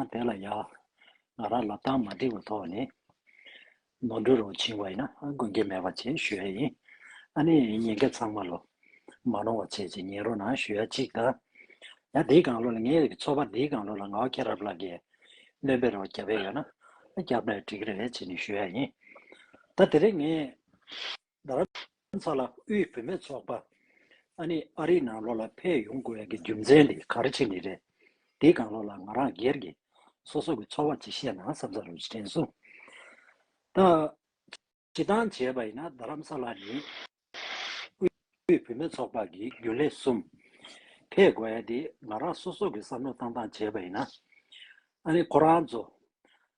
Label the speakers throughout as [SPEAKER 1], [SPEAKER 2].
[SPEAKER 1] ཨ་དེ་ལ་ཡག། ང་རང་ལབ་སྟངས་མ་འགྲིག་པ་ཐོག་ནས་ནོར་འཁྲུལ་རུ་ཕྱིན་བ་ཡིན་ན་དགོན་སྐྱེལ་མེད་པ་བྱེད་ཞུ་ཡ་ཡིན། ཨ་ནི་ཉིན་འགའི་ཚང་མ་ལོ་མ་ནོར་བ་བྱེད་ཅིག་ཉིན་རོ་ན་ཞུ་ཡ་གཅིག་ད། ཡ་འདིའི་གང་ལོ་ལ་ངའི་ཚོ་པ་འདིའི་གང་ལོ་ལ་ང་ཁྱེད་རབ་ལ་གའི་སྣོན་པའི་རོ་བརྒྱབ་ཡ་ཡོད་ན། བརྒྱབ་ན་འགྲིག་རེད་བྱེད་ནས་ཞུ་ཡ་ཡིན། ད་དེ་རིང་ངས། རྡ་རམ་ས་ལ་དབུས་བུད་མེད་ཚོགས་པ་ཨ་ནི་ཨ་རིའི་ནང་ལོགས་ལ་ཕེབས་ཡོང་དགོས་ཡག་གི་རྒྱུ་མཚན་དེ་ག་རེ་བྱེད་ནི་རེད་དེ་གང་ལོགས་ལ་ང་རང་སྒེར་གྱི་སོ་སོ་གི་འཚོ་བ་ཇི་བཤད་ན་བསམ་ས་རུ་དྲན་གསུངས་ད་བྱེད་སྟངས་བྱས་པ་ཡིན་ན་རྡ་རམ་ས་ལ་ནི་དབུས་བུད་མེད་ཚོགས་པ་གི་རྒྱུན་ལས་གསུམ་ཕེབས་དགོས་ཡག་དེ་ང་རང་སོ་སོ་གི་བསམ་བློ་བཏང་སྟངས་བྱས་པ་ཡིན་ན་ཨ་ནི་ཁོ་རང་ཚོ་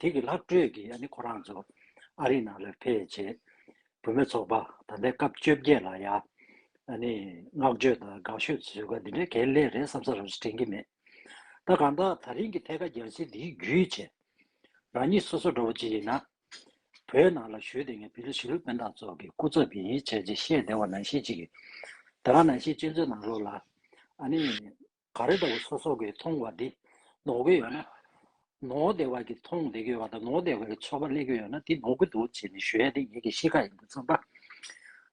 [SPEAKER 1] དེ་གི་ལྷག་སྤྲོད་ཀྱི་ཡ་ནི་ཁོ་རང་ཚོ་ཨ་རིའི་ནང་ལ་ཕེ་བྱེད། བུ་མེད་ཚོགས་པ་ད་ལྟའི་སྐབས་བཅོ་བརྒྱད་ལ་ཡ་ནི་བསྔགས་བརྗོད་དང་དགའ་ཤོས་བཟོས་ག་འདི་འདྲའི་གལ་གླེ་རེད་བསམ་ས་རང་ཞིག་དྲན་གི་མེད། ད་གང་དག་ད་རིང་གི་ཐད་ཀ་རྒྱལ་སྲིད་འདིའི་རྒྱུས་བྱེད། རང་ཉིད་སོ་སོ་འདྲ་བོ་ཅིག་ཡིན་ན། བོད་ནང་ལ་བཞུད་དེ་ངས་བི་ལོ་ཞི་ལུ་དཔོན་དང་ཚོགས་ཀྱི་སྐུ་ཚབ་ཡིན་བྱས་རྗེས་བཤད་བདེ་བ་ནང་བཞིན་ཅིག་གི། ད་གང་ནང་བཞིན་གཅེན་གཅུང་ནང་ལོགས་ལ་ཨ་ནི། ག་རེ་ལྟ་བུ་སོ་སོ་གིས་མཐོང་བ་དེ་ནོར་གི་ཡོད་ན། ནོར་བདེ་བ་གིས་མཐོང་བདེ་གི་ཡོད་པ་དང་ནོར་བདེ་བ་གིས་ཆོག་པ་གླེང་གི་ཡོད་ན་དེ་ནོར་གི་འདུག་ཅེས་ནི་ཞུ་ཡས་དེ་ཉིད་ཀྱི་གཤིས་ཀ་ཡིན་པར་བརྩམས་པ།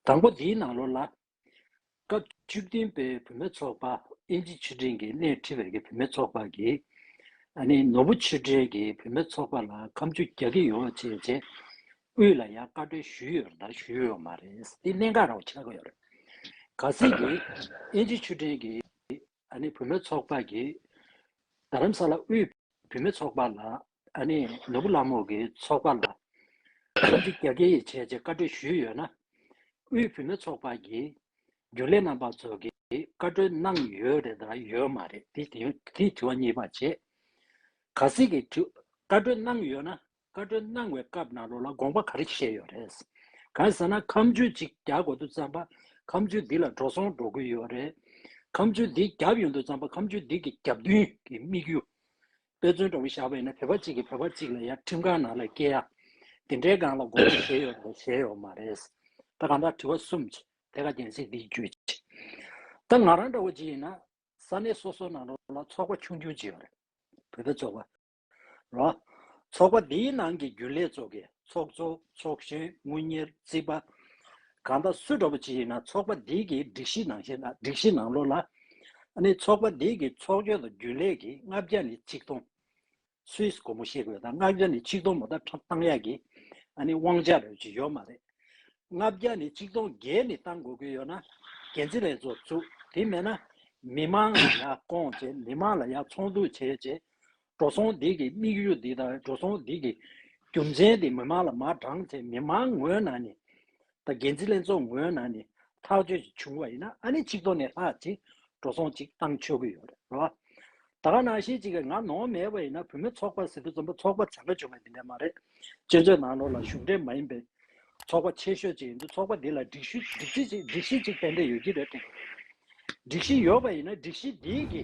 [SPEAKER 1] དང་པོ་འདིའི་ནང་ལོ་ལ། སྐབས་བཅུ་བདུན་པའི་བུད་མེད་ཚོགས་པ་ཨིན་ཇི་ཆུ་སྒྲིན་གྱི་སྣེ་ཁྲིད་པའི་བུད་མེད་ཚོགས་པ་གིས། ནི་ནོར་བུ་ཆུ་སྒྲིན་གྱི་བུད་མེད་ཚོགས་པ་ལ་ཁམ་ཆུ་རྒྱག་གི་ཡོད་ཅེས་བཅས་དབུས་ལ་ཡང་བཀའ་འཁྲོལ་ཞུས་ཡོད་ལ་ཞུས་ཡོད་མ་རེད། དེ་གནད་འགག་རང་བྱས་ཡོད་རེད། ག་ཚད་ཀྱིས་ཨིན་ཇི་ཆུ་སྒྲིན་གྱི། ཨཱ་ནི་བུ་མོའི་ཚོགས་དཔག་གི། རྡ་རམ་ས་ལ་དབུས། བུ་མོའི་ཚོགས་དཔག་ལ། ཨཱ་ནི་ནོར་བུ་གླང་མོ་གི་ཚོགས་དཔག་ལ། ཐམས་ཅད་རྒྱ་ཁྱི་ཡིས་བྱས་ཅེས་བཀའ་གྲོས་ཞུས་ཡོད་ན། དབུས་བུ་མོའི་ཚོགས་དཔག་གི། རྒྱུན་ལས་རྣམ་པ་ཚོ་གིས་བཀའ་གྲོས་གནང་ཡོད་རེད་དམ་ཡོད་མ་རེད་དེ་དེའི་དྲི་བ་གཉིས་པ་བྱེད། ག་ཟིག་གིས་བཀའ་གྲོས་གནང་ཡོད་ན། བཀའ་བཀྲོལ་གནང་བའི་སྐབས་ནང་ལོགས་ལ་དགོངས་པ་ག་རེ་བཞེས་ཡོད་རེད། གང་ཟེར་ན་ཁམས་ཆུ་གཅིག་རྒྱག་དགོས་འདུག་བརྩམས་པ་ཁམས་ཆུ་འདི་ལ་འགྲོ་སོང་འགྲོ་ཀུན་ཡོད་རེད། ཁམས་ཆུ་འདི་རྒྱབ་ཡོང་འདུག་བརྩམས་པ་ཁམས་ཆུ་འདི་གི་རྒྱབ་མདུན་གྱི་དམིགས་ཡུལ། དཔེ་མཚོན་འདྲ་བོ་བཞག་པ་ཡིན་ན་བོད་པ་གཅིག་གིས་བོད་པ་གཅིག་ལ་ཡར་ཁྲིམས་ཁང་ནང་ལ་སྐྱེལ་ཡ། འདི་འདྲའི་སྒང་ལ་དགོངས་པ་བཞེས་ཡོད་རེད་བཞེས་ཡོད་མ་རེད། ད་གང་དྲག་དྲི་བ་གསུམ་ཅི་དེ་ག་རྒྱན་ཟིག་འདིའི་རྒྱུད་ཅི། ད་ང་རང་འདྲ་བོ་ཅིག་ཡིན་ན་ས་གནས་སོ་སོ་ནང་ལོགས་ལ་ཚོགས་པ་ཆུང་ཆུང་ཅིག་ཡོད་རེད། བོད་པའི་ཚོགས་པ། རོ། ཚོགས་པ་འདིའི་ནང་གི་རྒྱུན་ལས་ཚོགས་ཀྱི་ཚོགས་གཙོ་ཚོགས་གཞོན་དངུལ་གཉེར་རྩིས་པ། གང་དག་སུ་འགྲོ་པ་ཅི་ཡིན་ན་ཚོགས་པ་འདི་གི་སྒྲིག་གཞི་ནང་བཞིན་སྒྲིག་གཞི་ནང་ལོག་ལ། ནི་ཚོགས་པ་འདི་གི་ཚོགས་གཞོན་དང་རྒྱུན་ལས་ཀྱིས་ལྔ་བརྒྱ་ནི་ཆིག་སྟོང། སུས་སྒོར་མོ་ཤེས་དགོས་དང་ལྔ་བརྒྱ་ནི་ཆིག་སྟོང་མོ་ད་ཁྲབ་བཏང་ཡག་གི། ནི་དབང་ཆ་རེད་ཅིག་ཡོད་མ་རེད། ལྔ་བརྒྱ་ནི་ཆིག་སྟོང་བརྒྱད་ནི་བཏང་དགོས་ཀྱི་ཡོད་ན། འགན་འཛིན་ལས་ཚོགས་བཙུགས་དེ་མེད་ན། མི་མང་ལ་ཡག་སྐོང་བྱེད་མི་མང་ལ་ཡག་ཚོང་འདུག་བྱེད་ཅེས་འགྲོ་སོང་སྡིག་གི་དམིགས་ཡུལ་འདི་དང་འགྲོ་སོང་སྡིག་གི་རྒྱུ་མཚན་འདི་མི་མང་ལ་མ་བགྲང་ཚེ་མི་མང་ངོས་ནང་ནས་དང་འགན་འཛིན་ལྷན་ཚོགས་ངོས་ནང་ནས་ཐག་གཅོད་ཅིག་བྱུང་བ་ཡིན་ན་ཨ་ནི་ཆིག་ཐོག་ནས་ལྷག་ཅིག་འགྲོ་སོང་ཅིག་བཏང་ཆོག་གི་ཡོད་རེད་རེད་བ། ད་ག་ནང་བཞིན་ཅིག་གི་ང་ནོངས་མེད་པ་ཡིན་ན་བུ་མོ་ཚོགས་པ་ཟེར་དུས་རྩོམ་པ་ཚོགས་པ་བྱ་དགའ་བྱུང་བ་འདི་འདྲ་མ་རེད། སྤྱིར་མཚོའི་ནང་ལོགས་ལ་གཞུང་འབྲེལ་མ་ཡིན་པའི་ཚོགས་པ་ཆེ་ཤོས་ཅིག་ཡིན་དུས་ཚོགས་པ་འདི་ལ་སྒྲིག་གཞི་སྒྲིག་གཞི་ཅིག་ཏན་ཏན་ཡོད་ཀྱི་རེད་དེ། སྒྲིག་གཞི་ཡོད་པ་ཡིན་ན་སྒྲིག་གཞི་འདིའི་གི་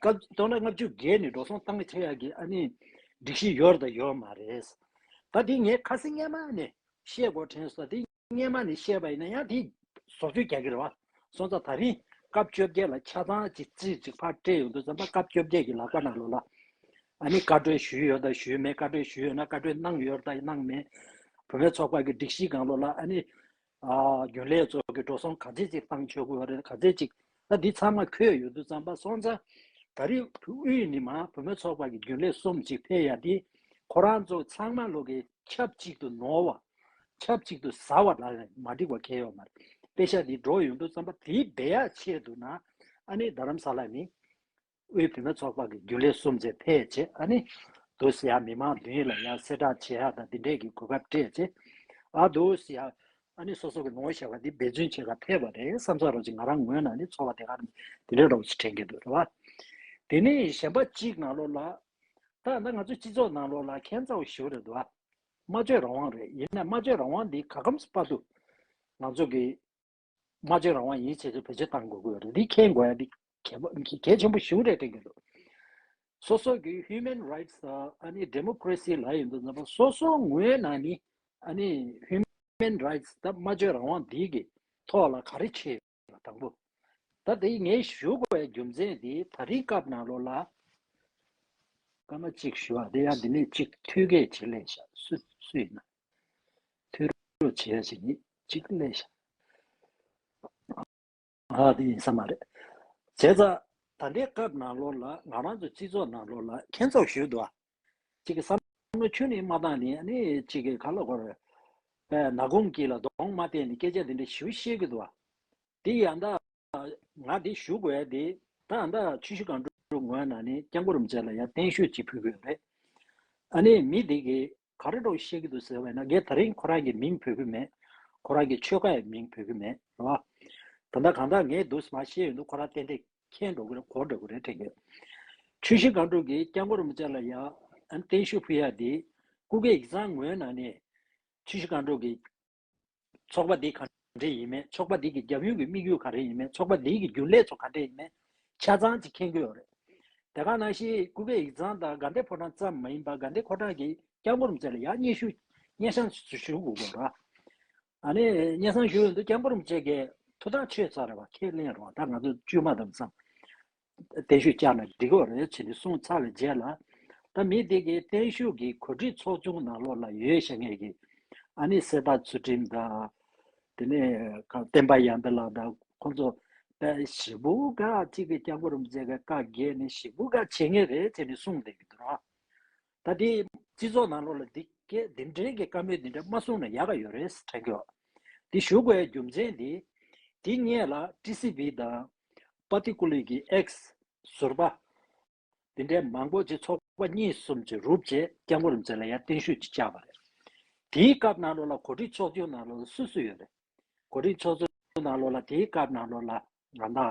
[SPEAKER 1] སྐབས་སྟོང་ལ་ལྔ་བཅུ་བརྒལ་ནས་འགྲོ་སོང་བཏང་གི་ཆེ་ཡག་གི་ཨ་ནི་སྒྲིག་གཞི་ཡོད་དང་ཡོད་མ་རེད། ད་དེ་ངས་ཁ་སི་སྔས་མ་ནས་བཤད་གོ་དྲན་སོ་དེ་སྔས་མ་ནས་བཤད་པ་ཡིན་ན་ཡང་དེ་ཟོག་བཅོས་རྒྱག་གི་རེད་བ་སོང་ཙང་ད་རིང་སྐབས་བཅོ་བརྒྱད་ལ་ཆ་ཚང་ཅིག་རྩིས་ཅིག་ཕར་སྤྲད་ཡོང་དུས་ཙམ་པ་སྐབས་བཅོ་བརྒྱད་ཀྱི་ལ་ཀ་ནང་ལོ་ལ་ཨ་ནི་བཀའ་གྲོས་ཞུས་ཡོད་དང་ཞུས་མེད་བཀའ་གྲོས་ཞུས་ཡོད་ན་བཀའ་གྲོས་གནང་ཡོད་དང་གནང་མེད་བུ་མེད་ཚོགས་པ་གི་སྒྲིག་གཞི་གང་ལོ་ལ་ཨ་ནི་རྒྱུན་ལས་ཚོ་གི་འགྲོ་སོང་ག་ཚད་ཅིག་བཏང་ཆོག་གི་རེད་ག་ཚད་ཅིག་ད་འདི་ཚང་མ་ཁོས་ཡོད་དུ་བརྩམས་པ་སོང་ཙང་ད་རེས་དབུས་ནི་མ་བུ་མོ་ཚོགས་པ་གི་རྒྱུན་ལས་གསུམ་ཅིག་ཕེ་ཡ་དེ་ཁོ་རང་ཚོ་ཚང་མ་ལོ་གི་ཆབས་ཅིག་ཏུ་ནོར་བ་ཆབས་ཅིག་ཏུ་ཟ་བ་ལ་མ་འགྲིག་པ་ཁེལ་ཡོག་མ་རེད་པེ་ཤ་དེ་འགྲོ་ཡོད་དུ་བརྩམས་པ་དེའི་བེ་ཡག་ཆེད་དུ་ན་ཨ་ནེ་རྡ་རམ་ས་ལ་ནི་དབུས་བུད་མེད་ཚོགས་པ་གི་རྒྱུན་ལས་གསུམ་ཚེ་འཕེལ་རྗེ་ཨ་ནེ། དུ་སི་ཧྭ་མི་མང་བདུན་ཡིས་ལ་ཡང་གསེར་བྲག་ཆེ་ཧྭ་དང་འདི་འདྲས་ཀྱི་གོ་སྐབས་སྤྲད་རྗེས། ཨ་དུ་སི་ཧྭ་ཨ་ནེ་སོ་སོ་གི་ནོར་བུ་ཞེས་པ་འདི་འབད་བརྩོན་བྱེད་ཁ་འཐད་པ་རེད་བསམ་ས་རོགས་གཅིག་ང་རང་ངོས་ནང་ནས་ཚོར་བ་དེ་ག་རང་གིས་འདི་འདྲས་རོགས་གཅིག་དྲན་གྱི་འདུག་རེད་བ། དེ་ནས་གཞན་པ་གཅིག་ནང་ལོགས་ལ། ད་ང་ཚོའི་སྤྱི་ཚོགས་ནང་ལོགས་ལ་ཁྱད་མཚར་བོ་ཞིག་རེད་འདུག་བ། སྨྲ་བརྗོད་རང་དབང་རེད་ཡིན་ནའི་སྨྲ་བརྗོད་རང་དབང་འདི་ག་གམ་སྤ་དུ། ང་ཚོ་གི། སྨྲ་བརྗོད་རང་དབང་ཡིད་ཆེས་བཅས་བེད་སྤྱོད་གཏང་དགོས་ཀྱི་རེད་དེ་མཁྱེན་དགོས་ཡ་འདི་གལ་པོ་གལ་ཆེན་པོ་ཞིག་རེད་དྲན་གྱི་འདུག་སོ་སོ་གི Human Rights དང་ཨ་ནི Democracy ལ་ཡོད་འདུག་ནང་པ་སོ་སོ་ངོས་ནས་ནི་ཨ་ནི Human Rights དང་སྨྲ་བརྗོད་རང་དབང་འདི་གི་ཐོག་ལ་ག་རེ་བྱེད་ཡོད་དང་པོ་ད་དེ་ངས་ཞུ་དགོས་པའི་རྒྱུ་མཚན་དེ་ད་རིང་སྐབས་ནང་ལོ་ལ་སྐར་མ་གཅིག་ཞུ་བ་དེ་ཡང་འདི་ནས་གཅིག་ཐུགས་འགལ་བྱེད་ལས་ཤག་སུ་ཡིན་ན། ཐོས་རོགས་བྱེད་ཡ་ཞིག་ཡིད་གཅིག་གླེང། ཨ་ཨ་འདི་ཡིན་ས་མ་རེད། བྱས་ཙང་ད་ལྟའི་སྐབས་ནང་ལོགས་ལ་ང་རང་ཚོ་སྤྱི་ཚོགས་ནང་ལོགས་ལ་མཁྱེན་རྫོགས་ཞུས་འདུག་ཨ། གཅིག་གི་བསམ་བློ་ཁྱོན་ནས་མ་བཏང་ནས་ཨ་ནི་གཅིག་གི་ཁ་ལོ་སྒོར། ན་གུང་སྐྱིད་ལ་གདོང་མ་བལྟས་ནས་སྐད་ཆ་འདི་འདྲ་ཞུ་ཤེས་གི་འདུག་ཨ། འདི་ཡ་ད། ང་འདི་ཞུ་དགོས་ཡ་འདི་ད་ཨ་མདའ་ཆུ་ཤུ་གང་དྲུག་ངོས་ནང་ནས་སྐྱབས་མགོ་རུ་མཇལ་ལ་ཡ་བརྟན་བཞུགས་བྱེད་ཕོད་གི་ཡོད་རེད། ཨ་ནི་མི་འདི་གིས་ག་རེ་དྲོ་ཤེས་ཀྱི་འདུག་ཟེར་བས་ན་ངས་ད་རིང་ཁོ་རང་གི་མིང་བོས་ཀྱི་མེད། ཁོ་རང་གི་ཆོལ་ཁ་ཡི་མིང་བོས་ཀྱི་མེད་རེད་བ། ད་ལྟ་གང་དག་ངས་འདུག་ཟེར་མ་ཤེས་ཡོད་འདུག་ཁོ་རང་ཏན་ཏན་ཁེངས་འགྲོ་གི་རེད་གོ་འདྲ་གི་རེད་དྲན་གི། ཆུ་བཞི་སྒང་དྲུག་གི་སྐྱ་མགོ་རིན་པོ་ཆེ་ལ་ཡ། ཨན་ཏན་ཤུ་ཕུ་ཡ་འདི། སྐུ་གེ་ཡིག་ཚང་ངོས་ནང་ནས། ཆུ་བཞི་སྒང་དྲུག་གི། ཚོགས་པ་འདི་ག་འདྲས་ཡིན་མིན་ཚོགས་པ་འདི་གི་རྒྱབ་ཡོལ་གྱི་དམིགས་ཡུལ་ག་རེ་ཡིན་མིན་ཚོགས་པ་འདི་གི་རྒྱུན་ལས་ཚོ་ག་འདྲས་ཡིན་མིན་ཆ་ཚང་གཅིག་མཁྱེན་དགོས་རེད། དེ་ག་ནང་ཤེས་ཀུ་བེ་ཡིག་ཚང་དང་དགའ་ལྡན་ཕོ་བྲང་ཙམ་མ་ཡིན་པར་དགའ་ལྡན་ཁོ་གྲགས་ཀྱི་སྐྱབས་འགོ་རུ་མཛད་ལ་ཡང་སྙན་ཞུ་སྙན་བྱང་ཞུ་དགོས་དགོས་ར། ཨ་ནི་སྙན་བྱང་ཞུ་འོས་འདུག་སྐྱབས་འགོ་རུ་མཛད་ཀྱི་ཐུགས་དག་ཆོས་ཚར་བ་ཁས་ལེན་རོགས་ད་ང་ཚོ་བཅོས་མ་དམ་བསམ། བརྟན་བཞུགས་བསྐྱངས་ནས་འགྲིག་འོར་བྱས་ཏེ་སོང་ཚར་བའི་རྗེས་ལ། ད་མི་དེ་གའི་བརྟན་བཞུགས་ཀྱི་གོ་སྒྲིག་ཚོགས་ཆུང་ནང་ལོགས་ལ་ཡོད་ཤག་ངེད་ཀྱིས་ཨ་ནེ་སེར་ཐག་ཚུལ་ཁྲིམས་དང། དེ་ནས་བསྟན་པ་ཡངས་པའི་ལགས་དང་ཁོང་ཚོ་དཔལ་ཞི་བུ་ག་གཅིག་གི་སྐྱབས་འགོ་རུ་མཛད་པའི་བཀའ་བརྒྱད་ནི་ཞི་བུ་ག་བྱེད་ངེས་རེད་བྱས་ནས་གསུངས་བསྡད་ཀྱི་འདུག་ར། ད་ལྟའི་སྤྱི་ཚོགས་ནང་ལོག་ལ་འདི་སྐད་འདི་འདྲའི་གི་བཀའ་མོལ་འདི་འདྲ་མ་གསུང་ན་ཡག་ག་ཡོད་རེད་ས་དྲན་གི་འོ། འདི་ཞུ་དགོས་རྒྱུ་མཚན་འདི་འདི་ངས་ལ་ཀྲི་སི་བྷི་དང། པ་ཏི་ཀུ་ལི་གི་ཨེག་སི། ཟུར་པ། འདི་འདྲའི་མང་པོ་ཅིག་ཚོགས་པ་གཉིས་གསུམ་ཅིག་རུབ་རྗེས་སྐྱབས་མགོ་རུ་མཛད་ལ་ཡར་བརྟན་བཞུགས་ཅིག་བཅག་པ་རེད། དེའི་སྐབས་ནང་ལོག་ལ་གོ་སྒྲིག་ཚོགས་ཆུང་ནང་ལོག་ལ་སུ་སུ་ཡོད་རེད། གོ་སྒྲིག་ཚོགས་ཆུང་ནང་ལོག་ལ་དེའི་སྐབས་ནང་ལོག་ལ་ང་དང།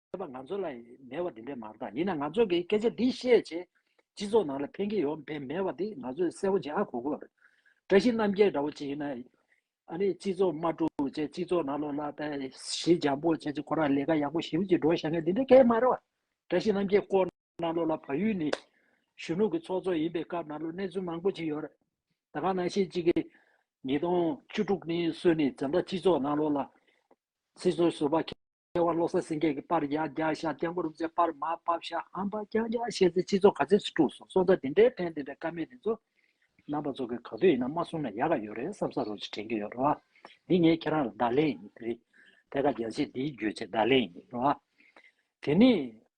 [SPEAKER 1] ཁྱོད་པ་ང་ཚོ་ལ་མེད་བ་འདི་འདྲས་མ་གཏང་ཡིན་ན་ང་ཚོ་གི་སྐད་ཆ་འདི་བཤད་རྗེས་སྤྱི་ཚོགས་ནང་ལ་ཕན་གྱི་ཡོང་འབད་མེད་བ་འདི་ང་ཚོས་གསལ་བོ་འཇལ་ཧ་གོ་དགོས་པ་རེད་བཀྲ་ཤིས་རྣམ་རྒྱལ་འདྲ་བོ་ཅིག་ཡིན་ན་ཨ་ནི་སྤྱི་ཚོགས་དམར་གྲུ་བྱས་སྤྱི་ཚོགས་ནང་ལོག་ལ་ཏའི་ཞི་འཇམ་པོ་བྱས་ཅིག་ཁོ་རང་ལས་ཀ་ཡག་པོ་ཞིབ་བྱེད་འགྲོ་བྱ་མཁན་འདི་འདྲས་སྐད་མ་རེད་བ་བཀྲ་ཤིས་རྣམ་རྒྱལ་ཀོ་ནང་ལོག་ལ་བ་ཡུལ་ནི་གཞོན་ནུ་གི་ཚོགས་གཙོ་ཡིན་པའི་སྐབས་ནང་ལོག་གནས་ཚུལ་མང་པོ་ཅིག་ཡོད་རེད་ད་གང་ནང་ཤེས་གཅིག་གི་ཉིས་སྟོང་བཅུ་དྲུག་ནི་སོས་ནི་འཛམ་བདག་སྤྱི་ཚོགས་ནང་ལོག་ལ་སྲིད་ཚོགས་ཟུར་བ་ཁེ། ལྟེ་བར་བློ་གསལ་སེང་གེ་གི་པར་ཡང་བརྒྱ་བཞག་ལྟེ་མགོར་རུས་པའི་པར་མ་པར་བཞག་ཧམ་པ་རྐྱང་རྐྱང་བཤད་ཚེ་སྤྱི་ཚོགས་ག་ཚོད་ཅིག་དཀྲུགས་སོང་སོང་ད་དེ་འདྲའི་ཕན་བདེ་འདྲ་ཀ་མེད་དེ་ཚོ། རྣམ་པ་ཚོ་གིས་ག་དུས་ཡིན་ན་མ་གསུང་ན་ཡག་ག་ཡོད་རེད་བསམ་ས་རོ་ཅིག་དྲན་གྱི་ཡོད་རེད་བ། འདི་ངས་ཁྱེད་རང་ལ་བརྡ་ལན་ཡིན་རེད། ཐད་ཀ་རྒྱལ་གཅེས་འདིའི་རྒྱུད་ཆེད་བརྡ་ལན་ཡིན་རེད་བ། དེ་ནས།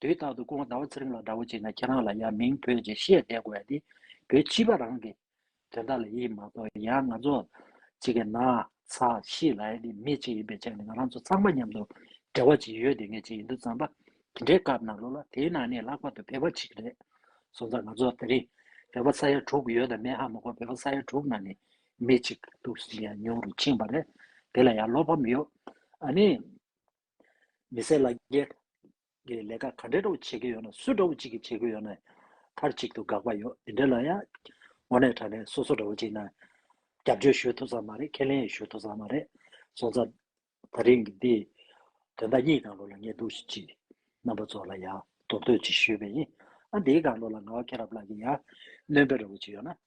[SPEAKER 1] དེའི་རྟག་ཏུ་སྐུ་ངོ་ཟླ་བ་ཚེ་རིང་ལ་འདྲ་བོ་བྱས་ན་ཁྱེད་རང་ལ་ཡང་མིང་བོད་ཅེས་བཤད་བསྡད་དགོས་ཡ་དེ་བོད་སྤྱི་པ་རང་གི་དོན་དག་ལ་ཡིད་མ་གཏོགས་ཡང་ང་ཚོ་གཅིག་གི་ན་ཚ་ཤི་ལ་ཡ་དེ་མི་གཅིག་ཡིན་པའི་ཆ་ནས་ང་རང་ཚོ་ཚང་མ་མཉམ་དུ་འབྲེལ་བ་ཅིག་ཡོད་དེ་ངས་ཅིག་ཡིན་དུ་བརྩམས་པ་དེ་འདྲའི་སྐབས་ནང་ལོགས་ལ་དེའི་ནང་ནས་ལྷག་པར་དུ་བོད་པ་གཅིག་རེད་སོང་ཙང་ང་ཚོ་དེ་རིང་བོད་པ་ས་ཡ་དྲུག་ཡོད་དམ་མེད་ཧ་མ་གོ་བོད་པ་ས་ཡ་དྲུག་ནང་ནས་མི་གཅིག་སྡུག་གཞི་ཡང་ཉུང་རུ་ཕྱིན་པ་རེད་དེ་ལ་ཡང་བློ་ཕམ་ཡོད་ཨ་ནི། མི་སེར་ལ་རྒྱའི་གི་ལས་ཀ་ག་འདྲའི་འདྲ་བོ་བྱེད་ཀྱི་ཡོད་ན་སུ་འདྲ་བོ་ཅིག་གིས་བྱེད་དགོས་ཡོད་ནའི་མཐར་གཅིག་ཏུ་དགག་པ་ཡོད་དེ་འདྲའི་ལ་ཡ་ངོ་ནས་དྲ་ནས་སོ་སོ་འདྲ་བོ་ཅིག་ནའི་རྒྱབ་སྐྱོར་ཞུ་ཐུབ་ས་མ་རེད་ཁས་ལེན་ཡི་ཞུ་ཐུབ་ས་མ་རེད་སོང་ཚར། ད་རིང་གི་འདི་དོན་དག་གཉིས་དགག་བློ་ལ་ངས་འདུག་བཞིན་མཆིས། རྣམ་པ་ཚོ་ལ་ཡང་མདོར་བསྟོད་ཅིག་ཞུས་པས་ཡིན། ཨ་འདིའི་དགག་བློ་ལ་ང་བ་ཁྱེད་རབ་ལགས་ཀྱིས་ཡང་གནོན་པའི་འདྲ་བོ་ཅིག་ཡོད་ན།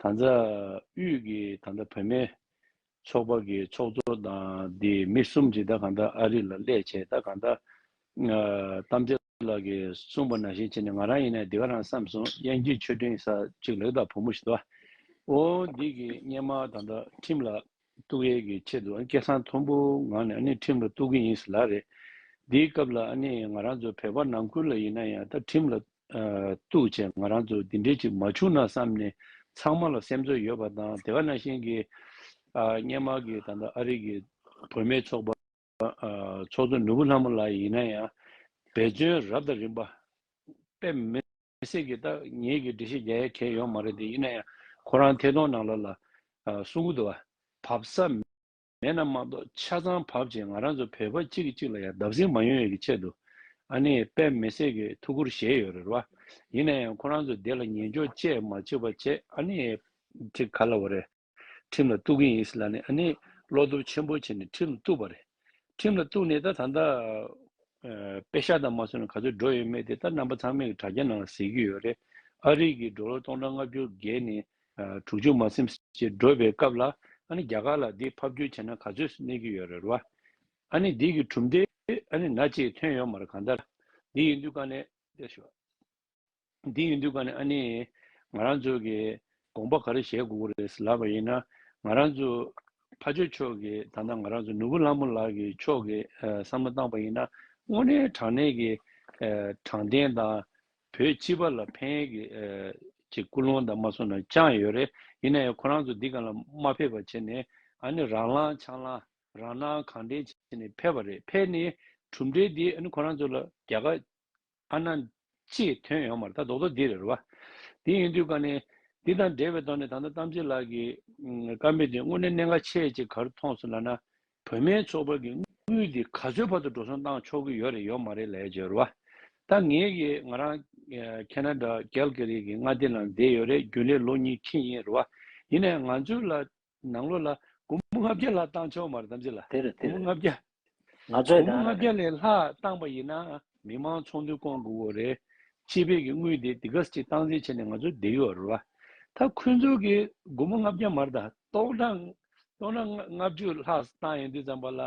[SPEAKER 2] ད་ལྟ་དབུས་ཀྱི་ད་ལྟ་བོད་མའི་ཚོགས་པ་གི་ཚོགས་གཙོ་དང་དེ་མི་གསུམ་གྱི་ད་གང་ད་ཨ་རི་ལ་སླད་ཆད་ད་གང་ད། གཏམ་ཚེ་ལགས་ཀྱི་གསུངས་པ་ནང་བཞིན་བྱས་ནས་ང་རང་ཡིན་ན་འདི་ག་རང་བསམ་སོང་དབྱངས་སྐྱིད་ཆོས་སྒྲིང་ས་གཅིག་ལེགས་དང་བུ་མོ་ཞིག་ད་ཨོ་འདི་གི་སྙན་མ་ད་ད་ཁྲིམས་ལ་གཏུགས་ཡས་ཀྱི་ཆེད་དུ་ཨ་ནི་སྐད་སང་མཐོན་པོ་ངང་ནས་ཨ་ནི་ཁྲིམས་ལ་གཏུགས་ཀྱི་ཡིན་ཟེར་ལགས་རེད་དེའི་སྐབས་ལ་ཨ་ནི་ང་རང་ཚོ་བོད་པ་ནང་ཁུལ་ལ་ཡིན་ན་ཡང་ད་ཁྲིམས་ལ་འདུག་ཅེས་ང་རང་ཚོ་འདི་འདྲའི་ཅིག་མ་བྱུང་ན་བསམ་ནས་ཚང་མ་ལ་སེམས་ཚོར་ཡོད་པ་དང་དེ་ག་ནང་བཞིན་གྱི་སྙན་མར་གྱི་ད་ལྟ་ཨ་རིག་གི་བུད་མེད་ཚོགས་པ་ཚོགས་གཙོ་ནོར་བུ་ལྷ་མོ་ལགས་ཡིན་ན་ཡང་འབད་བརྩོན་རབ་དང་རིམ་པ་དཔེ་མི་སྲིད་ཀི་ད་ངེད་ཀྱི་འདྲི་གཞི་རྒྱ་ཡལ་གས་ཡོད་མ་རེད་དེ་ཡིན་ན་ཡང་ཁོ་རང་ཐད་གཏོང་ནང་ལ་ལ་སུ་འགུ་དོ་བ་བབས་ས་མེད་ན་མ་གཏོགས་ཆ་ཚང་བབ་རྗེས་ང་རང་ཚོ་བོད་པ་གཅིག་གིས་གཅིག་ལ་ཡང་བརྡབ་གསིག་མ་ཡོང་ཡོད་ཀྱི་ཆེད་དུ་ཨ་ནེ་ཡིས་དཔེ་མི་སྲིད་ཀྱི་ཐུགས་ཁུར་བཞེས་ཡོད་རེད་བ། ཡིན་ན་ཡང་ཁོ་རང་ཚོས་དེ་ལ་ཉན་འཇོག་བཅས་མ་བྱེད་པར་ཆེད་ཨ་ནེ་ཡིས་ཁྲིམས་ག་ལ་བ་རེད་ཁྲིམས་ལ་གཏུག་གིན་ཡིན་སྲིད་ལ་ནི་ཨ་ནེ་ཡིས་བློ་སྟོབས་ཆེན་པོ་བྱས་ནས་ཁྲིམས་ལ་གཏུག་པ་རེད། ཁྲིམས་ལ་གཏུག་ནས་ད་ད་ལྟ་དཔེ་ཤག་དང་མ་སོན་ནས་ག་ཚོད་འགྲོ་ཡོད་མེད་དེ་ད་རྣམ་པ་ཚང་མས་ཀྱི་དྲ་རྒྱ་ནང་ལ་གཟིགས་ཀྱི་ཡོད་རེད། ཨ་རིག་གིས་འགྲོ་ལོ་སྟོང་ཕྲག་ལྔ་བཅུར་བརྒལ་ནས་དྲུག་ཅུ་མ་སེམས་ཞེས་བགྲོས་པའི་སྐབས་ལ་ཨ་ནི་རྒྱ་གར་ལ་འདི་ཕབ་བསྒྱུར་བྱས་ན་ག་ཚོད་གནས་ཀྱི་ཡོད་རེད་བ། ཨ་ནི་འདི་གི་གྲུབ་མཐའི་ཨ་ནི་ན་ཅིག་ཐོན་ཡོང་མར་གང་ལྟར་འདི་ཡིན་དུས་ཀ་ནས་བལྟས་ཞོག་འདི་ཡིན་དུས་ཀ་ནས་ཨ་ནི་ང་རང་ཚོ་གི་དགོངས་པ་ག་རེ་བཞེས་དགོས་ཀྱི་རེད་ཟེར་ལབ་པ་ཡིན་ན་ང་རང་ཚོ་ཕ་ཆོས་ཕྱོགས་ཀྱི་ད་ནང་ང་རང་ཚོ་ནོར་བུ་ལྷ་མོ་ལགས་ཀྱི་ཕྱོགས་ཀྱི་བསམ་བློ་བཏང་པ་ཡིན་ན་དངོས་གནས་དྲང་གནས་ཀྱི་དྲང་བདེན་དང་བོད་སྤྱི་པ་ལ་ཕན་ཡོད་ཀྱི་ཅེས་ཀུན་སློང་དང་མ་གསུངས་ན་ཅང་ཡོད་རེད་ཡིན་ན་ཡང་ཁོ་རང་ཚོ་འདི་ག་ལ་མ་ཕེབས་པར་བྱས་ནས་ཨ་ནི་རང་ལང་ཆང་ལང་རང་སྣང་གང་དྲན་བྱས་ནས་ཕེབས་པ་རེད་ཕེབས་ནས་གྲུབ་འབྲས་འདི་ཨ་ནི་ཁོ་རང་ཚོ་ལ་རྒྱ་གར་ཨ་ནང་ཅི་ཐོན་ཡོང་མར་ད་རྡོག་རྡོག་འདི་རེད་རེད་བ། དེ་ཡིན་དུས་ཀ་ནས་འདི་དང་འབྲེལ་བའི་ཐོག་ནས་ད་ལྟ་གཏམ་ཚེ་ལགས་ཀྱི་བཀའ་མོལ་འདི་དངོས་གནས་གནད་འགག་ཆེ་ཅེས་གར་མཐོང་སོང་ལ་ན་བོད་མའི་ཚོགས་པ་གི་དངུལ་དེ་ག་ཚོད་བར་དུ་འགྲོ་སོང་བཏང་ཆོག་གི་ཡོད་རེད་ཡོད་མ་རེད་ལས་བྱེད་རུ་བ་ད་ངེད་ཀྱི་ང་རང Canada Calgary གི་མངའ་སྡེ་ནང་བསྡད་ཡོད་རེད་རྒྱུན་ལས་ལོ་གཉིས་ཁྲི་ཡིན་རུ་བ་ཡིན་ནས་ང་ཚོའི་ལ་ནང་ལོ་ལ་དགུང་མོ་ལྔ་བརྒྱ་ལྷག་བཏང་ཆོག་མ་རེད་དམ་ཚེ་ལ་དགུང་མོ་ལྔ་བརྒྱ་དགུང་མོ་ལྔ་བརྒྱ་ལས་ལྷག་བཏང་པ་ཡིན་ན་མི་དམངས་ཚོགས་འདུ་བསྐོང་དགོས་གོ་རེད་སྤྱི་པའི་གི་དངུལ་དེ་དེ་ག་ཅིག་བཏང་འཛིན་བྱས་ནས་ང་ཚོ་བསྡད་ཡོད་རུ་བ་ད་ཁོས་ཚོའི་གི་དགུང་མོ་ལྔ་བརྒྱ་མ་རེད་ད་ཏོག་གྲངས་སྟོང་ལ་ལྔ་བཅུ་ལྷག་བཏང་ཡོད་འདུག་ཙམ་པ་ལ་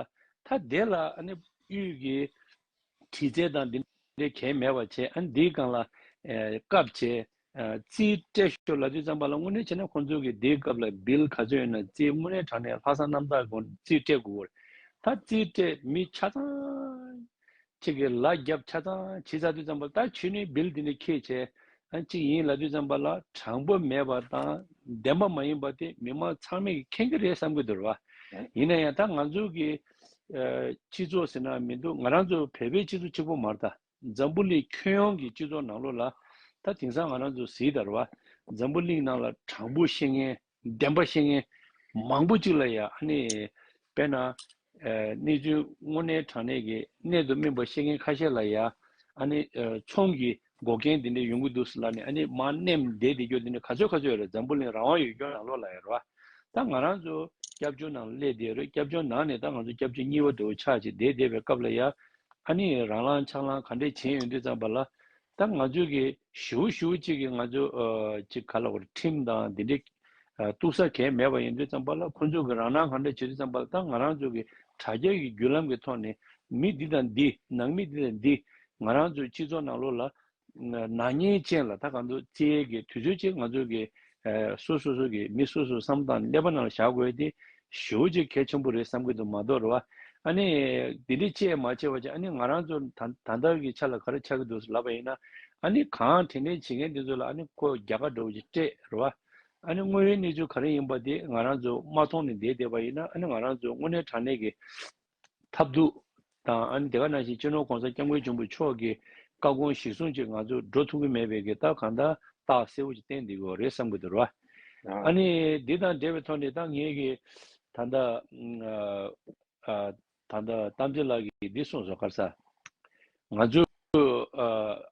[SPEAKER 2] ཐ་དེ་ལ་དབུས་ཀྱི་དྲི་རྩལ་དང་འདི་འདྲའི་གལ་མེད་པར་བྱས་ཨ་ནི་འདིའི་སྒང་ལ་སྐབས་བྱས། རྩིས་སྤྲད་ཞོར་ལབ་ཅིག་ཙམ་པ་ལ་དངོས་གནས་བྱས་ན་ཁོང་ཚོ་གིས་འདིའི་སྐབས་ལ་བིལ་ག་ཚོད་ཡོད་ན་རྩིས་དངོས་གནས་དྲངས་ནས་ལྷག་བསམ་རྣམ་དག་གོང་རྩིས་སྤྲད་དགོས། ད་རྩིས་སྤྲད་མི་ཆ་ཚང་གཅིག་གིས་ལ་རྒྱབ་ཆ་ཚང་བྱིས་ཚར་དུས་ཙམ་པ་ད་ཆུ་ནི་བིལ་འདི་ནས་ཁྱེད་བྱས་གཅིག་ཡིན་ལ་དུས་ཙམ་པ་ལ་དྲང་པོ་མེད་པ་དང་བདེན་པ་མ་ཡིན་པ་དེ་མི་མང་ཚང་མས་ཀྱི་མཁྱེན་གྱི་རེད་བསམ་གྱི་འདུག་བ་ཡིན་ན་ཡང་ད་ང་ཚོ་གི་སྤྱི་ཚོགས་ཟེར་ན་མི་འདུག་ང་རང་ཚོ་བལ་བོའི་སྤྱི་ཚོགས་གཅིག་པོ་མར་ད་འཛམ་བུ་གླིང་ཁྱོན་ཡོངས་ཀྱི་སྤྱི་ཚོགས་ནང་ལོ་ལ་ད་དེང་སང་ང་རང་ཚོ་གཟིགས་དར་བ་འཛམ་བུ་གླིང་ནང་ལ་དྲང་པོ་ཤེས་ངན་བདེན་པ་བཤད་མཁན་མང་པོ་གཅིག་ལ་ཡ་ནི་དཔེར་ན། གནས་ཚུལ་དངོས་གནས་དྲང་གནས་ཀྱི་གནད་དུ་སྨིན་པ་བཤད་མཁན་ཁ་ཤས་ལ་ཡ་ནི་ཚོང་གི་འགོག་རྐྱེན་དེ་འདྲས་ཡོང་གི་འདུག་ལ་ནི་ཡ་ནི་མ་གནས་བདེ་བདེ་སྐྱོ་དེ་འདྲས་ག་ཚོད་ག་ཚོད་རེད་འཛམ་བུ་གླིང་རང་དབང་ཡོད་སྐྱོ་ནང་ལོག་ལ་ཡ་རོ། ད་ང་རང་ཚོ་སྐྱབས་བཅོལ་ནང་སླེབས་བསྡད་རོ་སྐྱབས་བཅོལ་ནང་ནས་ད་ང་ཚོ་སྐྱབས་བཅོལ་གཉིས་བ་དྲུག་བ་ཆགས་ཅིག་བསྡད་བསྡད་པའི་སྐབས་ལ་ཡ་ནི་རང་ལང་ཆགས་ལང་ག་འདྲས་བྱེད་ཡོང་དུས་ཙམ་པ་ལ་ད་ང་ཚོའི་གི་ཞུའུ་ཞུའུ་ཅིག་གི་ང་ཚོའི་ཅིག་ག་ལ་བར་ཁྲིམས་དང་དེ་འདྲའི་གཏུག་ས་གས་མེད་པ་ཡིན་དུས་ཙམ་པ་ལ་ཁོ་ཚོའི་གི་རང་སྣང་གང་འདྲ་བྱེད་དུས་ཙམ་པ་ལ་ད་ང་རང་ཚོའི་གི་དྲ་རྒྱ་གི་བརྒྱུད་ལམ་གི་ཐོག་ནས་མི་འདི་དང་འདི་ནང་མི་འདི་དང་འདི་ང་རང་ཚོའི་སྤྱི་ཚོགས་ནང་ལོགས་ལ་ནག་ཉེས་ཅན་ལ་ད་ག་འདུག་བཙལ་གི་དུས་ཚོད་ཅིག་ང་ཚོའི་གི་སོ་སོ་སོ་གི་མི་སོ་སོ་བསམ་སྟངས་ཀླད་པ་ནང་ལ་བཞག་དགོས་ཏེ་ཞོའུ་ཅེ་གལ་ཆེན་པོ་རེད་བསམ་གྱི་འདུག་མ་གཏོགས་རེད་བ། ཨ་ནི། དེ་འདྲའི་དཔྱད་མ་བྱས་བ་ཅིག་ཨ་ནི་ང་རང་ཚོ་ད་ད་ལྟར་གྱི་ཆ་ལ་ག་རེ་ཆགས་ཀྱི་འདུག་ལབ་པ་ཡིན་ན། ཨ་ནི་གང་དྲན་དྲན་བྱེད་མཁན་དེ་ཚོ་ལ་ཨ་ནི་ཁོ་རྒྱ་གར་འགྲོ་བ་ཅིག་སྤྲད་རེད་བ། ཨ་ནི་དངོས་ཡོད་གནས་ཚུལ་ག་རེ་ཡིན་པ་དེ་ང་རང་ཚོ་མ་མཐོང་ནས་བསྡད་བསྡད་པ་ཡིན་ན་ཨ་ནི་ང་རང་ཚོ་དངོས་གནས་དྲང་གནས་ཀྱི། ཐབས་སྡུག། དང་ཨ་ནི་དེ་ག་ནང་བཞིན་གཅེས་ནོར་གོང་ས་སྐྱབས་མགོན་འབྱུང་པོ་མཆོག་གི་བཀའ་དགོངས་གཞིར་བཟུང་བཅས་ང་ཚོས་འགྲོ་ཐུབ་ཀྱི་མེད་པའི་གི་རྟགས་གང་དག་རྟགས་གསལ་བོ་ཅིག་བསྟན་འདི་གོ་རེད་བསམ་གི་འདུག་ར་བ། ཨ་ནི་འདི་དང་འབྲེལ་བའི་ཐོག་ནས་ད་ངས་གི་ད་ལྟ། ད་ལྟ་དམ་ཚིག་ལགས་ཀྱིས་འདི་གསུངས་སོ་དཀར་ས། ང་ཚོ།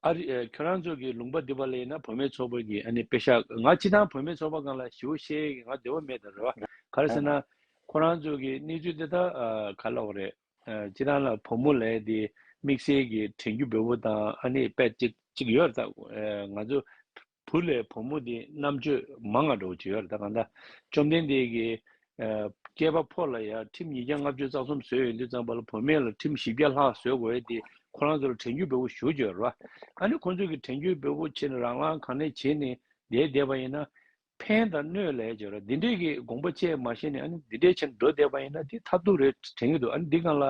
[SPEAKER 2] ཨ་རི། ཁྱོད་རང་ཚོ་གི་ལུང་པ་འདི་པ་ལ་ཡིན་ན་བོད་མའི་ཚོགས་པ་གི་ཨ་ནི་དཔེ་ཤག་ང་ཅི་ཐང་བོད་མའི་ཚོགས་པ་གང་ལ་ཞི་བོ་ཤེས་ཡས་གི་ང་བདེ་བོ་མེད་ད་རེད་བ་ག་རེ་ཟེར་ན། ཁོ་རང་ཚོ་གི་གནས་ཚུལ་འདི་དག་ག་ལ་བ་རེད། ཅི་ཐང་ལ་བུ་མོ་ལས་དེ་དམིགས་བསལ་གི་དྲན་རྒྱུ་འབེལ་བོ་དང་ཨ་ནི་དཔེ་གཅིག་ཡོད་རེད་ད། ང་ཚོ་བུ་ལས་བུ་མོ་དེ་རྣམ་དཔྱོད་མ་ང་འགྲོ་བྱེད་ཡོད་ད་གང་ད་བཅོམ་ལྡན་འདས་ཀྱི་སྐྱེས་པ་ཕོ་ལ་ཡང་ཁྲིམས་ཉིས་བརྒྱ་ལྔ་བཅུ་རྩ་གསུམ་བཟོས་ཡོད་འདི་ཙམ་པ་ལ་བུ་མེད་ལ་ཁྲིམས་བཞི་བརྒྱ་ལྷག་བཟོས་དགོས་ཡོད་འདི་ཁོ་རང་ཚོ་ལ་དྲན་རྒྱུ་བེ་བོ་ཞུ་བྱོས་ར་ཨ་ནི་ཁོ་ཚོ་གི་དྲན་རྒྱུ་བེ་བོ་ཆེ་ནི་རང་རང་གང་ནས་བྱེད་ནི་འདས་བསྡད་པ་ཡིན་ན་ཕན་དང་གནོད་ལས་བྱོས་ར་འདི་འདྲས་ཀྱི་དགོངས་པ་བཅས་མ་ཤེས་ནི་ཨ་ནི་འདི་འདྲས་བྱེད་ནི་འགྲོ་བསྡད་པ་ཡིན་ན་འདི་ཐབས་སྡུག་རེད་དྲན་གྱི་འདུག་ཨ་ནི་འདི་གང་ལ་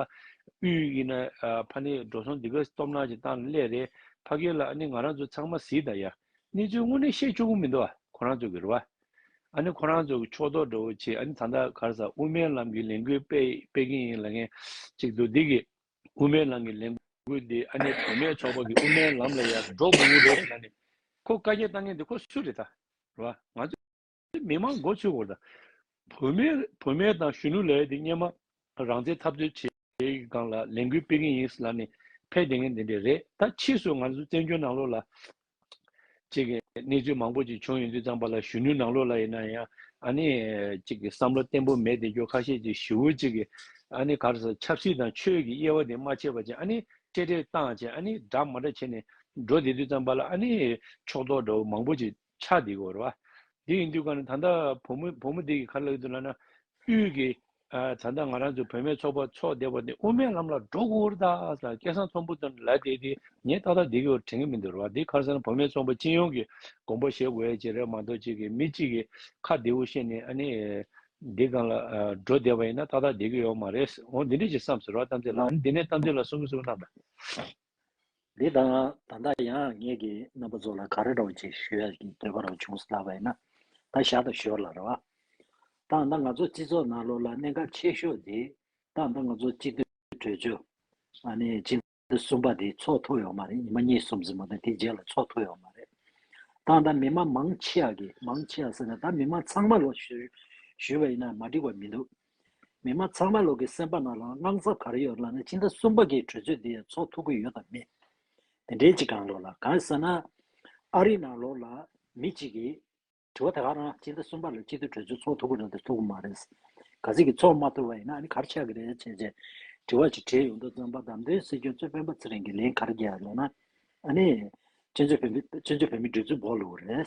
[SPEAKER 2] དབུས་ཡིན་ན་ཕ་ནི་འགྲོ་སོང་འདི་ག་སྟོབས་ནག་ཅིག་བཏང་ནི་ཀླད་རེད་ཕ་གི་ལ་ནི་ང་རང་ཚོ་ཚང་མ་ཟིས་དང་ཡ་ནི་ཚོའི་དངོས་གནས་བཤད་ཆོག་གི་མི་འདུག་ཁོ་རང་ཚོ་གི་རུ་བ་ཨ་ནི་ཁོ་རང་ཚོ་གི་ཕྱོགས་གཏོགས་འདྲ་བོ་བྱེད་ཨ་ནི་ད་ལྟ་གར་ས་དབུ་མའི་ལམ་གི་ལས་འགུལ་སྤེལ་སྤེལ་གིན་ཡིན་ལ་ངན་ཅིག་འདུག་འདི་གི་དབུ་མའི་ལམ་གི་ལས་འགུལ་འདི་ཨ་ནི་བུ་མེད་ཚོགས་པ་གི་དབུ་མའི་ལམ་ལ་ཡར་འགྲོ་དགོས་ངེས་རེད་ན་ནི་ཁོ་བཀའ་རྒྱ་བཏང་མཁན་འདི་ཁོ་སུ་རེད་ད་རུ་བ་ང་ཚོ་དེ་མི་མང་མགོ་ཚོས་བོར་དང། བུད་མེད་དང་གཞོན་ནུ་ལས་དེ་སྙེ་མ་རང་བཙན་འཐབ་རྩོད་བྱེད་ཀྱི་སྒང་ལ་ལས་འགུལ་སྤེལ་གྱིན་ཡིན་ལ་ནི་ཕལ་བདེ་ངན་དེ་འདྲས་རེད་ད་ཕྱིས་སུ་ང་ཚོ་བཙན་བྱོལ་ནང་ལོགས་ལ་གཅིག་གནས་ཚུལ་མང་པོ་ཅིག་བྱུང་ཡོང་དུས་ཙང་པ་ལ་གཞོན་ནུ་ནང་ལོགས་ལ་ཡིན་ན་ཡང་ཨ་ནི་གཅིག་བསམ་བློ་བརྟན་པོ་མེད་དེ་སྐྱོ་ཁ་ཤས་ཅིག་ཞི་བོ་ཅིག་གིས་ཨ་ནི་གར་སོང་ཆབ་སྲིད་དང་ཆོས་ཀྱི་དབྱེ་བ་དེ་མ་ཕྱེ་བ་ཅིག་ཨ་ནི་ཀྲེ་ཀྲེ་བཏང་བྱས་ཨ་ནི་སྒྲ་མ་སྒྲ་བྱས་ནས་འགྲོ་དེ་དུས་ཙང་པ་ལ་ཨ་ནི་ཕྱོགས་གཏོགས་འདྲ་བོ་མང་པོ་ཅིག་ཕྱག་འདེགས་བོར་བ། དེ་ཡིན་དུས་གང་ན་ད་ལྟ་བུ་མོ་བུ་མོ་དེ་ཀྱི་ཁ་ལག་ཏུ་ལ་ན་དབུས་ཀྱི། ད་ལྟ་ང་རང་ཚོ་བུད་མེད་ཚོགས་པ་ཚོགས་བསྡད་པ་དེ་དབུ་མའི་ལམ་ལ་འགྲོ་གོ་ད་ད་སྐལ་བཟང་ཚོམ་བུ་དང་ལ་བསྡད་དེ་ངས་ཏག་ཏག་འདི་ཀྱི་བར་དྲན་གྱི་མི་འདུག་རེད་བ་དེ་ཁར་སོང་ན་བུ་མེད་ཚོགས་པ་སྤྱི་ཡོངས་ཀྱི་དགོངས་པ་བཞེས་དགོས་ཡ་ཅེས་རེད་མ་གཏོགས་གཅིག་གིས་མི་གཅིག་གི་ཁ་བདེ་བོ་བཤད་ནས་ཨ་ནི། འདི་གང་ལ་འགྲོ་བསྡད་པ་ཡིན་ན་ཏག་ཏག་བསྡད་ཀྱི་ཡོག་མ་རེད། འོ་འདི་འདྲས་ཅིག་བསམ་ཟེར་བ་གཏམ་ཚེ་ལགས་ནི་འདི་ནས་གཏམ་ཚེ་ལ་གསུང་གི་གསུང་གི་རྣམས་པ། འདི་དང་
[SPEAKER 1] ད་ལྟ་ཡང་ངེད་ཀྱི་རྣམ་པ་ཚོ་ལ་ག་རེ་རོགས་ཅིག་ཞུ་ཡ་ཀྱི་འདོད་པ་རང་བྱུང་སླ་བས་ན་ད་ཞག་ད་ཞོར་ལ་རེ་བ་དང་ད་ང་ཚོ་སྤྱི་ཚོགས་ནང་ལོག་ལ་གནད་འགག་ཆེ་ཤོས་དེ་དང་ད་ང་ཚོ་སྤྱི་འཐུས་གྲོས་ཆོད་ཨ་ནེ་སྤྱི་འཐུས་གསུམ་པ་དེ་ཚོགས་ཐུབ་ཡོང་མ་རེད་ཉི་མ་གཉིས་གསུམ་ཟིན་མོ་དང་དེ་རྗེས་ལ་ཚོགས་ཐུབ་ཡོང་མ་རེད་དང་ད་མི་མང་མང་ཆེ་ཡ་ཀྱི་མང་ཆེ་ཡ་ཟེར་ན་ད་མི་མང་ཚང་མ་ལོག་ཞུ་ཞུ་བས་ན་མ་འགྲིག་པ་མི་འདུག་མི་དམངས་ཚང་མའི་ལོག་གི་སེམས་པ་ན་ལའང་དངངས་འཚབ་ག་རེ་ཡོད་ལབ་ན་ཕྱི་ཟླ་གསུམ་པ་གི་གྲོས་ཆོད་དེ་ཡང་ཚོགས་ཐུབ་ཀྱི་ཡོད་དམ་མེད། དེ་འདྲའི་ཅིག་གང་ལོག་ལ་གང་ཟེར་ན། ཨ་རིའི་ནང་ལོག་ལ་མི་གཅིག་གིས། དྲི་བ་དེ་ག་རང་ཕྱི་ཟླ་གསུམ་པ་ལ་སྤྱི་འཐུས་གྲོས་ཆོད་ཚོགས་ཐུབ་ཀྱི་རེད་དམ་ཐུབ་ཀྱི་མ་རེད། ག་ཟིག་གི་ཚོགས་མ་ཐུབ་པ་ཡིན་ན་ཨ་ནི་གར་ཆགས་ཀྱི་རེད་བྱས་བྱས། དྲི་བ་ཅིག་དྲིས་ཡོང་དུ་བརྩམས་པ་བདམས་ཐོན་སྲིད་སྐྱོང་གཙོས་སྤེན་པ་ཚེ་རིང་གིས་ལན་ག་རེ་རྒྱག་ཡོད་ལབ་ན། ཨ་ནི། སྤྱི་འཐུས་བོད་མི་སྤྱི་འཐུས་བོད་མི་འདི་ཚོའི་འབོག་ལུག་རེད།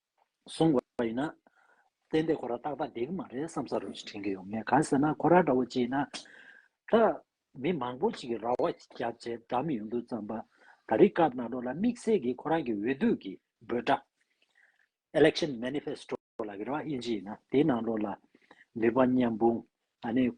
[SPEAKER 1] བཟུང་བ་ཡིན་ན། བཙན་དེ་ཁོ་ར་ཏག་ཏག་བསྡད་ཀྱི་མ་རེད་བསམ་ས་རེད་ཅེས་དྲན་གྱི་ཡོད་ངེས་གང་ཟེར་ན་ཁོ་ར་འདྲ་བོ་ཅིག་ཡིན་ན། ད། མི་མང་པོ་ཅིག་གིས་ར་བ་རྒྱབ་ཆེད་སྒྲ་མི་ཡོང་དུས་བརྩམས་པ། ད་རིག་སྐབས་ནང་དྲོ་ལ་དམིགས་བསལ་གྱིས་ཁོ་རང་གི་འོས་བསྡུ་གི་འབོད་སྒྲ། Election Manifesto། ལ་ར་བ་དབྱེ་འབྱེད་ཡིན་ན་དེའི་ནང་དྲོ་ལ། ནུས་པ་མཉམ་སྤུངས།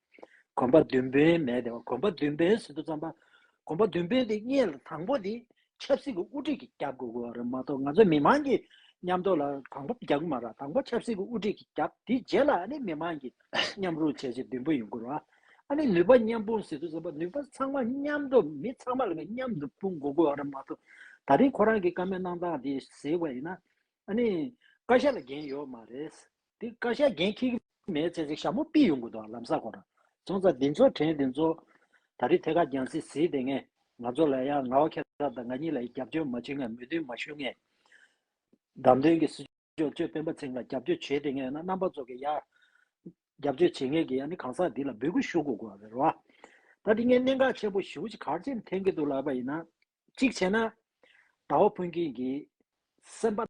[SPEAKER 1] གོམ་པ་མདུན་བོན་མེད་དེ། གོམ་པ་མདུན་བོན་ཟེར་དུ་བརྩམས་པ། གོམ་པ་མདུན་བོན་དེ་གཉིས་ལ་དང་པོ་དེ་ཆབ་སྲིད་ཀྱི་དབུ་ཁྲིད་ཀྱི་རྒྱབ་དགོས་དགོས་རེད་མ་གཏོགས་ང་ཚོ་མི་མང་གི་མཉམ་འདོགས་ལ་དང་པོ་རྒྱབ་གི་མ་ར་དང་པོ་ཆབ་སྲིད་ཀྱི་དབུ་ཁྲིད་ཀྱི་རྒྱབ་དེ་རྗེས་ལ་ནི་མི་མང་གི་མཉམ་རུང་བྱས་རྗེས་མདུན་བོན་ཡོང་དགོས་ར་ཨ་ནི་ནུས་པ་མཉམ་སྤུངས་ཟེར་དུ་བརྩམས་པ་ནུས་པ་ཚང་མ་མཉམ་འདོགས་མི་ཚང་མ་ལ་ནི་མཉམ་དུ་སྤུངས་དགོས་དགོས་རེད་མ་གཏོགས་ད་རིང་ཁོ་རང་གི་བཀའ་མོལ་གནང་སྟངས་དེ་ཟེར་བ་ཡིན་ན་ཨ་ནི་བཀའ་ཤག་ལ་འགན་ཡོད་མ་རེད། དེ་བཀའ་ཤག་འགན་འཁྱེར་གྱི་མེད་ཚེ་ཚེ་ཞྭ་མོ་སྤིས་ཡོང་དགོས་འདུག་ལམ་ས་གོ་ར་རྫོང་རྩ་འདི་ཚོ་དྲན་འདི་ཚོ། ད་རེས་ཐད་ཀར་རྒྱང་བསྲིངས་བཟི་དེ་ངས་ང་ཚོ་ལ་ཡ་ང་བ་ཁྱེད་རང་དང་ང་གཉིས་ལ་རྒྱབ་སྐྱོར་མ་བྱེད་ངས་མོས་མཐུན་མ་ཞུ་ངས། བདམས་ཐོན་གྱི་སྲིད་སྐྱོང་ཆོས་དཔོན་པ་ཚེང་ལ་རྒྱབ་སྐྱོར་བྱེད་དེ་ངས་ན་རྣམ་པ་ཚོ་གི་ཡ། རྒྱབ་སྐྱོར་བྱེད་མཁན་གྱི་ཡ་ནི་གང་ཟག་འདི་ལ་འབོད་སྐུལ་ཞུ་དགོས་དགོས་པ་རེད་རོ། ད་དེ་ངས་གནད་འགག་ཆེན་པོ་བཞི་བོ་ཅིག་གར་འཆེམ་འཐེན་གྱི་འདུག་ལབ་པ་ཡིན་ན། གཅིག་བྱས་ན། ད་བ་ཕུན་ཁེང་གིས། སེམས་པ།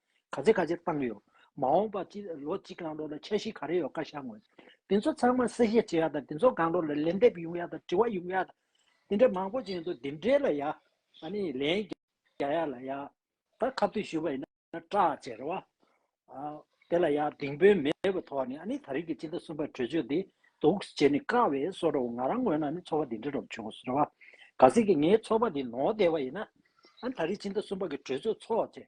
[SPEAKER 1] ག་ཚད་ག་ཚད་བཏང་གི་ཡོད། མ་འོངས་པ་སྤྱི་ལོ་གཅིག་གང་འགྲོ་ལ་འཆར་གཞི་ག་རེ་ཡོད་བཀའ་ཤག་ངོས། དེ་ཚོ་ཚང་མ་གསལ་བཤད་བྱེད་ཡག་དང་དེ་ཚོ་གང་འགྲོ་ལ་ལན་འདེབས་ཡོང་ཡག་དང་དྲི་བ་ཡོང་ཡག་དང། དེ་འདྲ་མང་པོ་བྱས་འདུག་དེ་འབྲེལ་ལ་ཡག་ནི་ལན་རྒྱ་ཡག་ལ་ཡག་དང་ཁ་བསྟོད་ཞུས་པ་ཡིན་ན་སྐྲག་ཅེས་རེད་བ། དེ་ལ་ཡག་དེང་དཔོན་མེད་པའི་ཐོག་ནས་ཨ་ནི་ད་རིག་གི་སྤྱི་ཟླ་གསུམ་པར་གྲོས་ཆོད་དེ་འདུག་ཟེར་ནི་དཀའ་བས་སོ་རོགས་ང་རང་ངོས་ན་ནི་ཚོགས་པ་དེ་འདྲ་རོགས་བྱུང་ཟེར་བ། ག་ཟེར་གི་ངའི་ཚོགས་པ་དེ་ནོར་བསྡད་པ་ཡིན་ན་ཨ་ནི་ད་རིག་སྤྱི་ཟླ་གསུམ་པ་གི་གྲོས་ཆོད་ཚོགས་ཅེས་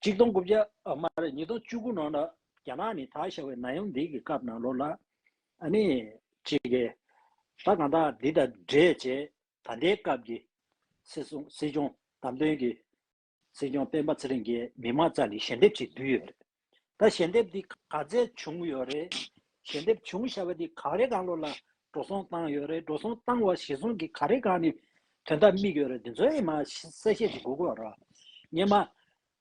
[SPEAKER 1] གཅིག་སྟོང་དགུ་བརྒྱ་མ་རེད་ཉིས་སྟོང་བཅུ་དགུ་ནང་ལ་རྒྱ་ནག་ནི་ད་ཤ་བའི་ན་ཡོམ་འདི་གི་སྐབས་ནང་ལོ་ལ་ཨ་ནི་ཅི་གི་ད་གང་དག་འདི་དང་འདྲེ་བྱེད་ད་ལྟའི་སྐབས་ཀྱི་སྲིད་སྲུང་སྲིད་སྐྱོང་བདམས་ཐོན་གྱི་སྲིད་སྐྱོང་སྤེན་པ་ཚེ་རིང་གིས་མི་མང་ཙམ་གྱི་ཞལ་འདེབས་ཅིག་བསྡུས་ཡོད་རེད་ད་ཞལ་འདེབས་འདི་ག་ཚད་བྱུང་ཡོད་རེད་ཞལ་འདེབས་བྱུང་ཤ་བ་འདི་ག་རེ་གང་ལོ་ལ་འགྲོ་སོང་བཏང་ཡོད་རེད་འགྲོ་སོང་བཏང་བ་བཞེས་སོང་གི་ག་རེ་གང་ནས་དོན་དག་དམིགས་ཡོད་རེད་དེ་ཚོ་ཨེ་མ་གསལ་བཤད་ཅིག་དགོས་དགོས་རེད། ངེད་མ།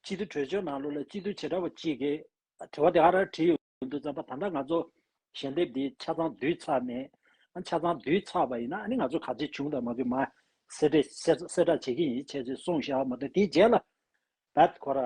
[SPEAKER 1] སྤྱི་འཐུས་གྲོས་ཆོད་ནང་ལོག་ལ་སྤྱི་འཐུས་བྱེ་བྲག་པ་གཅིག་གིས་དྲི་བ་དེ་ཨ་རག་བྲིས་ཡོད་འདུག་ཙམ་པ་ད་ལྟ་ང་ཚོ་ཞལ་འདེབས་འདི་ཆ་ཚང་བསྡུས་ཚར་ནས་ཨ་ཆ་ཚང་བསྡུས་ཚར་བ་ཡིན་ན་ཨ་ནི་ང་ཚོ་ག་ཚེ་བྱུང་དང་མ་བྱུང་མ་གསལ་གསལ་བསྒྲགས་བྱེད་ཀྱིན་ཡིན་བྱས་ཚེ་སོང་ཤག་མ་ད་དེའི་རྗེས་ལ་ད་ཁོ་ར།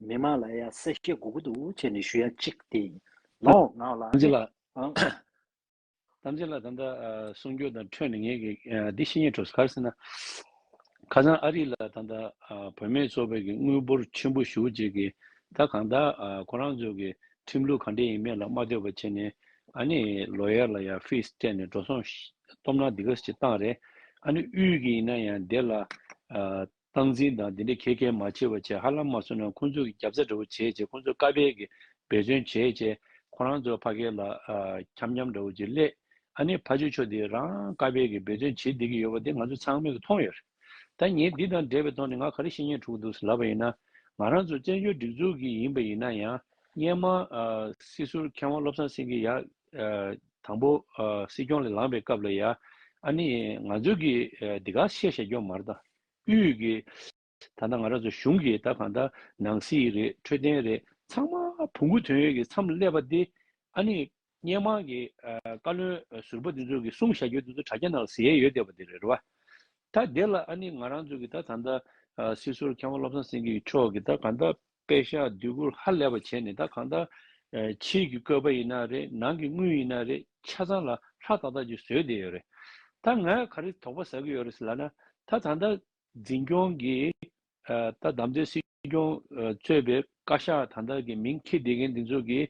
[SPEAKER 1] མི་དམངས་ལ་ཡང་གསལ་བཤད་དགོས་ཀྱི་འདུག་བྱས་ནས་ཞུ་ཡ་གཅིག་དེ་ཡིན། ལོ་ངག་ལ་ཐམས་ཅད་ནི་ལ། ཨང།
[SPEAKER 2] ཐམས་ཅད་ལ་ད་ལྟ་གསུང་རྒྱུ་དང་འཕྲོས་ནས་ངས་ཀྱི་འདི་ཤེས་ཉེ་གྲོས་ག་རེ་ཟེར་ན། ཁ་སང་ཨ་རི་ལ་ད་ལྟ་བོད་མེད་ཚོགས་པའི་ཀྱི་དངུལ་འབོར་ཆེན་པོ་ཞུ་རྗེས་ཀྱི་ད་གང་དག་ཁོ་རང་ཚོའི་ཀྱི་ཁྲིམས་ལུགས་ག་འདྲས་ཡིན་མེད་ལ་མ་ལྟོས་པ་བྱས་ནས་ཨ་ནི་ལོ་ཡར་ལ་ཡང་ཕིས་སྤྲད་ནས་འགྲོ་སོང་གཏོམ་ན་འདི་ག་ཞིག་བཏང་རེད་ཨ་ནི་དབུས་ཀྱི་ཡིན་ན་ཡང་དེ་ལ་སྟངས་འཛིན་དང་དེ་འདྲའི་ཁྱད་མཁས་མ་ཆེ་བ་བྱས་ཧ་ལམ་མ་གསུངས་ན་ཁོང་ཚོ་གི་རྒྱབ་རྩ་འདྲ་བོ་བྱེད་ཅེས་ཁོང་ཚོ་དཀའ་འཕེལ་གི་འབད་བརྩོན་བྱེད་ཅེས་ཁོ་རང་ཚོ་ཕ་སྐད་ལ་འཁྱམ་འཁྱམ་འདྲ་བོ་ཅིག་གླས་ཨ་ནེ་ཕ་ཆོས་ཆོས་འདི་རང་དཀའ་འཕེལ་གི་འབད་བརྩོན་བྱེད་བསྡད་ཀྱི་ཡོད་པ་དེ་ང་ཚོ་ཚང་མས་ཀྱི་མཐོང་ཡོད་རེད་ད་ངས་འདི་དང་འབྲེལ་བའི་ཐོག་ནས་ང་ག་རེ་བཤད་ཉན་འཁྲུག་འདུག་ཟེར་ལབ་པ་ཡིན་ན་ང་རང་ཚོ་བཙན་བྱོལ་སྒྲིག་འཛུགས་ཀྱི་ཡིན་པ་ཡིན་ན་ཡང་སྙན་མང་སྲིད་ཟུར་མཁས་དབང་བློ་བཟང་སེང་གེ་ཡག་དང་པོ། སྲིད་སྐྱོང་ལས་ལངས་པའི་སྐབས་ལ་ཡ། ཨ་ནི། ང་ཚོས་ཀྱི། འདི་ག་ཤེས་བྱ་སྐྱོང་མར་དང། དབུས་ཀྱི། ད་ལྟ་ང་རང་ཚོ་གཞུང་གི་ད་གང་ལྟར་ནང་སྲིད་རེད་འཕྲོད་བསྟེན་རེད་ཚང་མ་བུ་གུ་དོན་ཡོད་ཀྱི་མཚམས་སླེབས་པ་འདི། ཨ་ནི། སྙན་མང་གི། བཀའ་བློན་ཟུར་པ་འདི་ཚོ་གི་གསུང་བྱ་རྒྱུ་འདི་ཚོ་དྲ་རྒྱ་ནང་ཟེར་ཡས་ཡོད་བསྡད་པ་འདི་རེད་བ། ད་འདི་ལ་ཨ་ནི་ང་རང་ཚོ་གི་ད་གང་ལྟར། སྲིད་ཟུར་མཁས་དབང་བློ་བཟང་སེང་གེ་མཆོག་གི་ད་གང་ལྟར། པད་ཤག་སྡུད་སྒུར་ཧ་ལས་པ་བྱས་ནས་ད་གང་ལྟར། ཕྱིའི་གི་བཀོད་པ་ཡིན་ན་རེད་ནང་གི་དངུལ་ཡིན་ན་རེད་ཆ་ཚང་ལ་ལྷ་ཏག་ཏག་ཅིག་བཟོས་བསྡད་ཡོད་རེད། ད་ང་ག་རེ་དོགས་པ་ཟ་གི་ཡོད་རེད་ལབ་ན། ད་ད་ལྟ་འཛིན་སྐྱོང་གི། ད་དམ་འཛིན་སྲིད་སྐྱོང་གཙོས་པའི་བཀའ་ཤག་ད་ལྟ་གི་མིང་འཁྱེར་བསྡད་མཁན་འདི་ཚོ་གི།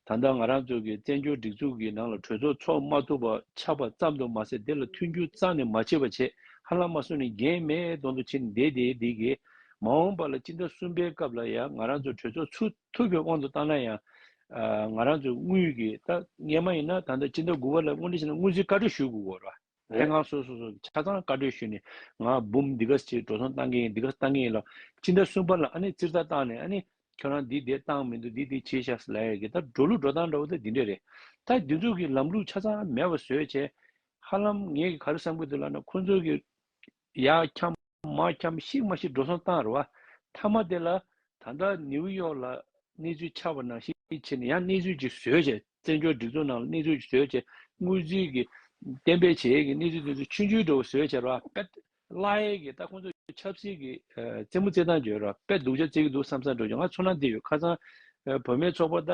[SPEAKER 2] ད་ལྟ་ང་རང་ཚོ་གི་བཙན་བྱོལ་སྒྲིག་འཛུགས་ཀྱི་ནང་ལ་གྲོས་ཚོགས་ཚོགས་མ་ཐུབ་པ་ཆགས་པ་ཙམ་དུ་མ་ཟད་དེ་ལ་མཐུན་འགྱུར་གཙང་ནས་མ་བྱས་པ་ཆེས་ཧ་ལམ་མ་སོང་ནས་རྒྱན་མའི་གདོང་དུ་ཕྱིན་བསྡད་དེ་འདི་གས། མ་འོངས་པ་ལ་སྤྱི་ཟླ་གསུམ་པའི་སྐབས་ལ་ཡང་ང་རང་ཚོ་གྲོས་ཚོགས་ཚུགས་ཐུབ་པའི་དབང་དུ་བཏང་ན་ཡང། ང་རང་ཚོས་དངུལ་གྱི་ད་ངེས་མ་ཡིན་ན་ད་ལྟ་སྤྱི་ཟླ་དགུ་བ་ལ་སྔོན་འགྲོ་བྱས་ན་དངུལ་རྩིས་བཀའ་འཁྲོལ་ཞུ་དགོས་སྐོར་ར། རེད་ང་སོ་སོ་སོ་ཆ་ཚང་བཀའ་འཁྲོལ་ཞུས་ནས་ང་འབུམ་འདི་ག་ཅིག་འགྲོ་སོང་བཏང་གི་ཡིན་འདི་ག་བཏང་གི་ཡིན་ལ་ཅི་འདྲ་གསུངས་པ་ལ་ཨ་ནི་ཙིར་ལྟར་བཏང་ནས་ཨ་ནི་ཁྱོད་རང་འདི་དེ་བཏང་མི་འདུག་འདི་འདི་བྱས་ཤག་ལ་ཡག་གི་ད་འགྲོ་ལུགས་འགྲོ་སྟངས་འདྲ་བོ་དེ་འདི་འདྲས་རེད་ད་འདི་ཚོ་གི་ལམ་ལུགས་ཆ་ཚང་མེད་པ་བཟོས་བྱས། ཧ་ལམ་ངས་ག་རེ་བསམ་གི་འདུག་ལགས་ན་ཁོང་ཚོ་གི། ཡར་འཁྱམས་མར་འཁྱམས་ཤིག་མ་ཤིག་འགྲོ་སོང་བཏང་རུ་བ་མཐའ་མ་དེ་ལ་ད་ལྟ་ནིའུ་ཡོག་ལ་གནས་ཚུལ་ཆགས་པ་ནང་ཤེས་ཆེ་ནས་ཡང་གནས་ཚུལ་ཅིག་བཟོས་བྱས་བཙན་བྱོལ་སྒྲིག་འཛུགས་ནང་ལ་གནས་ཚུལ་ཅིག་བཟོས་བྱས་དངུལ་རྩིས་ཀྱི་གཏན་འབེབས་བྱས་ཡས་ཀྱི་གནས་ཚུལ་དེ་ཚོ་ཆུན་ཆུན་འགྲོ་བ་བཟོས་བྱས་རུ་བ་པད་བླ་ཡས་ཀྱི་ལྟ་ཁོང་ཚོ་ཆབ་སྲིད་ཀྱི་རྩེད་མོ་རྩེད་སྟངས་བྱས་རུ་བ་པད་སྡུག་ཆ་རྩེད་ཀྱི་འདུག་བསམ་བསམ་འགྲོ་བྱས་ང་ཚོ་ནང་དེ་ཡོད་ཁ་སང་བོད་མའི་ཚོགས་པ་ད་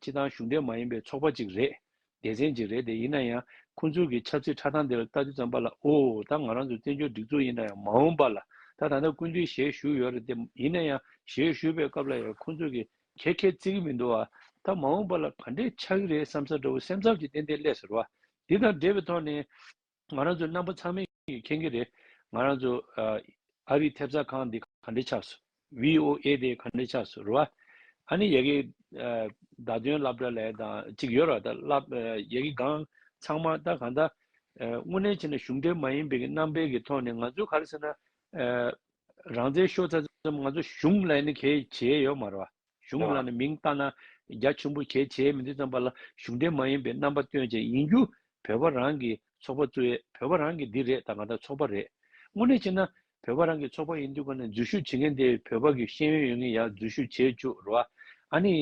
[SPEAKER 2] ཕྱི་ཐང་གཞུང་འབྲེལ་མ་ཡིན་པའི་ཚོགས་པ་ཅིག་རེད་སྡེ་ཚན་གཅིག་རེད་དེ་ཡིན་ན་ཡང་ཁོང་ཚོའི་གི་ཆབ་སྲིད་ཁྲ་ཐང་འདི་ལ་ལྟ་རྒྱུ་ཙམ་པ་ལ་ཨོ་ད་ང་རང་ཚོ་བཙན་བྱོལ་སྒྲིག་འཛུགས་ཡིན་ན་ཡང་མ་འོང་པ་ལ་ད་ད་ལྟ་ཀུན་བཏུས་ཞལ་བཞུགས་ཡོད་རེད་དེ་ཡིན་ན་ཡང་ཞལ་བཞུགས་པའི་སྐབས་ལ་ཡང་ཁོང་ཚོས་གི་ཁྱད་ཁྱད་བརྩི་གི་མི་འདུག་ཨ་ད་མ་འོང་པ་ལ་ག་འདྲས་ཆགས་གི་རེད་བསམ་ས་འདྲ་བོ་སེམས་ཚབ་ཀྱི་ཏན་ཏན་ཀླད་ཟེར་བ་འདི་དང་འབྲེལ་བའི་ཐོག་ནས། ང་རང་ཚོའི་རྣམ་པ་ཚང་མས་མཁྱེན་གྱི་རེད། ང་རང་ཚོ། ཨ་རིའི་ཐེབས་རྩ་ཁང་འདི་ག་འདྲས་ཆགས་སོ། VOA དེ་ག་འདྲས་ཆགས་སོ་རེད་བ། ཨ་ནི་ཡ་གི། བརྡ་སྟོན་ལབ་འདྲ་ལས་དང་ཅིག་ཡོད་ར་ད་ལབ། ཡ་གི་སྒང་ཚང་མ་ད་གང་ད། དངོས་གནས་བྱས་ན་གཞུང་འབྲེལ་མ་ཡིན་པའི་གི་རྣམ་པའི་གི་ཐོག་ནས་ང་ཚོའི་ག་རེ་ཟེར་ན། རང་བཙན་ཤོར་ཚར་ཙམ་ང་ཚོ་གཞུང་ལ་ཡ་ནི་གས་བྱས་ཡོད་མ་རེད་བ། གཞུང་ལ་ནི་མིང་བཏགས་ན་རྒྱ་ཆེན་པོ་གལ་ཆེའི་མི་འདི་ཙམ་པ་ལ་གཞུང་འབྲེལ་མ་ཡིན་པའི་རྣམ་པ་སྟོན་བྱེད་ཡིན་རྒྱུ་བོད་པ་རང་གི་ཚོགས་པ་གཙོས་བོད་པ་རང་གི་འདི་རེད་ད་གང་ལྟར་ཚོགས་པ་རེད། དངོས་གནས་བྱས་ན་བོད་པ་རང་གི་ཚོགས་པ་ཡིན་དུས་གང་ནས་འཛུལ་ཞུགས་བྱེད་མཁན་དེ་བོད་པ་གི་ཤེས་ཡོན་ཡོད་མཁན་ཡག་འཛུལ་ཞུགས་བྱེད་བཅུག་རོགས་ཨ། ཨ་ནི་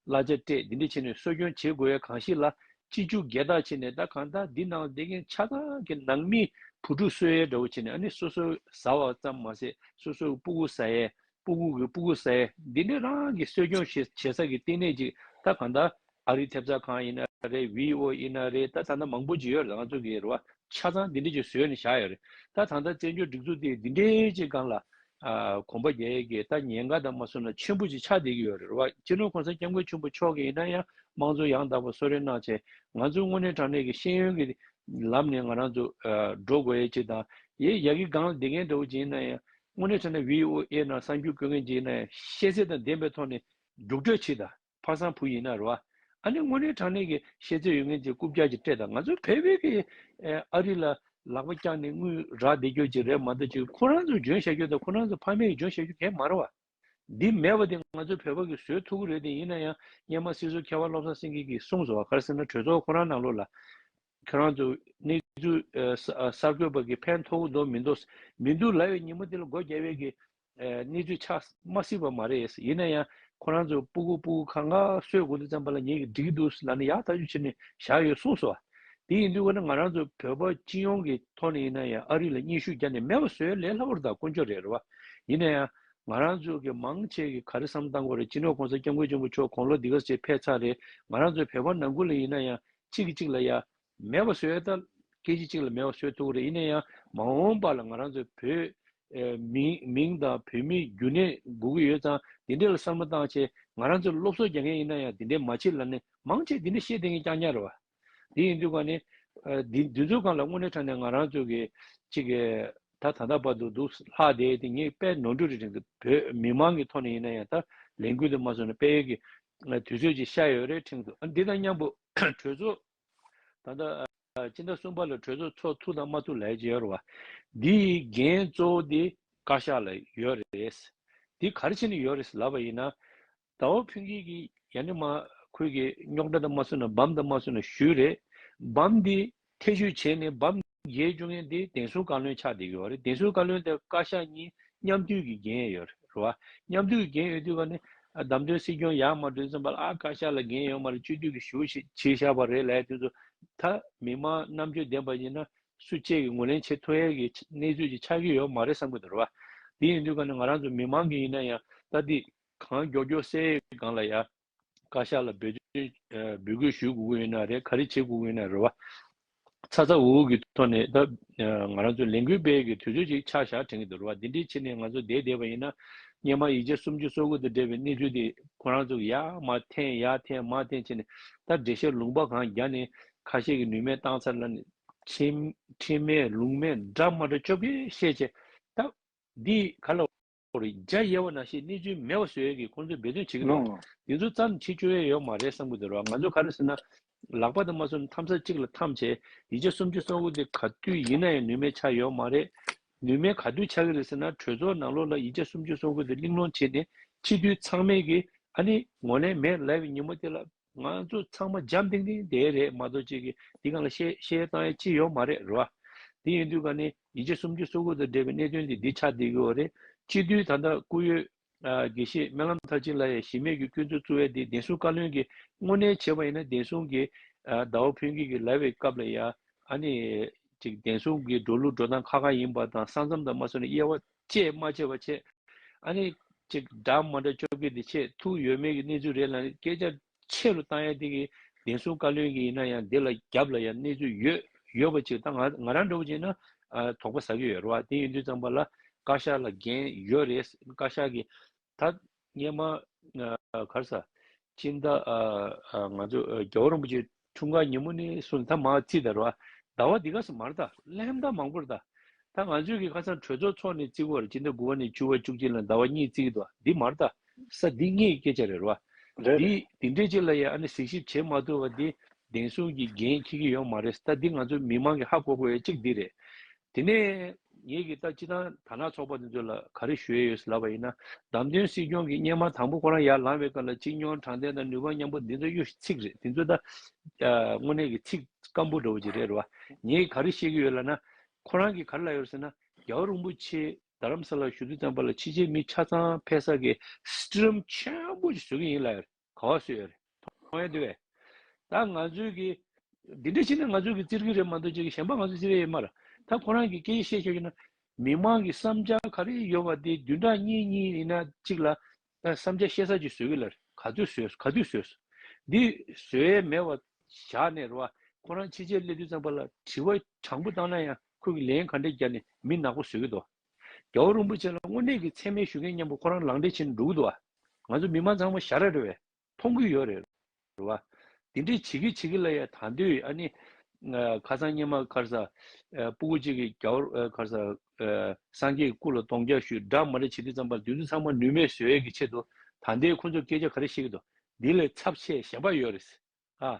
[SPEAKER 2] གླ་ཆ་སྤྲད་འདི་འདྲ་བྱས་ནས་གསོ་སྐྱོང་བྱེད་དགོས་ཡ་གང་ཞིག་ལ་ཅི་ཅུག་རྒྱལ་རྟགས་བྱས་ནས་ད་གང་ལྟར་འདི་ནང་ལ་བསྡད་མཁན་ཆ་ཚང་གི་ནང་མི་བུ་ཕྲུག་གསོད་ཡའི་འདྲ་བོ་བྱས་ནས་ཨ་ནི་སོ་སོ་ཟ་བ་ཙམ་མ་ཟད་སོ་སོ་གི་སྤུ་གུ་ཟ་ཡའི་སྤུ་གུ་གི་སྤུ་གུ་གསལ། འདི་ནི་རང་གི་གསོ་སྐྱོང་བྱེད་ས་ཀྱི་ལྟེ་གནས་ཅིག་ད་གང་ལྟར་ཨ་རིའི་ཐེབས་རྩ་ཁང་ཡིན་ན་རེད VO ཡིན་ན་རེད་ད་ད་ནང་མང་པོ་ཅིག་ཡོད་རེད་རང་ཚུགས་ཀྱི་རེད་བ་ཆ་ཚང་འདི་འདྲི་ཅིག་བཟོས་ནས་བཞག་ཡོད་རེད་ད་ད་ལྟ་བཙན་བྱོལ་སྒྲིག་འཛུགས་དེ་འདི་འདྲི་ཅིག་སྒང་ལ་གོམ་པ་རྒྱག་ཡས་ཀྱི་ད་ཉེན་ཁ་དང་མ་སུ་ན་ཆེན་པོ་ཅིག་ཆགས་བསྡད་ཀྱི་ཡོད་རེད་བ་སྤྱི་ནོར་ཁོང་ས་སྐྱབས་མགོན་ཆེན་པོ་མཆོག་གིས་ཡིན་ན་ཡང་དམངས་གཙོ་ཡང་དག་པ་གསོ་རེ་གནང་ཆེད་ང་ཚོ་དངོས་གནས་དྲང་གནས་ཀྱི་ཤེས་ཡོན་གྱི་ལམ་ནས་ང་རང་ཚོ་འགྲོ་དགོས་ཡས་ཅིག་དང་ཡས་ཡག་གི་སྒང་ལ་བསྡད་མཁན་འདྲ་བོ་ཅིག་ཡིན་ན་ཡང་དངོས་གནས་བྱས་ན VOA ནང་གསར་འགྱུར་བཀོད་མཁན་གྱིས་ནས་ཤེས་ཚད་དང་ལྡན་པའི་ཐོག་ནས་རྒྱུགས་སྤྲོད་བྱེད་དང་ཕ་བཟང་བུ་ཡིན་ན་རེ་བ། ཨ་ནི་དངོས་གནས་དྲང་གནས་ཀྱི་ཤེས་ཚད་ཡོད་མཁན་གྱིས་རྐུབ་བཀྱག་ཅིག་སྤྲད་དང་ང་ཚོ་བལ་བོད་ཀྱི་ཨ་རི་ལ་ལག་པ་བཀྱག་ནས་དངུལ་རག་བདེ་སྐྱོར་ཅིག་རེད་མ་གཏོགས་ཅིག་ཁོ་རང་ཚོ་འཇོན་བྱ་རྒྱུ་དང་ཁོ་རང་ཚོ་ཕ་མེས་ཀྱི་འཇོན་བྱ་རྒྱུ་གན་མ་རེ་བ། འདི་མེད་པ་དེ་ང་ཚོ་བོད་པ་གི་བཟོས་ཐུག་གི་རེད་དེ་ཡིན་ན་ཡང་སྙན་མ་སྲིད་ཟུར་མཁས་བ་བློ་བཟང་སེང་གེ་གིས་གསུངས་སོ་བ་གར་སེམས་ན་གྲོས་ཚོགས་ཁོ་རང་ནང་ལོགས་ལ་ཁྱོད་རང་ཚོ་གནས་ཚུལ་གསར་འགོད་པ་གི་ཕན་མཐོ་འདོག་མི་འདོག་མི་འདུག་ལ་ཡོད་ཉིན་མོ་དེ་ལ་སྒོ་རྒྱ་བལ་གི་གནས་ཚུལ་ཆགས་མ་སྲིད་པ་མ་རེད་ཡིན་ན་ཡང་ཁོ་རང་ཚོ་སྤུ་གུ་སྤུ་གུ་ཁ་ང་སོས་དགོ་འདུག་བརྩམས་པ་ལ་ཉེ་གི་འགྲིག་གི་འདུག་ལ་ནི་ཡག་ཐག་ཆུད་བྱེད་ནི་བཞག་ཡོད་གསུངས་སོ། དེ་ཡིན་དུས་འོ་ན་ང་རང་ཚོ་བོད་པ་སྤྱི་ཡོངས་ཀི་ཐོག་ནས་ཡིན་ན་ཡང་ཨ་རི་ལ་སྙན་ཞུ་རྒྱ་ནས་མེད་པ་བཟོས་ལས་སླ་བོར་ད་དཀོན་མཆོག་རེད་རེད་བ། ཡིན་ན་ཡང་ང་རང་ཚོ་གི་མང་ཆེ་གི་ག་རེ་བསམ་བཏང་གོ་རེ་སྤྱི་ནོར་གོང་ས་སྐྱབས་མགོན་ཆེན་པོ་མཆོག་གོང་ལོ་འདི་ག་ཟེར་ཕེ་ཚ་རེད་ང་རང་ཚོ་བོད་པ་ནང་ཁུལ་ལ་ཡིན་ན་ཡང་གཅིག་གིས་གཅིག་ལ་ཡ། མེད་པ་བཟོས་ད། སྐད་ཅིག་གཅིག་ལ་མེད་པ་བཟོས་ཐུག་གི་རེད་ཡིན་ན་ཡང་མ་འོངས་པ་ལ་ང་རང་ཚོའི་བོད། མིང་དང་བོད་མི་རྒྱུན་ནས་སྒུག་གི་ཡོད་ཙང་དེ་འདྲས་ལ་བསམ་བློ་བཏང་ཆེད་ང་རང་ཚོས་སློབ་གསོ་རྒྱག་མཁན་ཡིན་ན་ཡང་དེ་འདྲས་མ་བྱེད་ལ་ནི་མང་ཆེས་དེ་འདྲས་བཤད་དེ་ངས་ཀྱང་ཉར་བ། དེ་ཡིན་དུས་ཀ་ནི། དུས་ཚོད་གང་ལ་དངོས་གནས་ཁྲ་ནས་ང་རང་ཚོས་གི་ཅིག་ད་ད་ད་བར་དུ་འདུག་ལྷག་དེ་དེ་ངས་དཔལ་ནོར་འབྲུ་རི་རིང་དུ་བོད་མི་མང་གི་ཐོག་ནས་ཡིན་ན་ཡང་ད་ལས་འགུལ་དུ་མ་བཟོ་ན་དཔལ་ཡོལ་གི་དུས་ཚོད་ཅིག་ཤར་ཡོད་རེད་ཁྲིམས་ཚོགས་འདི་དང་མཉམ་པོ་གྲོས་ཚོགས་ད་ལྟ་སྤྱི་ཟླ་གསུམ་པ་ལ་གྲོས་ཚོགས་ཚོགས་ཐུག་དང་མ་ཐུག་ལས་ཀྱི་ཡོད་རེད་བ། འདིའི་འགན་གཙོ་བོ་འདི་བཀའ་ཤག་ལ་ཡོད་རེད། འདི་ག་རེ་བྱེད་ནི་ཡོད་རེད་ལབ་པ་ཡིན་ན། དྭོ་ཕུན་སྐྱིད་ཀྱིས་ཡ་ནི་མ་ཁུལ་གྱི་རྙོག་དྲ་དང་མ་སུ་ན་འབམ་དང་མ་སུ་ན་ཞུས་རེད། འབམ་འདི་ཐེ་ཇུས་བྱས་ནས་བབ། རྒྱའི་སྤྱི་ངན་དེ་བདེན་སྲུང་བཀའ་བློན་ཆགས་བསྡད་ཡོད་རེད་བདེན་སྲུང་བཀའ་བློན་དེ་བཀའ་ཤག་གཉིས་མཉམ་འཐུས་ཀྱིས་འགན་ཡོད་རེད་རེད་བ། མཉམ་འཐུས་ཀྱིས་འགན་ཡོད་དུས་བ་ནི། བདམས་ཐོན་སྲིད་སྐྱོང་ཡག་མ་གྲུབ་ཙམ་བ་ལ་ཨ་བཀའ་ཤག་ལ་འགན་ཡོད་མ་རེད་སྤྱི་འཐུས་ཀྱིས་ཞུ་བཞེས་བྱེད་ཤག་བ་རེད་ལའི་དུས་སུ། ད་མི་མང་རྣམ་དཔྱོད་ལྡན་བ་ཡིན་ན། སུ་བཅས་ཀྱིས་ངོས་ལེན་བྱེད་ཐུ་ཡལ་གྱི་གནས་ཚུལ་གྱི་ཆགས་ཀྱི་ཡོད་མ་རེད་བསམ་གྱི་འདུག་རེད་བ། དེ་ཡིན་དུས་ག་ནི་ང་རང་ཚོ་མི་མང་གིས་ཡིན་ན་ཡང་ད་དེ་གང་མགྱོགས་མགྱོགས་སེ་ཡི་སྒང་ལ་ཡ། བཀའ་ཤག་ལ་འབོད་སྐུལ་ཞུ་དགོས་ཀྱི་ཡོད་ན་རེད་ག་རེ་བྱེད་དགོས་ཀྱི་ཡོད་ན་རེད་བ། ཚ་ཚ་འུར་འུར་གྱི་ཐོག་ནས་ད་ང་རང་ཚོ་ལས་འགུལ་སྤེལ་གྱི་དུས་ཚོད་ཅིག་ཆག་ཞག་དྲན་གྱི་འདུག་རེད་བ་དེ་འདྲའི་ཕྱི་ནས་ང་ཚོ་བསྡད་བསྡད་བ་ཡིན་ན་སྙན་མ་ཡིག་ཆ་སུམ་ཅུ་སོ་དགུ་དང་འབྲེལ་བའི་གནས་ཚུལ་དེ་ཁོ་རང་ཚོ་གི་ཡ་མ་འཐེན་ཡ་འཐེན་མ་འཐེན་བྱས་ནས་ད་འགྲེལ་བཤད་ལུང་པ་གང་རྒྱག་ནས་ཁ་ཤས་ཀྱི་ནུས་མེད་བཏང་ཚར་ལ་ནས། ཁྲིམས་མེད་ལུང་མེད་འདྲ་མ་འདྲ་ཅོ་ཀེ་བཤད་བྱས་ད་འདི་ག་ལ། རྒྱ་ཡེ་བ་ན་ཞེས་གནས་ཚུལ་མེད་པ་བཟོས་ཡོད་ཀི་ཁོང་ཚོས་འབད་བརྩོན་བྱེད་ཀི་འདུག་དེ་ཚོ་ཙམ་བྱེད་སྤྱོད་ཡས་ཡོག་མ་རེད་བསམ་གི་འདུག་རོགས་ང་ཚོ་ག་རེ་ཟེར་ན་ལག་པ་དང་མ་ཟུར་འཐམ་ས་གཅིག་ལ་འཐམ་བྱས་ཡིད་ཆ་སུམ་ཅུ་སོང་གི་འདུག་ག་དུས་ཡིན་ན་ཡང་ནུས་མེད་ཆགས་ཡོག་མ་རེད་ནུས་མེད་ག་དུས་ཆགས་གི་རེད་ཟེར་ན་གྲོས་ཚོགས་ནང་ལོག་ལ་ཡིད་ཆ་སུམ་ཅུ་སོང་གི་འདུག་གླིང་སློང་བྱས་ནས་ཕྱི་དུས་ཚང་མེད་གི་ཨ་ནི་ངོ་ལེན་མེད་ལབ་བའི་ཉིན་མོ་དེ་ལ། ང་ཚོ་ཚང་མ་འཇམ་ཏིང་ཏིང་དེ་རེད་མ་གཏོགས་ཅིག་འདི་གང་ལ་བཤད་བཤད་བཏང་ཡས་ཅི་ཡོད་མ་རེད་རེད་བ། དེ་ཡིན་དུས་ག་ནས་ཡིད་ཆེ་སུམ་ཅུ་སོ་དགུ་དང་འབྲེལ་བའི་གནད་དོན་འདི་འདི་ཆ་འདི་གི་འོ་རེད་སྤྱི་འཐུས་ད་ལྟ་བཀུར་ཡོད། དགེ་བཤེས་སྨོན་ལམ་མཐར་ཕྱིན་ལ་ཡང་གཞི་མེད་ཀྱི་སྐྱོན་འཚོལ་བཙུར་བས་འདི་བདེན་སྲུང་བཀའ་བློན་གྱི་དངོས་གནས་བྱས་པ་ཡིན་ན་བདེན་སྲུང་གི་ཟླ་བ་ཕུན་སྐྱིད་ཀྱི་ལབ་བའི་སྐབས་ལ་ཡང་ཨ་ནི། ཅིག་བདེན་སྲུང་གི་འགྲོ་ལུགས་འགྲོ་སྟངས་ཁ་ཁ་ཡིན་པ་དང་ས་མཚམས་དང་མ་སོན་ན་དབྱེ་བ། ཅེས་སྨྲ་བྱེད་པ་བྱེད། ཨ་ནི། ཅེས་སྒྲ་མ་འདྲ་བཅོ་བརྒྱད་འདི་ཆེས་ཐུགས་ཡོད་མེད་ཀྱི་གནས་ཚུལ་རེད་ལ་སྐད་ཆ་ཆེ་རུ་བཏང་ཡ་དེ་གི་བདེན་སྲུང་བཀའ་བློན་གྱི་ཡིན་ན་ཡང་འདི་ལ་རྒྱབ་ལ་ཡང་གནས་ཚུལ་ཡོད་ཡོད་པ་ཅིག་ད་ང་ང་རང་འདྲ་བོ་ཅིག་ན་དོགས་པ་ཟ་གི་ཡོད་རེད་བ་དེ་ཡིན་དུས་ཙམ་པ་ལ་བཀའ་ཤག་ལ་འགན་ཡོད་རེད་བཀའ་ཤག་གི་ཐ་སྙད་མ། གར་ས། སྤྱིན་བདག། ང་ཚོ་རྒྱལ་བ་རིན་པོ་ཆེའི་འཁྲུངས་སྐར་ཉིན་མོ་ནི་སུ་ནི་ཐ་མ་ཚིག་དར་བ། དར་བ་འདི་ག་སུ་མར་དར་ལྷན་དར་མང་པོར་དར། ད་ང་ཚོས་ཀྱི་ཁ་སང་གྲོས་ཚོགས་འཚོགས་ནས་ཚིག་བར་སྤྱིན་བདག་དགུ་བ་ནས་བཅུ་བ་བཅུ་གཅིག་ལ་དར་བ་གཉིས་ཚིག་གི་དར་བ་འདི་མར་དར་ས་འདི་ངའི་སྐད་ཆ་རེད་བ། རེད་རེད། འདི་འདྲའི་ཅིག་ལ་ཡང་ཨ་ནི་གཟིགས་ཞིབ་བྱེད་མ་ཐུབ་བ་འདི་བདེན་གསུམ་གྱི་འགན་ཁྱེད་ཀྱི་ཡོང་མ་རེད་ད་འདི་ང་ཚོ་མི་མང་གི་ཧ་གོ་དགོས་ཡ་གཅིག་འདི་རེད། དེ་ནས་ངེད་ཀྱིས་ལྟ་ཅི་དང་ཐ་ན་ཚོགས་པ་དེ་ཚོ་ལ་ག་རེ་ཞུ་ཡས་ཡོད་ལབ་པ་ཡིན་ན་བདམས་ཐོན་སྲིད་སྐྱོང་གི་སྙན་མ་དང་པོ་ཁོ་རང་ཡར་ལངས་བའི་སྐབས་ལ་ཅིག་མྱོང་དྲང་བདེན་དང་ནུས་པ་མཉམ་པོ་འདི་ཚོ་གཡོ་ཞིག་ཚིག་རེད་འདི་ཚོ་ད་དངོས་གནས་ཀྱི་ཚིག་སྐམ་པོ་འདྲ་བོ་ཅིག་རེད་བ་ངེད་ག་རེ་བཤད་ཀྱི་ཡོད་ལབ་ན་ཁོ་རང་གིས་ག་རེ་ལབ་ཡོད་ཟེར་ན་རྒྱ་བོ་རིན་པོ་ཆེ་རྡ་རམ་ས་ལར་ཞུ་དུས་བརྩམས་པ་ལ་ཕྱི་རྗེས་མི་ཆ་ཚང་ཕེ་ས་གིས་སྤྲི་རམ་ཆེན་པོ་ཅིག་བཟོ་གི་ཡིན་ལབ་ཡོད་རེད། གོ་ཞེས་པ་རེད། མཐོང་ཡ་དེ་བས། ད་ང་ཚོའི་གི། འདི་འདྲ་ཞིག་ན་ང་ཚོའི་གི་བཙིར་གི་རེད་མ་གཏོགས་ཅི་གི་གཞན་པ་ང་ཚོའི་བཙིར་ཡ་ཡོད་མ་རེད། ད་ཁོ་རང་གི་སྐད་ཡིག་ཤེས་ཆོག་ཡོད་ན། མི་མང་གི་བསམ་འཆར་ག་རེ་ཡོད་པ་དེ་བདུན་ཕྲག་གཉིས་གཉིས་ཡིན་ན་གཅིག་ལ། བསམ་འཆར་བཤད་ས་ཅིག་བཟོས་གི་ལ་རེད་ག་དུས་བཟོས་ག་དུས་བཟོས། འདི་བཟོས་ཡས་མེད་བ་བཞག་ནས་རེད་བ། ཁོ་རང་ཕྱི་རྗེས་སླེབས་དུས་ཙམ་པ་ལ་དྲི་བ་དྲང་པོ་བཏང་ན་ཡང་ཁོས་གི་ལན་ག་འདྲ་རྒྱབ་ནས་མི་ནག་པོ་བཟོས་གི་འདུག་བ། རྒྱལ་བ་རིན་པོ་ཆེ་ལ་དངོས་གནས་ཀྱི་མཚན་སྨད་ཞུ་མཁན་སྙན་པོ་ཁོ་རང་ལང་འདྲེ་ཆེ་ནི་འགྲོ་གི་འདུག་ཨ། ང་ཚོ་མི་མང་ཚང་མ་ཞར་རེ་རེ་བས་མཐོང་གི་ཡོད་རེད་བ། འདི་འདྲས་བྱེད་ཀི་བྱེད་ཀི་ལ་ཡ་ད་འདོད་ཨ་ནི། ཁ་སང་སྙན་མ་ཁར་ས་སྤུ་གུ་གཅིག་གིས་རྒྱལ་བ་ཁར་ས་སངས་རྒྱས་ཀྱི་སྐུ་ལ་གདོང་རྒྱག་ཞུས་སྦྲགས་མ་རེ་བྱེད་དུས་ཙམ་པར་འདི་ཚོ་ཚང་མ་ནུས་མེད་བཟོས་ཡས་ཀྱི་ཆེད་དུ་ད་འདས་ཁོ་ཚོར་སྐད་ཆ་ག་རེ་བཤད་ཀྱི་འདུག་འདི་ལས་ཚབས་ཆེས་གཞན་པ་ཡོད་རེད་ཨ།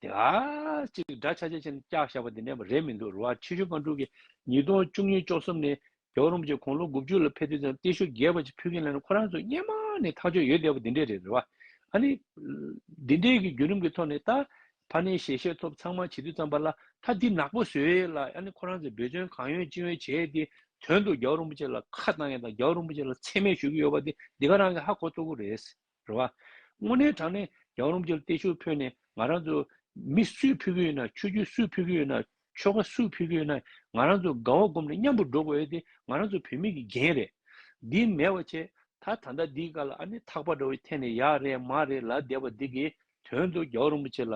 [SPEAKER 2] དེ་ཨ་ཅིག་འདྲ་ཆ་ཆ་ཆེ་ན་སྐྱག་བཞག་པ་འདི་འདྲས་པ་རེད་མི་འདུག་རུ་བ་ཆེ་ཤོས་པང་དཀྲུག་གིས་ཉིས་སྟོང་བཅུ་གཉིས་བཅོ་གསུམ་ནས་རྒྱ་རོམ་གྱིས་གོང་ལོ་དགུ་བཅུ་ལ་ཕེབས་དུས་ཙམ་ཏེ་ཤོ་རྒྱས་པ་ཅིག་ཕུལ་མཁན་ལ་ནི་ཁོ་རང་ཚོ་སྙེ་མ་ནས་ཐག་ཆོད་ཡོད་བསྡད་པ་འདི་འདྲས་རེད་རུ་བ་ཨ་ནི། འདི་འདྲས་ཀྱི་བརྒྱུད་རིམ་གྱི་ཐོག་ནས་ད་ཕ་ནས་ཞལ་བཞེས་ཐོབ་ཚང་མ་བྱེད་དུས་ཙམ་པ་ལ་ད་འདི་ནག་པོ་བཟོས་ལ་ཨ་ནི་ཁོ་རང་ཚོས་འབོད་བརྩོན་གང་ཡོད་ཅི་ཡོད་བྱས་ཏེ་དོན་དུ་རྒྱ་རོམ་གྱི་ལ་ཁ་བཏང་ཡ་དང་རྒྱ་རོམ་གྱི་ལ་མཚན་སྨད་ཞུ་གི་ཡོད་པ་འདི་འདི་ག་རང་གི་ཧ་གོ་ལྟོ་གོ་རེད། རེད་བ། དངོས་གནས་དྲང་གནས་རྒྱ་རོམ་གྱིར་ཏེ་ཤུར་འཕོས་ནས་ང་རང་ཚོ། མི་སུས་ཕུལ་གི་ཡོད་ན་ཆོས་རྒྱུད་སུས་ཕུལ་གི་ཡོད་ན་ཆོལ་ཁ་སུས་ཕུལ་གི་ཡོད་ན་ང་རང་ཚོ་དགའ་བ་སྒོམ་ནས་མཉམ་པོ་འགྲོ་དགོས་ཨེ་དེ་ང་རང་ཚོ་བུད་མེད་ཀྱི་འགན་རེད། འདི་མེད་བ་བྱས་ད་ད་ལྟ་འདིའི་སྐར་ལ་ཨ་ནི་ཐག་པ་འདྲ་བོའི་ཐད་ནས་ཡག་རེད་མ་རེད་ལབ་བསྡད་པ་འདི་གིས་དོན་དུ་རྒྱའོ་རིན་པོ་ཆེ་ལ་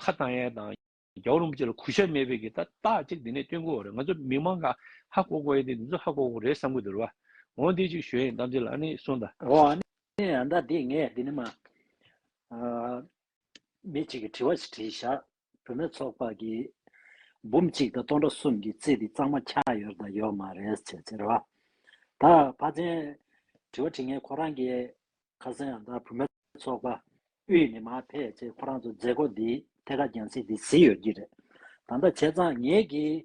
[SPEAKER 2] ཁ་བཏང་ཡས་དང། རྒྱ་བོད་རིན་པོ་ཆེ་ལ་གུས་ཞབས་མེད་པའི་གི་ད་རྟགས་གཅིག་འདི་ནས་བསྟོན་དགོས་བ་རེད་ང་ཚོ་མི་མང་ག་ཧ་གོ་གོ་ཡེ་འདི་འདི་ཚོ་ཧ་གོ་གོ་རེད་བསམ་གི་འདུག་རེད་བ་འོ་འདི་ཅིག་ཞོའི་གཏམ་ཚིག་ལ་ཨ་ནི་སུ་ད། འོ་ཨ་ནི་
[SPEAKER 1] ཨ་ད་འདི་ངས་འདི་ནི་མ། མི་ཅིག་གི་དྲི་བ་ཞིག་དྲིས་བཞག་བུད་མེད་ཚོགས་པ་གི་འབུམ་གཅིག་དང་སྟོང་ཕྲག་གསུམ་གི་རྩིས་འདི་གཙང་མ་ཁྱག་ཡོར་དང་ཡོག་མ་རེད་ཟེར་ཟེར་བ་ད་བ་ཚན་དྲི་བ་དྲིས་ངས་ཁོ་རང་གི་ཁ་སང་ཡང་དག་བུ་མེད་ཚོགས་པ་དབུས་ནས་མ་ཕེབས་ཚེ་ཁོ་རང་ཚོ་མཛད་སྒོ་འདིའི་ཐད་ཀར་རྒྱང་སྲིང་འདི་ཟིན་ཡོད་ཀྱི་རེད། ད་ལྟ་བྱས་ཙང་ངེད་ཀྱིས་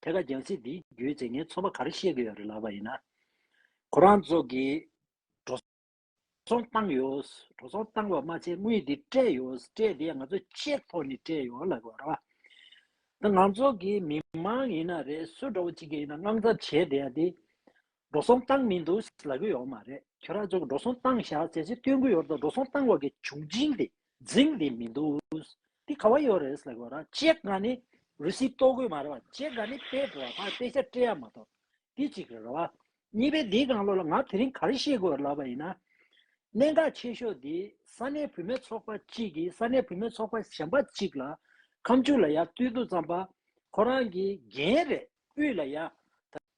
[SPEAKER 1] ཐད་ཀར་རྒྱང་སྲིང་འདིའི་རྒྱུའི་རྩེ་ངན་ཚོགས་པ་ག་རེ་བཤད་ཀྱི་ཡོད་རེད་ལབ་པ་ཡིན་ན། ཁོ་རང་ཚོ་གིས་འགྲོ་སོང་བཏང་ཡོད། འགྲོ་སོང་བཏང་བ་མ་ཚད་དངུལ་འདི་སྤྲད་ཡོད། སྤྲད་དེ་ང་ཚོ་ཆེད་ཐོག་ནས་སྤྲད་ཡོད་ལབ་པ་རེད། ད་ང་ཚོ་གིས་མི་མང་ཡིན་ན་རེད་སུ་འདྲ་བོ་ཅིག་གིས་ཡིན་ན་དངངས་འཚབ་བྱས་བསྡད་ཡ་དེ། འགྲོ་སོང་བཏང་མི་འདུག་ལབ་གི་ཡོག་མ་རེད་ཁྱོད་རང་ཚོ་འགྲོ་སོང་བཏང་བཞག་ཟེར་ཚེ་སྟོན་གི་ཡོག་དང་འགྲོ་སོང་བཏང་བ་གི་བྱུང་རྗིང་དེ་རྫིང་དེ་མི་འདུག་དེ་ག་བ་ཡོག་རེད་ལབ་གི་ཡོག་རང་ཅེ་དགའ་ནི་རུ་སི་གཏོག་གི་མ་རེད་བ་ཅེ་དགའ་ནི་པེ་བོ་བ་ཕ་པེ་ཤ་ཏྲེ་ཡ་མ་གཏོག་དེ་གཅིག་རེད་བ་གཉིས་པའི་དེའི་གང་ལོག་ལ་ང་དེ་རིང་ག་རེ་ཤེས་གི་ཡོག་ལབ་པ་ཡིན་ན་གནད་འགག་ཆེ་ཤོག་དེ་ས་གནས་བུད་མེད་ཚོགས་པ་གཅིག་གི་ས་གནས་བུད་མེད་ཚོགས་པ་གཞན་པ་གཅིག་ལ་ཁམས་ཕྱུག་ལ་ཡ་བཏུལ་འདུག་ཙམ་པ་ཁོ་རང་གི་རྒྱན་རེད་དབུས་ལ་ཡ་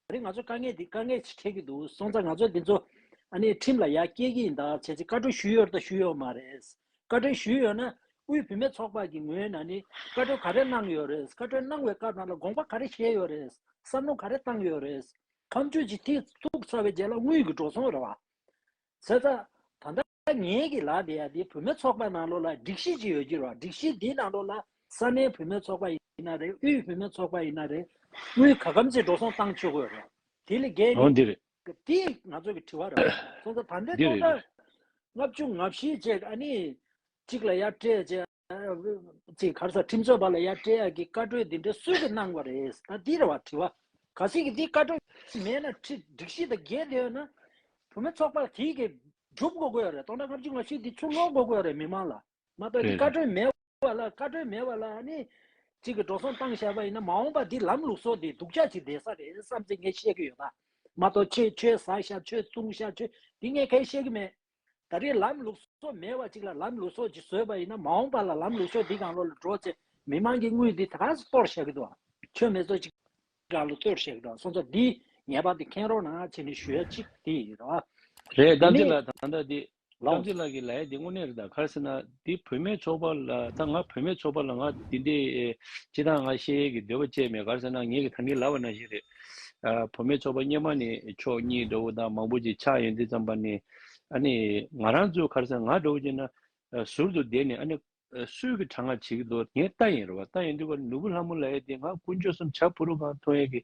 [SPEAKER 1] ད་རེས་ང་ཚོས་དཀའ་ངལ་འདི་དཀའ་ངལ་ཞིག་འཕྲད་ཀྱི་འདུག་སོང་ཙང་ང་ཚོས་འདི་ཚོ། ཨ་ནི་ཁྲིམས་ལ་ཡར་སྐྱེལ་གྱི་ཡིན་ད་བྱས་ཚེ་བཀའ་འཁྲོལ་ཞུས་ཡོད་རེད་དང་ཞུས་ཡོད་མ་རེད། བཀའ་འཁྲོལ་ཞུས་ཡོད་ན། དབུས་བུད་མེད་ཚོགས་པ་གྱི་ངོས་ནས་ནི་བཀའ་འཁྲོལ་ག་རེ་གནང་ཡོད་རེད། བཀའ་འཁྲོལ་གནང་བའི་སྐབས་ནང་ལ་དགོངས་པ་ག་རེ་བཞེས་ཡོད་རེད། བསམ་བློ་ག་རེ་བཏང་ཡོད་རེད། ཁམས་ཆོས་ཀྱི་ཐིག་ཐུག་ཚར་བའི་རྗེས་ལ་དངུལ་གྱི་འགྲོ་སོང་རེད་བ། ཟེར་ཙང། ད་ལྟ་ངའི་གི་ལག་དེ་ཡང་དེ་བུད་མེད་ཚོགས་པ་ནང་ལོགས་ལ་སྒྲིག་གཞི་ཅིག་ཡོད་ཀྱི་རོགས་སྒྲིག་གཞི་དེའི་ནང་ལོགས་ལ་ས་གནས་བུད་མེད་ཚོགས་པ་ཡིན་ན་རེད་དབུས་བུད་མེད་ཚོགས་པ་ཡིན་ན་རེད་དབུས་ག་གམ་ཚིག་འགྲོ་སོང་བཏང་ཆོད་དགོས་རེད་དེ་ལས་བརྒལ་ནི། འདི་རེད། དེ་ང་ཚོ་གི་དྲི་བ་རེད། སོང་ཙང་ད་ལྟའི་འདི་ཐོག་རེད། ལྟར། ལྔ་བཅུ་ང་བཞི་བཅས་ཀ་ནི་གཅིག་ལ་ཡར་སྤྲད་བཅས། ཅེས་གར་སར་ཁྲིམས་རྩོད་པ་ལ་ཡ་སྤྲེལ་ཡག་གིས་བཀའ་གྲོས་འདི་འདྲ་སུས་ཀྱིས་གནང་བ་རེད་ད་འདིར་བ་དྲི་བ་ག་ཟིག་གིས་འདི་བཀའ་གྲོས་མེད་ན་ཁྲི་སྒྲིག་གཞི་དང་འགལ་འདི་ཡོད་ན་བུ་མེད་ཚོགས་པ་དེའི་གི་སྒྲུབ་འགོ་དགོས་ཡོད་རེད་སྟོང་ཕྲག་ལྔ་བཅུ་ང་བཞི་འདི་ཚུར་སློག་འགོ་དགོས་ཡོད་རེད་མི་མང་ལ་མ་གཏོགས་འདི་རེད་བཀའ་རེད་གྲོས་མེད་བ་ལ་བཀའ་གྲོས་མེད་བ་ལ་ནི་ཅིག་གི་འགྲོ་སོང་བཏང་བཞག་པ་ཡིན་ན་མ་འོངས་པ་འདི་ལམ་ལུགས་སོགས་འདི་སྡུག་ཅག་ཅིག་འདས་ས་རེད་བསམ་ཚེ་ངས་བཤད་གི་ཡོད་ད་མ་གཏོགས་ཁྱེད་ཆོས་ཟ་ཞབས་ཆོས་བཙུང་ཞབས་ཆོས་འདི་ངས་གས་བཤད་གི་མེད། ད་རེས་ལམ་ལུགས་སོགས་མེད་བ་ཅིག་ལ་ལམ་ལུགས་སོགས་ཀྱིས་བཟོས་པ་ཡིན་ན་མ་འོངས་པ་ལ་ལམ་ལུགས་སོགས་འདི་གང་བློ་ལ་འགྲོ་ཚེ་མི་མང་གིས་དངུལ་འདི་ད་ག་ཟེ་གཏོར་བཞག་གི་འདུག་ཨང་ཆོས་མེད་སོགས་ཅིག་གང་ལ་གཏོར་བཞག་གི་འདུག་ཨང་སོང་ཙང་འདི་ངེས་པར་དུ་མཁྱེན་རོགས་གནང་ཨ་ཅེས་ནས་ཞུ་ཡ་གཅིག་དེ་ཡིན་རོགས་ཨ། རེད་རྐང་
[SPEAKER 2] རྩེད་ལགས་ད་ལྟ་འདི་རྐང་རྩེད་ལགས་ཀྱི་ལའི་འདི་དངོས་གནས་རེད་ད་གར་ཟེར་ན། དེ་བུད་མེད་ཚོགས་པ་ལ་ད་ང་བུད་མེད་ཚོགས་པ་ལ་ང་དེ་འདྲའི་སྤྱི་དང་ང་གཞལ་ཡས་ཀྱི་འདོད་པ་སྤྱད་མེད་གར་ཟེར་ན་ངེད་ཀྱི་ད་ངེད་ལབ་པ་ན་ཞིག་རེད། བུད་མེད་ཚོགས་པ་སྙེ་མ་ནི་ཕྱོགས་གཉིས་འགྲོ་བོ་དང་མང་བོ་ཅིག་ཆགས་ཡོད་འདི་ཙམ་པ་ནི་ཨ་ནི་ང་རང་ཚོའི་གར་ཟེར་ན་ང་འགྲོ་བོ་ཅིག་ན་ཟུར་དུ་བསྡད་ནས་ཨ་ནི། སྲོད་ཀྱི་གྲང་ངར་བྱེད་ཀྱི་འདུག་ངས་ལྟ་ཡིན་རུ་བ་ལྟ་ཡིན་དུས་ཀར་ནུ་བོ་ལྷ་མོ་ལ་ཡས་དེ་ང་དཀོན་མཆོག་གསུམ་བྱ་ཕུ་རུ་གང་མཐོང་ཡས་ཀྱི་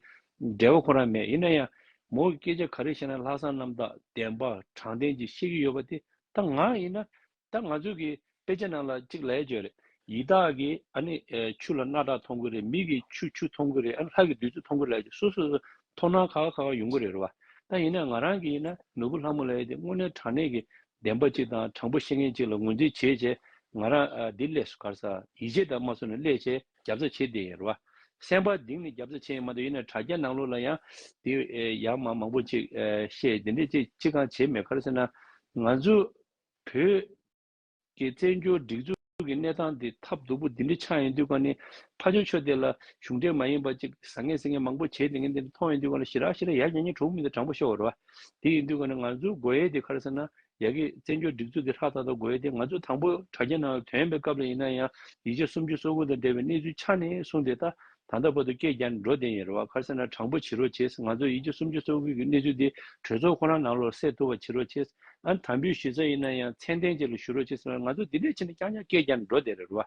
[SPEAKER 2] འབྲེལ་བ་ཁོ་རང་མེད་ཡིན་ན་ཡང་མོ་གི་སྐད་ཆ་ག་རེ་བཤད་ན་ལྷག་བསམ་རྣམ་དག་བདེན་པ་དྲང་བདེན་གྱིས་བཤད་ཀྱི་ཡོད་པ་དེ་ད་ང་ཡིན་ན་ད་ང་ཚོའི་གི་དཔེ་ཆ་ནང་ལ་གཅིག་ལས་བྱོས་རེད། ཡི་དྭགས་ཀྱི་ཨ་ནི་ཆུ་ལ་སྣ་དག་མཐོང་གི་རེད་མི་གི་ཆུ་ཆུ་མཐོང་གི་རེད་ཨ་ནི་ལྷ་གི་བདུད་རྩི་མཐོང་གི་རེད་ལས་བྱོས་སོ་སོ་སོ་མཐོང་སྣང་ཁ་ཁ་ཁ་ཁ་ཡོང་གི་རེད་རེད་བ། ད་ཡིན་ན་ང་རང་གི་ཡིན་ན་ནོར་བུ་ལྷ་མོ་ལས་དེ་དངོས་གནས་དྲང་གནས་ཀྱི་བདེན་པ་གཅིག་དང་དྲང་པོ་ཤེས་མཁན་གཅིག་ལ་ངོས་འཛིན་བྱེད་བྱེད་ང་རང་འདི་སླེ་སུ་གར་ས་ཡིད་ཆེས་དང་མ་སུ་ནས་སླེ་བྱས་རྒྱབ་རྩ་བྱེད་བསྡད་ཡིན་རེད་བ། སེམས་པ་དིང་ནས་རྒྱབ་རྩ་བྱེད་ཡིན་མ་འདུག་ཡིན་ན་དྲ་རྒྱ་ནང་ལུགས་ལ་ཡང་དེ་ཡང་མང་མང་པོ་གཅིག་བཤད་དེ་འདྲས་གཅིག་གཅིག་གང་བྱེད་མེད་གར་སེ་ན་ང་ཚོ་བོད་ཀྱི་བཙན་བྱོལ་སྒྲིག་འཛུགས་ཀྱི་གནས་སྟངས་འདི་ཐབས་སྡུག་པོ་འདི་འདྲའི་ཆགས་ཡོང་དུས་ཀ་ནས་ཕ་ཆོས་ཆོས་དེ་ལ་གཞུང་འབྲེལ་མ་ཡིན་པ་ཅིག་བཟང་ངན་སེ་ངན་མང་པོ་བྱས་དེ་ངན་དེ་འདྲ་མཐོང་ཡོང་དུས་ཀ་ལ་ཞི་རགས་ཞི་རགས་ཡར་ཉན་ཉན་གྲོགས་མི་དང་དྲང་པོ་ཤོག་རོ། དེ་ཡིན་དུས་ཀ་ནས་ང་ཚོའི་དགོས་ཡས་དེ་ག་རེ་ཟེར་ན་ཡ་གི་བཙན་བྱོལ་སྒྲིག་འཛུགས་དེ་ཧྲག་ཐག་ཐག་དགོས་ཡས་དེ་ང་ཚོ་དང་པོ་དྲ་རྒྱའི་ནང་ལ་དོན་པའི་སྐབས་ལ་ཡིན་ན་ཡང་ཡིག་ཆ་སུམ་ཅུ་སོ་དགུ་དང་འབྲེལ་བའི་གནས་ཚུལ་ཆ་ནས་གསུངས་དེ་ད་ད་ལྟ་བར་དུ་སྐད་བརྒྱ་འགྲོ་བདེན་ཡིན་རེད་བ་ཁར་སེ་ན་དྲང་པོ་བྱེད་རོགས་བྱས་ང་ཚོ་ཡིད་ཆེ་སུམ་ཅུ་སོ་དགུ་གི་གནས་ཚུལ་འདི་གྲོས་ཚོགས་ཁོ་རང་ནང་ལོག་སེལ་ཐུབ་པ་བྱེད་རོགས་བྱས་ཨ་དམ་བུའི་ཞུས་ས་ཡིན་ན་ཡང་མཚན་ལྡན་བཅས་ལ་ཞུ་རོགས་བྱས་ང་ཚོ་འདི་འདྲས་བྱས་ན་རྐྱང་རྐྱང་སྐད་བརྒྱ་འགྲོ་བདེན་རེད་བ་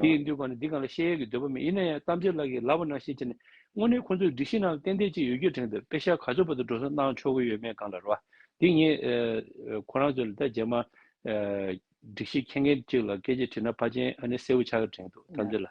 [SPEAKER 2] འདི་ཡིན་དུས་གང་ནས་འདི་གང་ལ་བཤད་ཡས་ཀྱི་འདོད་པ་མེད་ཡིན་ན་ཡང་གཏམ་བརྗོད་ལགས་ཀྱི་ལགས་པ་ནང་བཤད་བྱས་ནས་དངོས་གནས་ཁོ་ཚོའི་སྒྲིག་གཞི་ནང་ཏན་ཏན་ཅིག་ཡོད་རྒྱུ་དྲན་འདོད་དཔེ་ཤ་ག་ཚོད་བར་དུ་འགྲོ་སོང་གནང་ཆོག་གི་ཡོད་མེད་གང་ལ་རེད་བ་འདི་ངས་ཁོ་རང་ཚོ་ལ་ད་རྗེས་མ་སྒྲིག་གཞི་མཁྱེན་མཁན་ཅིག་ལ་སྐད་ཅིག་དྲིས་ན་ཕ་ཆེན་ཨ་ནི་གསལ་བོ་ཆགས་གི་དྲན་འདུག་གཏམ་བརྗོད་ལ།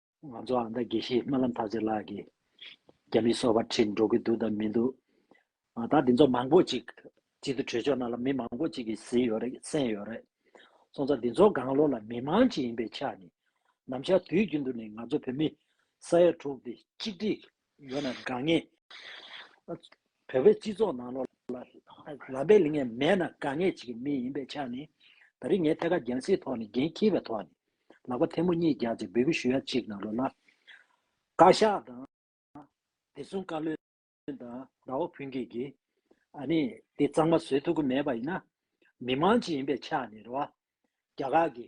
[SPEAKER 1] ང་ཚོ་ཨ་མདའ་དགེ་བཤེས་སྨོན་ལམ་ཐར་རྗེ་ལགས་ཀྱིས་རྒྱ་མིའི་སོ་བར་ཁྲིད་འགྲོ་གི་འདུག་དང་མི་འདུག་ཨ་མདའ་འདི་ཚོ་མང་པོ་ཅིག་གཅིག་ཏུ་གྲོས་ཆོད་གནང་ལ་མི་མང་པོ་ཅིག་གིས་ཟིན་ཡོད་རེད་གསན་ཡོད་རེད། སོང་ཙང་འདི་ཚོ་དགང་བློ་ལ་མི་མང་ཅིག་ཡིན་པའི་ཆ་ནས་ནམ་ཞར་དུས་རྒྱུན་དུ་ནས་ང་ཚོ་བོད་མི་ས་ཡ་དྲུག་འདི་གཅིག་སྒྲིལ་ཡོད་ན་དགའ་ངེས། བོད་པའི་སྤྱི་ཚོགས་ནང་ལོ་ལ་པའི་ལིང་ངས་མེད་ན་དགའ་ངེས་བྱེད་ཀྱི་མི་ཡིན་པའི་ཆ་ནི། ད་རིང་ངས་ཐད་ཀར་རྒྱང་སྲིད་ཐོག་ནས་འགན་འཁྱེར་བའི་ཐོག་ནས་ལག་པ་ཐལ་མོ་གཉིས་རྒྱག་ཅིང་འབོད་སྐུལ་ཞུ་ཡ་གཅིག་ནང་ལོ་ལ་བཀའ་ཤག་དང། བདེ་སྲུང་བཀའ་བློན་དང་ཟླ་བ་ཕུན་སྐྱིད་ཀྱིས་ཨ་ནི་དེ་གཙང་མ་བཟོས་ཐུབ་ཀྱི་མེད་པ་ཡིན་ན། མི་དམངས་ཀྱི་ཡིན་པའི་ཆ་ནས་རེད་བ། རྒྱ་གར་གྱི།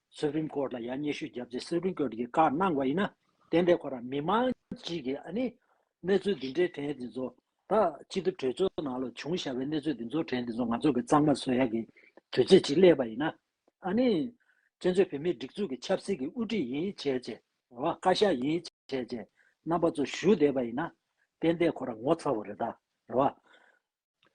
[SPEAKER 1] Supreme Court ལ་ཡང་སྙན་ཞུ་བརྒྱབ་རྗེས Supreme Court གིས་བཀའ་གནང་བ་ཡིན་ན་དེ་འདྲའི་སྐོར་ལ་མི་མང་གཅིག་གིས་ཨ་ནི། གནས་ཚུལ་འདི་འདྲའི་དྲན་འདི་ཚོ་ད་ཅི་ཐུབ་གྲོས་ཚོགས་ནང་ལ་བྱུང་བཞག་པའི་གནས་ཚུལ་འདི་ཚོ་དྲན་འདི་ཚོ་ང་ཚོ་གི་གཙང་མ་བཟོ་ཡག་གི་དུས་ཚོད་ཅིག་སླེབས་པ་ཡིན་ན་ཨ་ནི། བཙན་བྱོལ་བོད་མིའི་སྒྲིག་འཛུགས་ཀྱི་ཆབ་སྲིད་ཀྱི་དབུ་ཁྲིད་ཡིན་བྱས་རྗེས་ཨོ་བཀའ་ཤག་ཡིན་བྱས་རྗེས་རྣམ་པ་ཚོ་ཞུ་བསྡད་པ་ཡིན་ན་དེ་འདའི་སྐོར་ལ་ངོ་ཚ་བོ་རེད་ད་རེད་བ།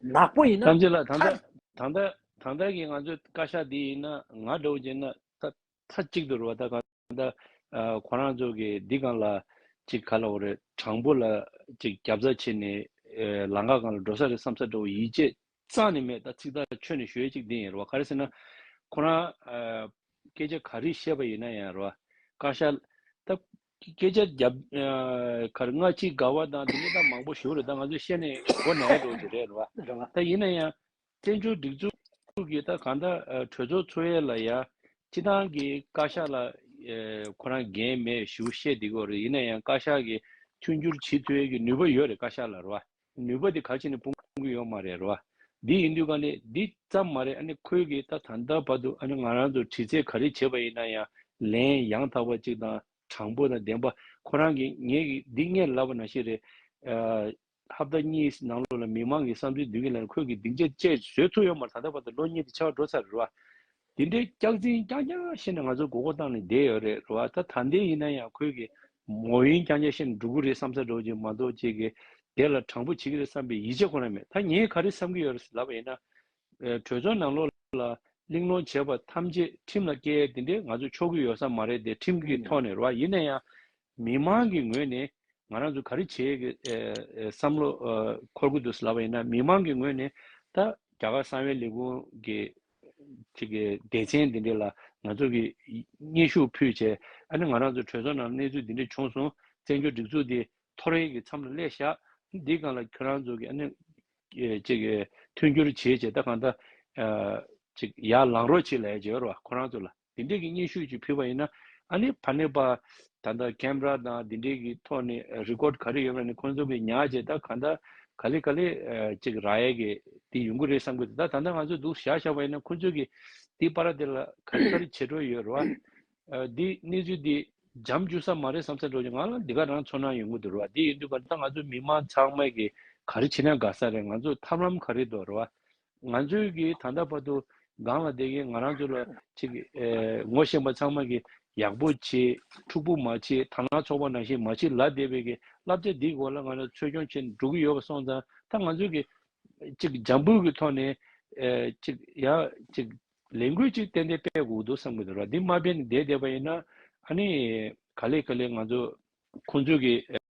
[SPEAKER 1] ནག་པོ་ཡིན་ན་ཐམས་ཅད་ལ་ད་
[SPEAKER 2] ཐར་ལྟ་ད་ལྟ་ད་ལྟ་གི་ང་ཚོའི་བཀའ་ཤག་འདི་ཡིན་ན་ང་འདྲ་བོ་བྱས་ན་ད་ཐ་གཅིག་ཏུ་རུ་བ་ད་གང་ད་ཁོ་རང་ཚོ་གི་འདི་གང་ལ་ཅིག་ག་ལ་བོ་རེད་དྲང་པོ་ལ་ཅིག་རྒྱབ་རྩ་བྱེད་ནས་ལང་ཀ་གང་ལ་འགྲོ་ས་རེད་བསམ་ས་འདྲ་བོ་ཡིད་ཆེས་གཙང་ནས་མེད་ད་ཚིག་ཐག་ཆོད་ནས་ཞོལ་ཅིག་འདི་ཡིན་རུ་བ་ག་རེ་ཟེར་ན་ཁོ་རང་སྐད་ཆ་ག་རིགས་བཤད་པ་ཡིན་ན་ཡང་རུ་བ་བཀའ་ཤག་ད་ཀྱི་སྐད་ཆ་རྒྱབ། ཁར་སྔ་ཕྱི་དགའ་བ་དང་དེ་ཉིད་དང་མང་པོ་ཞུ་རེ་ད་ང་ཚོས་བཤད་ནས་མགོ་ནས་ཡར་འགྲོ་རྒྱུ་རེད་རེད་རེད་བ། ད་ཡིན་ན་ཡང། བཙན་བྱོལ་སྒྲིག་འཛུགས་ཀྱིས་ད་གང་ལྟར་གྲོས་ཚོགས་འཚོལ་ཡས་ལ་ཡ། སྤྱི་བཏང་གི་བཀའ་ཤག་ལ། ཁོ་རང་འགན་མེད་ཞུ་བཤད་འདི་གོ་རེ་ཡིན་ན་ཡང་བཀའ་ཤག་གི། མཐུན་འགྱུར་ཇི་ཐོས་ཀྱི་ནུས་པ་ཡོད་རེད་བཀའ་ཤག་ལ་རེད་བ། ནུས་པ་དེ་ག་ཕྱིར་ནས་སྤོང་གི་ཡོད་མ་རེད་རོ། འདི་ཡིན་དུས་ག་ནས་འདི་ཙམ་མ་རེད་ཨ་ནི་ཁོས་གིས་ད་ད་ལྟ་བར་དུ་ཨ་ནི་ང་རང་ཚོར་དྲི་རྩད་ག་རེ་བྱས་པ་ཡིན་ན་ཡང་ལན་ཡང་དག་པ་ཅིག་དང་དྲང་པོ་དང་བདེན་པ་ཁོ་རང་གིས་ངས་གིས་འདི་ངས་ལབ་པ་ན་ཤེས་རེད། ཧབ་ད་གཉིས་ནང་ལོགས་ལ་མི་མང་གིས་བསམ་ཚུལ་འདོན་གིན་ལ་ནི་ཁོས་གིས་སྡིག་འཇེད་བཅས་བཟོས་ཐུབ་ཡོད་མ་རེད་ད་ལྟ་བར་དུ་ལོ་གཉིས་དེ་ཆགས་འགྲོ་ཚར་རེད་རོ། དེ་འདྲའི་སྐྱག་རྫིང་སྐྱག་རྒྱ་བཤད་ནས་ང་ཚོ་མགོ་སྐོར་བཏང་ནས་བསྡད་ཡོད་རེད་རེད་བ་ད་ད་འདས་ཡིན་ན་ཡང་ཁོས་གི་མོ་ཡིན་སྐྱག་རྒྱ་བཤད་ནས་འགྲོ་གི་རེད་བསམ་ས་འགྲོ་ཅིག་མ་གཏོགས་ཁྱེད་གི་དེ་ལ་དྲང་པོ་བྱེད་གི་རེད་བསམ་པའི་ཡིད་ཆེ་ཁོ་ན་མེད་ད་ངས་ག་རེ་བསམ་གི་ཡོད་ལབ་པ་ཡིན་ན། གྲོས་ཚོགས་ནང་ལོག་ལ་གླེང་སློང་བྱས་པ་ཐམས་ཅད་ཁྲིམས་ལ་བཀལ་དེ་འདྲས་ང་ཚོ་ཆོག་གི་ཡོད་ས་མ་རེད་དེ་ཁྲིམས་ཀྱི་ཐོག་ནས་རེད་བ་ཡིན་ན་ཡང་མི་མང་གི་ངོས་ནས་ང་རང་ཚོ་ག་རེ་བྱེད་ཀྱི་བསམ་བློ་འཁོར་གྱི་འདུག་ཟེར་བ་ཡིན་ན་མི་མང་གི་ངོས་ནས་ད་རྒྱ་གར་གསང་བའི་ལས་ཁུངས་ཀྱི་ཆེད་ཀྱི་སྡེ་ཚན་འདི་འདྲས་ལ་ང་ཚོ་གིས་སྙན་ཞུ་ཕུལ་བྱས་ཨ་ནི་ང་རང་ཚོའི་གྲོས་ཚོགས་ནང་གནས་ཚུལ་འདི་འདྲས་བྱུང་སོང་བཙན་བྱོལ་སྒྲིག་འཛུགས་འདི་ཐོ་རེངས་ཀྱི་མཚམས་ལ་སླེབས་བཞག་འདི་གང་ལ་ཁྱོད་རང་ཚོ་གིས་ཨ་ནི་ཅིག་མཐུན་འགྱུར་བྱེད་བྱས་ད་གང་ལྟ་ཅིག་ཡར་ལངས་རོགས་བྱེད་ལས་བྱེད་རོགས་ཁོ་རང་ཚོ་ལ། འདི་འདྲས་ཀྱི་སྙན་ཞུ་ཅིག་ཕུལ་བ་ཡིན་ན་ཨ་ནི་ཕ་ནི་པ། ད་ལྟ་ཀེམ་ར་དང་འདི་འདྲས་ཀྱི་ཐོག་ནས་རིཀོར་ག་རེ་ཡོད་པ་ནི་ཁོང་ཚོ་གི་ཉག་ཅེས་ད་གང་ད་ག་ལེ་ག་ལེ་ཅིག་ར་ཡས་ཀྱི་དེ་ཡོང་གི་རེད་བསམ་གི་འདུག་ད་ད་ལྟ་ང་ཚོས་འདུག་བཞག་བཞག་པ་ཡིན་ན་ཁོང་ཚོས་ཀྱི་དེ་པ་ར་དེ་ལ་ག་རེ་ག་རེ་བྱེད་འགྲོ་ཡོད་རེད་བ། འདི་གནས་ཚུལ་འདི་འཇམ་རྒྱུག་ས་མ་རེད་བསམ་ས་འགྲོ་ཅིག་ང་ལ་འདི་ག་རང་ཚོ་ན་ཡོང་གི་འདུག་རེད་བ་དེ་ཡིན་དུས་པ་ད་ང་ཚོ་མི་དམངས་ཚང་མས་ཀྱི་ག་རེ་བྱེད་ན་དགའ་ས་རེད་ང་ཚོས་ཐབས་ལམ་ག་རེ་འདུག་རེད་བ། ང་ཚོའི་གི་ད་ལྟ་བར་དུ་སྒང་ལ་བསྡད་ཀྱིན་ང་རང་ཚོ་ལ་ཅིག་གི་ངོ་ཤེས་པ་ཚང་མ་གི་ཡག་པོ་བྱེད་འཕྲུག་པོ་མ་བྱེད་ཐང་ལ་ཚོགས་པ་ནང་བཞིན་མ་བྱེད་ལ་བསྡད་པའི་གི་བསླབ་བྱ་འདིའི་སྐོར་ལ་ང་ཚོ་ཚོད་སྐྱོང་བྱེད་འགྲོ་གི་ཡོད་པ་སོང་ཙང་ད་ང་ཚོའི་གི་ཅིག་གི་འཇམ་འབུར་གི་ཐོག་ནས་ཅིག་ཡང་ཅིག་ལས་འགུལ་ཅིག་ཏན་ཏན་སྤེལ་དགོས་འདུག་བསམ་གི་འདུག་ར་འདི་མ་སྤེལ་ནས་བསྡད་བསྡད་པ་ཡིན་ན་ཨ་ནི་ག་ལེ་ག་ལེ་ང་ཚོ་ཁོང་ཚོའི་གི།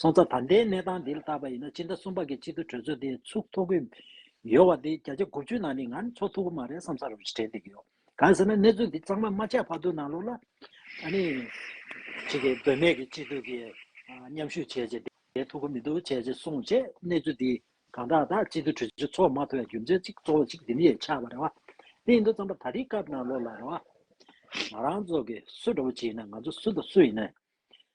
[SPEAKER 1] སོང་ཙང་ད་ལྟའི་གནས་སྟངས་འདི་ལ་བརྟག་པ་ཡིན་ན་སྤྱི་ཟླ་གསུམ་པ་གི་སྤྱི་འཐུས་གྲོས་ཚོགས་དེ་ཚུགས་ཐུབ་ཀྱི་ཡོད་བ་དེ་བརྒྱ་ཆ་དགུ་བཅུའི་ནང་ནས་ང་ནི་ཚོགས་ཐུབ་ཀྱི་མ་རེད་བསམ་ས་རུ་ཞིག་དྲན་འདི་གི་ཡོད་གང་ཟེར་ན་གནས་ཚུལ་འདི་གཙང་མ་མ་ཆགས་བར་དུ་ནང་ལོགས་ལ་ཨ་ནི་ཅིག་གིས་དོན་མེད་ཀྱི་སྤྱི་འཐུས་ཀྱི་མཉམ་ཞུགས་བྱས་རྗེས་བསྡད་ཐུབ་ཀྱི་མི་འདུག་བྱས་རྗེས་སོང་རྗེས་གནས་ཚུལ་འདི་གང་དྲག་དག་སྤྱི་འཐུས་གྲོས་ཚོགས་མ་ཐོབ་ཡ་རྒྱུ་མཚན་ཅིག་གཙོ་བོ་ཅིག་འདི་མི་ཡས་ཆགས་པ་རེད་བ་དེ་ཡིན་དུ་བརྩམས་པ་ད་དེའི་སྐབས་ནང་ལོགས་ལ་རེད་བ། ང་རང་ཚོ་གི་སུ་འདྲ་བོ་བྱེད་ཡིན་ན་ང་ཚོ་སུ་དང་སུ་ཡིན་ན་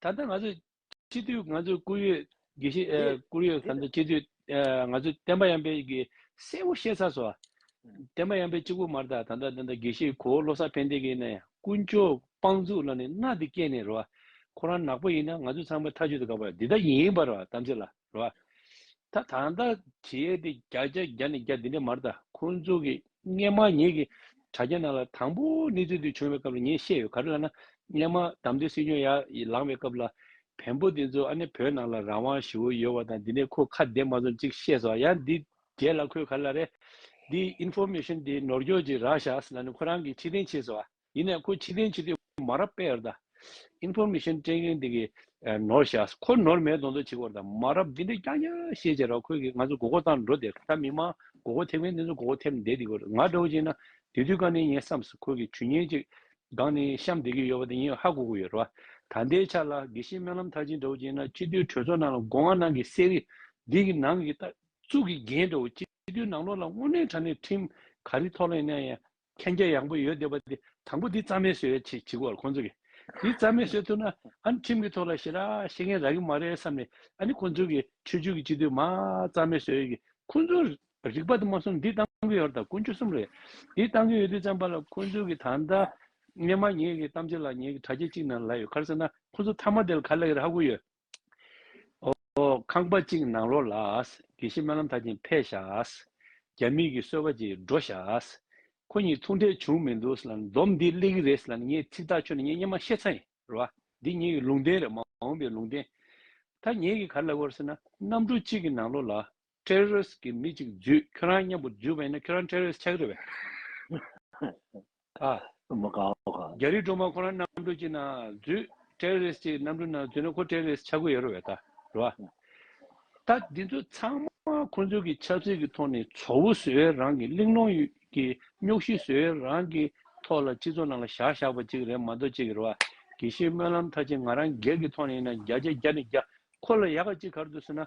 [SPEAKER 2] ད་ལྟ་ང་ཚོས་སྤྱི་འཐུས་ང་ཚོས་བསྐུར་ཡོད་དགེ་བཤེས་དེ་བསྐུར་ཡོད་དེ་ད། སྤྱི་འཐུས་ང་ཚོས་བསྟན་པ་ཡམ་པའི་གི་གསལ་བོ་བཤད་ཚར་སོང། བསྟན་པ་ཡམ་པའི་གཅིག་པུ་མར་ད་ད་ད་དགེ་བཤེས་གོ་བོ་བློ་བཟང་ཕན་བདེ་གི་ནས་དཀོན་མཆོག་དཔང་བཙུགས་ལ་ནི་མནའ་དེ་སྐྱེལ་ནས་རོ། ཁོ་རང་ནག་པོ་ཡིན་ན་ང་ཚོས་ཚང་མས་ཐག་གཅོད་དེ་ག་བ་རེད་འདི་ལྟ་ཡིན་པ་རོ་དམ་ཚིག་ལ་རོ། ད་ད་ད་དྲི་ཡས་དེ་བརྒྱ་བརྒྱ་བརྒྱ་ནས་བརྒྱ་འདི་འདྲ་མར་ད་ཁོ་ཚོ་གི་སྔས་མ་ངས་གི་དྲ་རྒྱ་ནང་ལ་དང་པོ་གནས་ཚུལ་དེ་བྱུང་བའི་སྐབས་ལ་ངས་བཤད་ཡོད་ག་རེ་ལ་ན་སྔས་མ་དམ་དོན་སྲིད་སྐྱོང་ཡ་ཡི་ལང་བའི་སྐབས་ལ་བན་པོ་དེ་ཚོ་ཨ་ནེ་བོད་ནང་ལ་རང་དབང་ཞི་བོ་ཡོད་བ་དང་འདི་ནས་ཁོ་ཁ་བདེ་མ་ཚོམ་ཅིག་བཤད་སོ་ཡ་འདི་རྒྱས་ལ་ཁོས་ག་རེ་ལ་རེད་འདི information དེ་ནོར་འགྱོག་ཅིག་རག་ཤགས་ལ་ནི་ཁོ་རང་གི་ཁྲི་སྟེང་ཆས་སོ་ཨ། ཡིན་ནའི་ཁོ་ཕྱི་གཏན་ཕྱི་སྡོད་མ་རབས་པས་རྡ་ཨིན་ཕོར་མི་ཤོན་ཀྲེན་ཀེན་དེ་གི་ནོར་བཞག་ཁོ་ནོར་མེད་གདོང་ཐོག་བྱེད་དགོས་རྡ་མ་རབས་འདི་འདྲས་ཀྱང་ཡ་ཤེས་བྱས་ར་ཁོས་གི་ང་ཚོ་མགོ་སྐོར་བཏང་འགྲོ་རྡེ་ད་མི་མང་མགོ་སྐོར་ཐེབས་མཁན་དེ་ཚོ་མགོ་སྐོར་ཐེབས་འདེད་དེ་གོ་རྡ་ང་འདྲ་བོ་བྱས་ན་དེ་དུས་ག་ནས་ངས་བསམ་སི་ཁོས་གི་ཇུས་ཉེན་ཅིག་སྒང་ནས་བཤམ་འདེད་ཀྱི་ཡོད་བ་དེ་ངས་ཧ་གོ་གི་ཡོད་ར་ད་འདའི་ཆ་ལ་གི་ཤེས་སྨོན་ལམ་མཐར་ཕྱིན་འདྲ་བོ་བྱས་ན་སྤྱི་འཐུས་གྲོས་ཚོགས་ནང་ལ་མགོ་སྔ་ནང་གི་གསེར་རི་འདི་གི་ནང་གི་ཏག་ཙུག་གི་རྒྱན་འདྲ་བོ་སྤྱི་འཐུས་ནང་ལོག་ལ་དངོས་གནས་དྲ་གནས་ཁྲིམས་ག་རི་ཐོག་ལ་ཡིན་ན་ཡང་མཁྱེན་རྒྱ་ཡངས་པོ་ཡོད་འདོད་པ་དེ་དང་པོ་འདི་རྩ་མེད་བཟོས་ཡོད་ཅེས་བྱེད་དགོས་པར་ཁོང་ཚོ་གིས། འདི་རྩ་མེད་བཟོས་ཐུབ་ན་ཨཱ་ནི་ཁྲིམས་ཀྱི་ཐོག་ལ་ཞེ་དྲག་བཤད་མཁན་རག་གི་མ་རེད་བསམ་ནས་ཨཱ་ནི་ཁོང་ཚོ་གིས་ཆོས་བརྒྱུད་ཀྱི་སྤྱི་འཐུས་མང་རྩ་མེད་བཟོས་ཡོད་ཀི། ཁོང་ཚོ་རིག་པ་དང་མ་སོང་འདི་བཏང་གི་ཡོད་རེད་དམ་ཀུན་སྤྱོད་གསུམ་རེད། འདི་བཏང་གི་ཡོད་དུས་བརྩམས་པ་ལ་ཁོང་ཚོ་གིས་ད་ལྟ་ངས་མ་ཉེས་ཀྱི་གཏམ་བྱས་ལ་ཉེས་ཀྱི་དྲ་རྒྱ་གཅིག་ནང་ལ་ཡོད་ཁར་ཟེར་ན་ཁོང་ཚོ་མཐའ་མ་དེ་ལ་ག་ལ་ཡོད་རེད་ཧ་གོ་ཡོད། ཨོ། ཁང་པ་གཅིག་ནང་ལོགས་ལ། དགེ་བཤེས་སྨོན་ལམ་ཐག་ཅིང་འཕེལ་བཞག། རྒྱ་མིག་གིས་གསོལ་བ་ཅིག་འགྲོ་བཞག། ཁོ་གཉིས་ཐུག་འཕྲད་བྱུང་མི་འདུག་ཟེར་ལ་འདོམས་འདི་གླེགས་རིས་རེད་ཟེར་ལ་ངས་ཚིག་ཐག་ཆོད་ནས་ངས་སྙན་མ་ཤེས་ཚ་ཡིན་རེད་བ། འདི་ངེད་ཀྱི་ལུང་བསྟན་རེད་མ་འོངས་པའི་ལུང་བསྟན། ད་ངེད་ཀྱིས་ག་ལ་ལབ་བར་ཟེར་ན་གནམ་གྲུ་གཅིག་གི་ནང་ལོགས་ལ། Terrorist གི་མི་གཅིག་འཛུད་ཁྱོད་རང་མཉམ་པོ་འཛུད་པ་ཡིན་ན་ཁྱོད་རང Terrorist ཆགས་ཀྱི་རེད་
[SPEAKER 1] བས། ཨ། མ་ག་བ་ག། རྒྱ་རིགས་སྒྲོལ་མ་
[SPEAKER 2] ཁོ་རང་གནམ་གྲུ་གཅིག་ནང་འཛུད Terrorist གཅིག་གནམ་གྲུ་ནང་འཛུད་ན་ཁོ Terrorist ཆགས་གི་ཡོད་རེད་བས། རེད་བ། ད་འདི་ཚོ་ཚང་མ་ཁོ་ཚོ་གི་ཆབ་སྲིད་གི་ཐོག་ནས་ཚོ་བོ་བཟོས་བས་རང་གི་གླིང་སློང་གི་རྙོག་གཞི་བཟོས་བས་རང་གི་ཐོག་ལ་སྤྱི་ཚོགས་ནང་ལ་བཞག་བཞག་པ་ཅིག་རེད་མ་གཏོགས་ཅིག་རེད་བ། དགེ་བཤེས་སྨོན་ལམ་ཐ་ཆེ་ང་རང་སྒེར་གི་ཐོག་ནས་ཡིན་ན་བརྒྱ་ཆ་བརྒྱ་ནས་བརྒྱ་ཁོ་ལ་ཡག་ག་ཅིག་གར་འདུག་ཟེར་ན་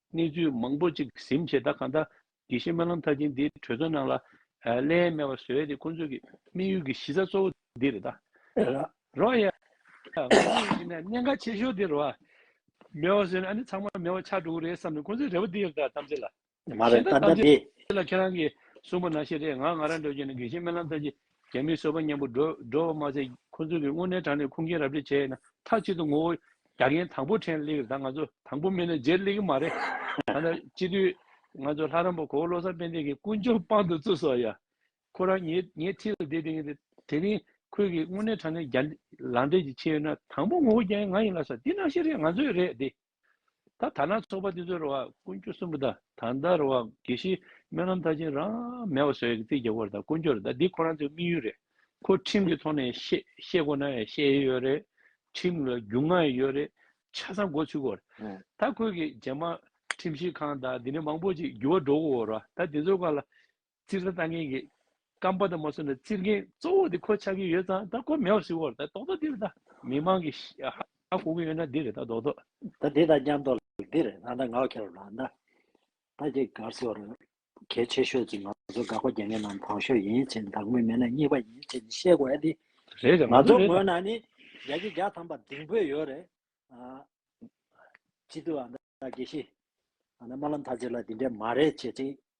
[SPEAKER 2] གནས་ཚུལ་མང་པོ་གཅིག་གཟིམ་བྱས་ད་གང་ལྟར་དགེ་བཤེས་སྨོན་ལམ་མཐར་ཕྱིན་འདིས་གྲོས་ཚོགས་ནང་ལ་གླེང་སྨྲས་བ་བཟོས་ཏེ་ཁོང་ཚོས་ཀྱི་དམིགས་ཡུལ་གྱི་གཞི་རྩ་གཙོ་བོ་འདི་རེད་རོགས། ཡ། ང་ཚོ་ཡིན་ན་གནད་འགག་ཆེ་ཤོས་འདི་རོགས། མེད་བ་བཟོས་ན་ཨ་ནི་ཚང་མ་མེད་བ་ཆགས་འགྲོ་གི་རེད་བསམ་ནས་ཁོང་ཚོའི་རེ་བ་འདི་རེད་ད་གཏམ་ཚེ་ལ། མ་རེད་གཏམ་
[SPEAKER 1] ཚེ་ལ་ཁྱེད་རང་གིས་
[SPEAKER 2] གསུངས་པ་ནང་བཞིན་རེད་ང་ང་རང་འདོད་ཀྱི་ནི་དགེ་བཤེས་སྨོན་ལམ་མཐར་ཕྱིན་རྒྱ་མིའི་སོལ་བ་མཉམ་པོ་སྒྲོལ་བ་མ་ཟད་ཁོ་ཚོ་གིས་དངོས་གནས་དྲང་ནས་ཁུངས་སྐྱེལ་ར་སྤྲོད་བྱས་ན་མཐའ་གཅིག་ཏུ་ངོ་བོ་རྒྱ་རྒན་དང་པོ་ཕྲན་གླེགས་ད་ང་ཚོ་དང་པོ་མིན་ན་རྗེར་གླེགས་ཀྱི་མ་རེད། ད་ལྟ་སྤྱི་འཐུས་ང་ཚོ་ལྷ་རམས་པ་གོ་བོ་བློ་བཟང་དཔལ་ལྡན་གྱིས་ཀུན་སྤྱོད་དཔང་དུ་བཙུགས་སོ་ཡ། ཁོ་རང་ངའི་ངའི་འཁྲིས་ལ་བསྡད་དེ་དེ་རིང་ཁོས་གིས་དངོས་གནས་དྲང་ནས་རྒྱ་ལང་འདྲེ་ཞིག་ཕྱེ་ཡོད་ན་དང་པོ་ངོ་བོ་རྒྱ་ཡན་ང་ཡིན་ལ་ས་འདི་ནང་བཤད་རེད་ང་ཚོའི་རེད་དེ། ད་ཐ་ན་ཚོགས་པ་འདི་ཚོའི་རུ་བ་དཀོན་མཆོག་གསུམ་པོ་དང་ད་ལྟ་རུ་བ་དགེ་བཤེས་སྨོན་ལམ་མཐར་ཕྱིན་རང་མེད་བ་ཟོལ་གྱི་རྩིས་རྒྱག་པར་ད་དཀོན་མཆོག་རེད་ད་འདི་ཁོ་རང་ཚོའི་དམིགས་ཡུལ་རེད་ཁོ་ཁྲིམས་ཀྱི་ཐོག་ནས་བཤད་དགོས་ན་བཤད་ཡས་ཡོད་རེད་ཁྲིམས་ལ་རྒྱུ་མངའ་ཡས་ཡོད་རེད་ཆ་ཚང་མགོ་ཚུགས་དགོས་རེད་ད་ཁོས་གི་རྗེས་མ་ཁྲིམས་ཞིབ་ཁང་དང་འདི་ནས་མང་པོ་ཅིག་འགྱུར་བ་འགྲོ་དགོས་རེད་ད་འདི་ཚོའི་བཀའ་ལ་རྩིར་ས་བཏང་མཁན་གྱི་རྐང་པ་དང་མ་སོན་ན་རྩིར་མཁན་གཙོ་བོ་དེ་ཁོ་ཆགས་ཀྱི་ཡོད་ཙང་ད་ཁོ་མེད་བ་ཞིག་འོག་ད་རྡོག་ཐོ་འདི་རེད་ད། མི་མང་གི་ཧ་གོ་གི་ཡོད་ན་འདི་རེད་ད་རྡོག་ཐོ། ད་འདི་དང་མཉམ་
[SPEAKER 1] རྡོག་ལ་འདི་རེད་ད་ད་ངའོ་ཁྱེད་རོ་ལ་ད། ད་ཁྱེད་གར་སེ་བ་རོ། གལ་ཆེ་ཤོས་ཅིག་ང་ཚོ་དགག་པ་རྒྱག་མཁན་རྣམས་དྭངས་ཤོས་ཡིན་ཕྱིན་བདག་མོས་མེད་ན་གཉིས་པ་ཡིན་ཕྱིན་ཤེས་དགོས་ཨ་ཏི། རེད་རེད་ང་ང་ཚོ་ཚོའི་རེད་ད། ངོས་ན་ནི་རྒྱ་ཁྱི་རྒྱ་ཐམ་པ་ལྡིང་ཕོད་ཡོད་རེད། སྤྱི་འཐུས་ཨ་མདའ་དགེ་བཤེས། ཨ་མདའ་སྨོན་ལམ་ཐ་ཆེ་ལ་འདི་འདྲས་མ་རེད་བྱེད་ཅིང།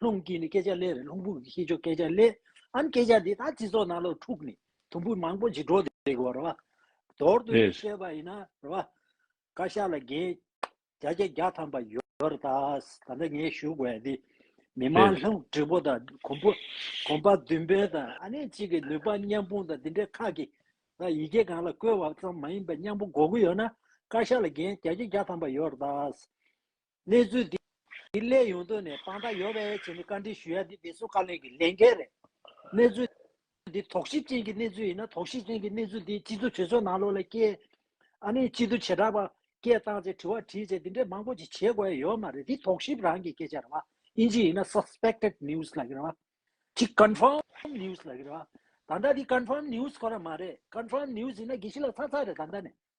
[SPEAKER 1] ལྷུང་གིས་ནི་སྐད་ཆ་ལས་རེད་ལྷུང་བུ་གིས་ཤེས་ཆོག་སྐད་ཆ་ལས་ཨང་སྐད་ཆ་འདི་ད་སྤྱི་ཚོགས་ནང་ལོ་ཕྲུག་ནི་དུམ་བུ་མང་པོ་ཇི་འགྲོ་དེ་དགོས་རེད་བ། དོར་དུ་ཡིས་བཤད་པ་ཡིན་ན་རེད་བ། བཀའ་ཤག་ལ་འགན་བརྒྱ་ཆ་བརྒྱ་ཐམ་པ་ཡོད་རེད་ད། ད་ནི་ངས་ཞུ་དགོས་ཡ་འདི། མི་མང་ལྷུང་བྲིས་པོ་དང་གོམ་བུ་གོམ་པ་བདུན་པོ་དང་ཨ་ནེ་གཅིག་གི་ནུས་པ་མཉམ་སྤུངས་དང་འདི་འདྲའི་ཁག་གི་ལ་ཡི་གེ་གང་ལ་བཀོལ་བ་ཙམ་མ་ཡིན་པ་མཉམ་པོ་འགོག་གི་ཡོད་ན་བཀའ་ཤག་ལ་འགན་བརྒྱ་ཆ་བརྒྱ་ཐམ་པ་ཡོད་རེད་ད། གནས་ཚུལ་འདི་སླད་ཡོང་དོན་ནས་དཔང་རྟགས་ཡོད་པའི་ཆེད་ནས་བཀའ་འདྲི་ཞུ་ཡ་འདི་བདེ་སྲུང་བཀའ་བློན་གྱི་ལས་འགན་རེད། གནས་ཚུལ་འདི་དོགས་གཞི་ཅན་གྱི་གནས་ཚུལ་ཡིན་ན་དོགས་གཞི་ཅན་གྱི་གནས་ཚུལ་འདི་སྤྱི་གཙུག་གྲོས་ཚོགས་ནང་ལོགས་ལ་སྐྱེལ། ཨ་ནི་སྤྱི་འཐུས་བྱེ་བྲག་པ་སྐད་བཏང་རྗེས་དྲི་བ་དྲིས་རྗེས་འདི་འདྲའི་མང་པོ་ཅིག་བྱེད་དགོས་ཡ་ཡོད་མ་རེད་འདི་དོགས་གཞི་རང་གི་སྐད་ཆ་རེད་བ་ཨིན་ཇི་ཡིན་ན Suspected News ལགས་རེད་བ། ཅིག Confirmed News ལགས་རེད་བ། ད་ལྟ་འདི Confirmed News གོ་ར་མ་རེད Confirmed News ཡིན་ན་དགེ་བཤེས་ལགས་ཚར་ཚར་རེད་ད་ལྟ་ནས་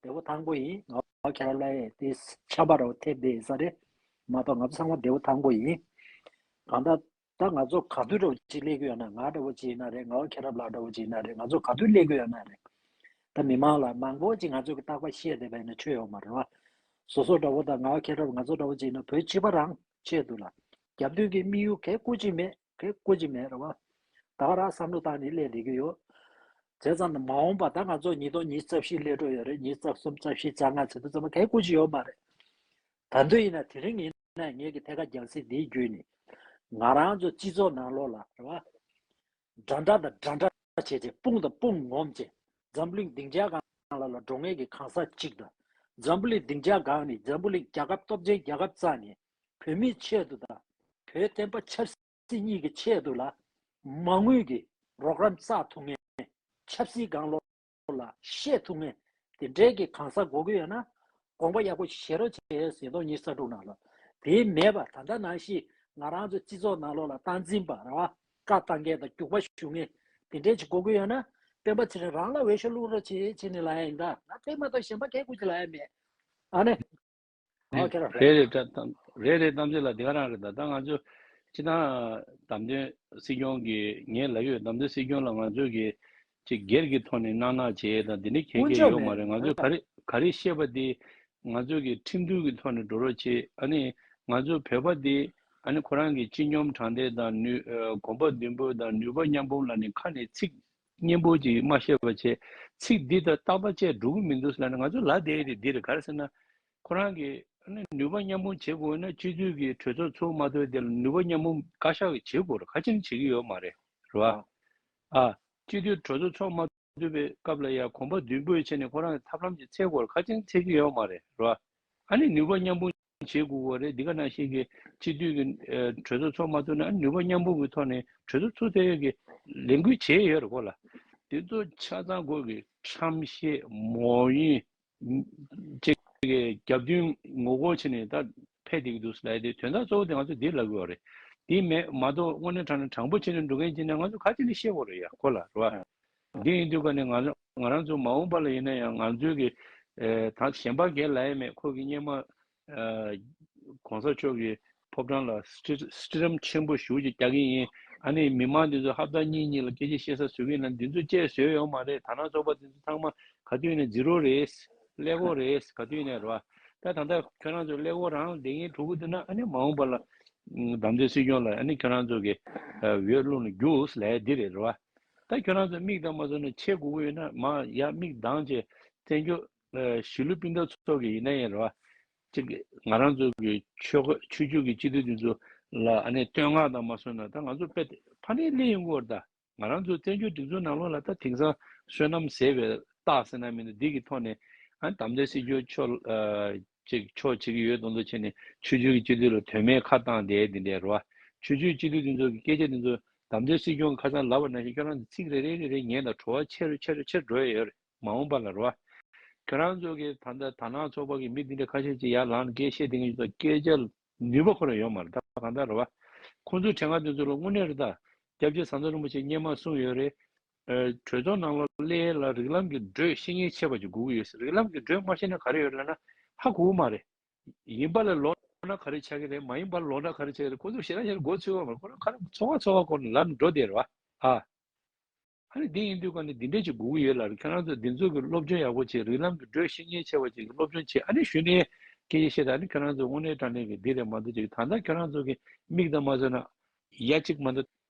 [SPEAKER 1] བདེ་བོ་དང་པོ་ཡིན། ཨོ་ཁྱེད་རང་ལ་ཡེ་དེ་ཁྱད་པར་རོ་ཐེབས་དེ་ས་རེད་མ་གཏོགས་ང་ཚོ་ཚང་མ་བདེ་བོ་དང་པོ་ཡིན། གང་ལྟར་ད་ང་ཚོ་ག་དུས་འདྲ་བོ་ཅིག་སླེབས་ཀྱི་ཡོད་ན་ང་འདྲ་བོ་ཅིག་ཡིན་ན་རེད་ང་ཨོ་ཁྱེད་རང་ལགས་འདྲ་བོ་ཅིག་ཡིན་ན་རེད་ང་ཚོ་ག་དུས་སླེབས་ཀྱི་ཡོད་ན་རེད། ད་མི་མང་ལ་མང་པོ་ཅིག་ང་ཚོས་ཀྱི་རྟག་པ་ཤེས་བསྡད་པ་ཡིན་ན་ཆོས་ཡོད་མ་རེད་བ། བཟོ་ཟོ་འདྲ་བོ་དང་ང་ཨོ་ཁྱེད་རང་ང་ཚོ་འདྲ་བོ་ཅིག་ཡིན་ན་བོད་སྤྱི་པ་རང་ཆེད་དུ་ལ་རྒྱབ་མདུན་གྱི་དམིགས་ཡུལ་གས་བཀུར་ཅིག་མེད། དེ་བཀོད་ཀྱི་མེད་རེད་བ། ད་རག་བསམ་བློ་བཏང་ནས་གླས་འདེད་ཀྱི་ཡོད། བྱས་ཙང་ན་མ་འོངས་པ་ད་ང་ཚོ་ཉིས་སྟོང་ཉིས་རྩ་བཞི་གླས་འགྲོ་ཡོད་རེད་ཉིས་རྩ་གསུམ་རྩ་བཞི་རྩ་ལྔ་ཚེ་ཐུ་ཚང་མ་གས་བཀོད་ཀྱི་ཡོད་མ་རེད། ད་འདོད་ཡིན་ན་དེ་རིང་ཡིན་ན་ངེད་ཀྱི་ཐད་ཀ་རྒྱང་སྲིད་འདིའི་རྒྱུད་ནི། ང་རང་ཚོ་སྤྱི་ཚོགས་ནང་ལོག་ལ་རེད་བ། འདྲ་འདྲ་དང་འདྲ་འདྲ་བྱས་རྗེས་དཔུང་དང་དཔུང་ངོམ་རྗེས་འཛམ་བུ་གླིང་སྡིངས་ཆའི་སྒང་ལ་ལ་འགྲོ་ངེས་ཀྱི་གང་ཟག་གཅིག་དང། འཛམ་བུ་གླིང་སྡིངས་ཆའི་སྒང་ནི་འཛམ་བུ་གླིང་རྒྱལ་ཁབ་སྟོབས་ཆེན་རྒྱལ་ཁབ་རྩ་ནི། བོད་མིའི་ཆེད་དུ་དང་བོད་བསྟན་པ་ཆབ་སྲིད་གཉིས་ཀྱི་ཆེད་དུ་ལ་མ་དངུལ་གྱི་རོགས་རམ་རྩ་ཐུག་ངན། ཆབ་སྲིད་སྒང་ལོགས་ལ་བཤད་ཐུག་ངན། དེ་འབྲེལ་གྱི་གང་ཟག་གོ་གི་ཡོད་ན་དགོངས་པ་ཡག་པོ་བཞེས་རོགས་བྱས་ཡོད་ཟིན་ཏོག་གཉིས་ས་དྲུག་ནང་ལོགས་དེ་མེད་པ་ད་ལྟ་ནང་བཞིན་ང་རང་ཚོ་སྤྱི་ཚོགས་ནང་ལོགས་ལ་སྟངས་འཛིན་པ་ར་བ་ཀ་བཏང་མཁན་དང་རྒྱུག་པ་ཞུ་མཁན་དེ་འབྲེལ་གྱི་གོ་གི་ཡོད་ན་སྤེན་པ་ཚེ་རིང་རང་ལ་འོས་ཤོག་བླུག་རོགས་བྱས་བྱས་ནས་ལ་ཡ་ཡིན་ད་ང་སྤེན་མ་གཏོགས་གཞན་པ་གས་སྐུ་ཅི་ལ་ཡ་མེད་ཨ་ནི། རེད་རེད་
[SPEAKER 2] གཏམ་རེད་རེད་གཏམ་བྱེད་ལ་དེ་ག་རང་རེད་ད་ད་ང་ཚོ་ཅི་ད་དམ་དོན་སྲིད་སྐྱོང་གི་ངའི་ལ་ཡོད་དམ་དོན་སྲིད་སྐྱོང་ལ་ང་ཚོ་གི་ཅི་སྒེར་གི་ཐོག་ནས་གནག་གནག་བྱེད་ད་དེ་འདྲའི་གལ་གལ་ཡོད་མ་རེད་ང་ཚོ་ག་རེ་ག་རེ་བཤད་པ་དེ་ང་ཚོ་གི་ཁྲིམས་མཐུན་གི་ཐོག་ནས་འགྲོ་རོགས་བྱེད་ཨ་ནི་ང་ཚོ་བོད་པ་དེ་ཨ་ནི་ཁོ་རང་གི་སྤྱི་སྙོམས་དྲང་བདེན་དང་ནུས་གོམ་པ་མདུན་སྤོས་དང་ནུས་པ་མཉམ་སྤུངས་ལ་ནི་ཁ་ནས་ཚིག་སྙན་པོ་ཅིག་མ་ཤེས་པ་ཆེ། ཚིག་འདི་ལྟར་བཏགས་པ་བཅས་འགྲོ་གི་མི་འདུག་ཟེར་ན་ང་ཚོ་ལ་དེ་རེད་འདི་རེད་ག་རེ་ཟེར་ན། ཁོ་རང་གི། ནུས་པ་མཉམ་སྤུངས་བྱེད་དགོས་ན་སྤྱི་འཐུས་ཀྱི་གྲོས་ཚོགས་ཚོགས་མ་ཐོས་དེ་ལ་ནུས་པ་མཉམ་སྤུངས་བཀའ་ཤག་གིས་བྱེད་དགོས་ར་ག་ཅིང་བྱེད་ཀྱི་ཡོད་མ་རེད་རེད་བ། ཨ། སྤྱི་འཐུས་གྲོས་ཚོགས་ཚོགས་མ་ཐུབ་པའི་སྐབས་ལ་ཡང་གོམ་པ་མདུན་སྤོས་བྱས་ནས་ཁོ་རང་གི་ཐབས་ལམ་གྱི་ཚད་སྐོར་ག་ཅིང་འཚལ་གྱི་ཡོད་མ་རེད་རེད་བ། ཨ་ནི་ནུས་པ་མཉམ་སྤུངས་བྱེད་དགོས་པ་རེད་འདི་ག་ནང་བཞིན་གྱི་གཅིག་སྡུད་ཀྱི་གྲོས་ཚོགས་ཚོགས་མ་ཐུབ་ན་ནུས་པ་མཉམ་སྤུངས་ཀྱི་ཐོག་ནས་གྲོས་ཚོགས་ཚུགས་ཐུབ་ཡོད་ཀྱི་ལས་འགུལ་བྱས་ཡོད་རེད་གོ་ལ། དེ་ཚོ་ཆ་ཚང་སྒོས་ཀྱི་ཁྲམ་ཤེས་མོ་ཡིན། བཅས་ཀྱི་རྒྱབ་མདུན་ངོ་རྒོལ་བྱས་ནས་ད་ཕེབས་བསྡད་ཀྱི་འདུག་ལ་དེ་དོན་དག་གཙོ་བོ་དེ་ང་ཚོ་འདིར་ལབ་དགོས་བ་རེད། དེ་མེད་མ་གཏོགས་དངོས་གནས་དྲང་ན་དྲང་པོ་བྱས་ནས་འགྲོ་མཁན་བྱས་ན་ང་ཚོ་ག་ཅིག་ནས་ཤེས་དགོས་རེད་ཡ་གོ་ལ་རེད་བ། འདི་ཡིན་དུས་ཀ་ནས་ང་རང་ཚོ་མ་འོངས་པ་ལ་ཡིན་ན་ཡང་ང་ཚོའི་གི་དང་གཞན་པ་འགལ་ལ་ཡེ་མེད་ཁོ་གི་སྙེ་མ་གོང་ས་མཆོག་གི་ཕོབ་བྲང་ལ་སྲི་རམ་ཆེན་པོ་ཞུགས་ཅིག་རྒྱག་གི་ཡིན་ཨ་ནི་མི་མང་འདི་ཚོ་ཧབ་ད་གཉིས་གཉིས་ལ་སྐད་ཆ་བཤད་ས་བཟོས་གི་ཡིན་ན་འདི་ཚོ་བཅས་བཟོས་ཡོད་མ་རེད་ད་ནང་ཚོགས་པ་འདི་ཚོ་ཚང་མ་ག་དུས་ནས་འཛི་རོ་རེད་ཀླད་ཀོར་རེད་ག་དུས་ནས་རེད་བ་ད་ད་ལྟ་ཁྱོད་རང་ཚོ་ཀླད་ཀོར་རང་ལ་བསྡད་གིན་འདུག་གི་འདུག་ན་ཨ་ནི་མ་འོངས་པ་ལ་བདམས་ཐོན་སྲིད་སྐྱོང་ལ་ཨ་ནི་ཁྱོད་རང་ཚོ་གི་འོས་བླུག་ན་རྒྱུགས་ལས་འདི་རེད་རེད་བ། ད་ཁྱོད་རང་ཚོས་མིག་གདངས་མ་བཟོ་ནས་ཆེས་དགུ་པོ་ཡོད་ན་མ་ཡ་མིག་གདངས་ཆེ་བཙན་བྱོལ་གཞིས་ལུས་སྤུན་ཟླ་ཚོ་གི་ཡིན་ན་ཡིན་རེད་བ། ཅིག་ང་རང་ཚོ་གི་ཆོས་གོས་ཆོས་བརྒྱུད་ཀྱི་སྤྱི་འཐུས་འདི་ཚོ་ལ་ཨ་ནེ་བསྟོད་བསྔགས་དང་མ་བསོད་ན་ད་ང་ཚོ་དཔེ་ཕ་ནི་ལེ་ཡིན་གོ་ད་ང་རང་ཚོ་བཙན་བྱོལ་སྒྲིག་འཛུགས་ནང་ལོག་ལ་ད་དེང་སང་བསོད་ནམས་ཟེར་བའི་སྟག་སེ་ན་མི་འདུག་འདི་གི་ཐོག་ནས་ཨ་ནེ་དམ་ཚིག་སྲིད་འབྱོར་ཆོས་གཅིག་ཕྱོགས་གཅིག་ཡོད་དོ་འདུ་བྱས་ནས་ཆོས་བརྒྱུད་ཀྱི་སྤྱི་འཐུས་ལ་དོན་མེད་ཁ་བཏང་བསྡད་དེ་འདྲའི་རུ་བ། ཆོས་བརྒྱུད་སྤྱི་འཐུས་འདི་ཚོ་གི་སྐད་ཆ་འདི་ཚོ་དམ་བཅའ་སྲིད་སྐྱོང་ཁ་ཚང་ལབ་པ་ན་བཞིན་ཁྱོད་རང་ཚོ་ཚིག་རེ་རེ་རེ་རེ་ཉན་དང་བྲོ་བ་ཆེ་རུ་ཆེ་རུ་ཆེ་རུ་འགྲོ་ཡ་ཡོད་རེད་མ་འོངས་པ་ལ་རུ་བ། ཁྱོད་རང་ཚོ་གི་ད་ལྟ་དར་ནག་ཚོགས་པ་གི་མི་འདི་འདྲ་ཁ་ཤས་ཅིག་ཡར་ལངས་ནས་སྐད་བཤད་དེ་གཉིས་ཚོ་སྐད་ཆ་ནུས་པ་ཁོ་རང་ཡོད་མ་རེད་ད་གང་ལྟར་རུ་བ། ཁོང་ཚོའི་དྲན་ངག་འདི་ཚོ་ལ་དངོས་གནས་རི་དྭགས་སྐྱབས་རྗེ་ཟམ་གདོང་རིན་པོ་ཆེ་སྙེ་མ་གསུངས་ཡོད་རེད་བྲོས་ཚོགས་ནང་ལོ་ཀླད་ལ་རིགས་ལམ་གྱི་འགྲོས་ཤེས་ཉེན་ཆེ་བ་ཅིག་སྒུག་ཡོད་རིགས་ལམ་གྱི་འགྲོས་མ་ཤེས་ན་ག་རེ་ཡོད་ལབ་ན་ཧ་གོ་མ་རེད། ཡིན་པ་ལ་ལོག་ན་ག་རེ་ཆགས་ཀྱི་རེད་མ་ཡིན་པ་ལ་ལོག་ན་ག་རེ་ཆགས་ཀྱི་རེད་ཁོ་ཚོ་ཤེས་ན་ཤེས་ན་མགོ་ཚོས་བ་མ་རེད་ཁོ་རང་ཁ་རང་ཚོ་ཁ་ཚོ་བ་སྐོར་ནས་ལབ་ནས་འགྲོ་བསྡད་རེད་བ། ཧ་ནི་དེ་ཡིན་དུས་ཀ་ནས་འདི་འདྲས་ཅིག་སྒུག་ཡོད་ལ་རེད་ཁྱེད་རང་ཚོ་འདི་ཚོ་གི་སློབ་སྦྱོང་ཡག་པོ་བྱེད་རིགས་ལམ་གྱི་འགྲོས་ཤེས་ཉེན་ཆེ་བ་ཅིག་སློབ་སྦྱོང་བྱེད་ཨ་ནི་ཞུ་ནས་སྐད་ཆ་བཤད་ད་ནི་ཁྱེད་རང་ཚོ་དབུ་ནས་དྲ་གནས་ཀྱི་འདི་རེད་མ་འདུག་ཅིག་ད་ལྟ་ཁྱེད་རང་ཚོ་གི་མིག་དང་མ་བཟོས་ན་ཡ་གཅིག་མ་འདུག།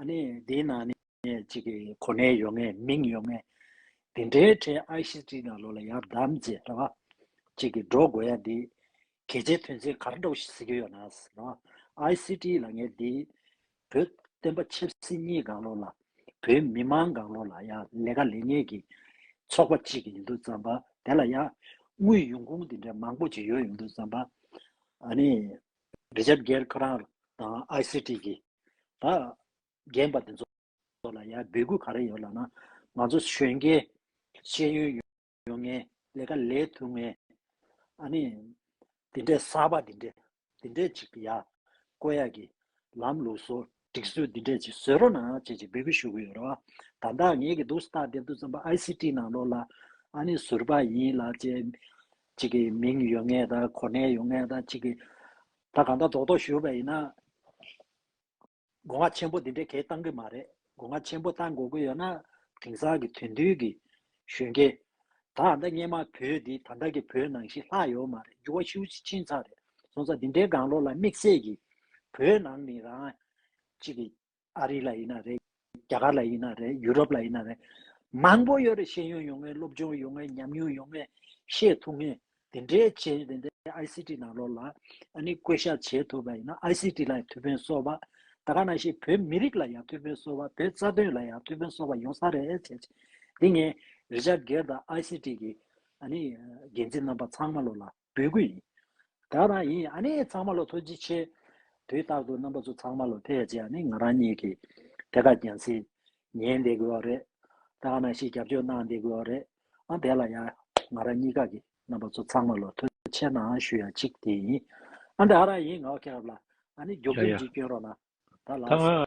[SPEAKER 1] ཨ་ནི་དེ་ནང་ནས་གཅིག་གི་གོ་གནས་ཡོད་ངེས་མིང་ཡོད་ངེས། དེ་འདྲའི་ཁྲལ་ཨའི་ཤི་ཏྲིའི་ནང་ལོག་ལ་ཡག་བདམས་མཛད་རེད་བ། གཅིག་གི་འགྲོ་དགོས་ཡ་འདི། གལ་ཆེ་དོན་ཆེ་གར་འགྲོ་ཟེར་གྱི་ཡོད་ན་རེད་བ། ཨའི་ཤི་ཏྲིའི་ལ་ངས་འདི། བོད་བསྟན་པ་ཆབ་སྲིད་གཉིས་སྒང་ལོག་ལ། བོད་མི་མང་སྒང་ལོག་ལ་ཡ་ལས་ཀ་ལས་ངེས་གི། ཚོགས་པ་གཅིག་གི་ཡོད་འདུག་བརྩམས་པ་དེ་ལ་ཡ། དངུལ་ཡོང་ཁུངས་དེ་འདྲའི་མང་པོ་གཅིག་ཡོད་ཡོང་འདུག་བརྩམས་པ། ཨ་ནི། རི་ཆབ་རྒྱལ་ཁ་རང་དང་ཨའི་ཤི་ཏྲིའི་གི། ད་རྒན་པ་དེ་ཚོ་ལ་ཡ་འབོད་སྐུལ་ག་རེ་ཡོད་ལབ་ན་ང་ཚོ་གཞོན་སྐྱེས་ཤེས་ཡོན་ཡོད་ཡོད་ངན་ལས་ཀ་ལས་ཐུབ་ངན་ཨ་ནི་དེ་འདྲས་གསར་པ་དེ་འདྲས་དེ་འདྲས་ཅིག་ཡ་བསྐོ་ཡ་གི་ལམ་ལུགས་བཟོ་སྒྲིག་སྲོལ་དེ་འདྲས་ཅིག་བཟོས་རོགས་གནང་ཅེས་ཅིག་འབོད་སྐུལ་ཞུ་གི་ཡོད་རེད་བ་ད་ད་ངེད་ཀྱི་འདུག་སྟག་དེབ་དུ་རྩོམ་པ ICT ནང་ལོག་ལ་ཨ་ནི་ཟུར་པ་ཡིན་ལ་ཅེས་ཅིག་གི་མིང་ཡོད་ངན་ད་གོ་གནས་ཡོད་ངན་ད་ཅིག་གི་ད་གང་ལྟར་རྡོག་རྡོག་ཞུས་པ་ཡིན་ན། སྒོ་ང་ཆེན་པོ་འདི་འདྲའི་གད་བཏང་གི་མ་རེད། སྒོ་ང་ཆེན་པོ་བཏང་དགོས་ཀྱི་ཡོད་ན། དེང་སང་གི་དོན་མཐུན་གྱི་གཞོན་སྐྱེས། ད་ཨ་མདའ་སྙེ་མ་བོད་འདི་ད་ལྟ་གི་བོད་ནང་བཞིན་ལྷག་ཡོད་མ་རེད་འགྱུར་བ་ཤུགས་ཆེ་ཆིན་ཚང་རེད་སོང་ཙང་འདི་འདྲའི་དགང་བློ་ལ་དམིགས་བསལ་གྱི། བོད་ནང་ནི་རང། གཅིག་གི། ཨ་རི་ལ་ཡིན་ན་རེད། རྒྱ་གར་ལ་ཡིན་ན་རེད། ཡུ་རོབ་ལ་ཡིན་ན་རེད། མང་པོ་ཡོད་རེད་ཤེས་ཡོན་ཡོང་ངེས་སློབ་སྦྱོང་ཡོང་ངེས་ཉམས་མྱོང་ཡོང་ངེས་ཤེས་ཐུབ་ངེས་དེ་འདྲའི་བྱེད་དེ་འདྲའི ICT ནང་ལོགས་ལ་ཨ་ནི་བཀོད་ཤག་བྱེད་ཐུབ་པ་ཡིན་ན ICT ལ་ཡང་ཐུ་བྷོན་གསོ་བ་ད་ག་ན་ཞིག་བོད་མི་རིགས་ལ་ཡང་ཐུ་བྷོན་གསོ་བ་བོད་རྩ་དོན་ལ་ཡང་ཐུ་བྷོན་གསོ་བ་ཡོང་ས་རེད་བྱས་བྱས་འདི་ངས་རི་ཆ་སྒེར་དང ICT གི་ཨ་ནི་འགན་འཛིན་རྣམ་པ་ཚང་མ་ལོགས་ལ་འབོད་སྐུལ་ཡིན། དགའ་དང་ཡིན་ཡང་ཨ་ནེ་ཚང་མ་ལོ་ཐོ་ཅི་ཆེ། དུས་རྟག་ཏུ་རྣམ་པ་ཚོ་ཚང་མ་ལོ་ཐེ་ཡ་ཅི་ཡ་ནི་ང་རང་གཉིས་ཀྱིས་དེ་ག་རྒྱན་སི། ཉན་བསྡད་དགོས་བ་རེད། དེ་ག་ནང་ཞིག་རྒྱབ་སྐྱོར་གནང་བསྡད་དགོས་བ་རེད། ཨང་དེ་ལ་ཡང་ང་རང་གཉིས་ཀ་གི་རྣམ་པ་ཚོ་ཚང་མ་ལོ་ཐོ་ཆེ་གནང་ཞུ་ཡ་ཅིག་དེ་ཡིན། ཨང་དེ་ཨ་ར་ཡིན་ང་བ་ཁེ་རབ་ལ་ཨ་ནེ་རྒྱོབ་རྒྱོབ་ཅིག་སྐྱོན་རོགས་གནང། ད་ལགས་སོ།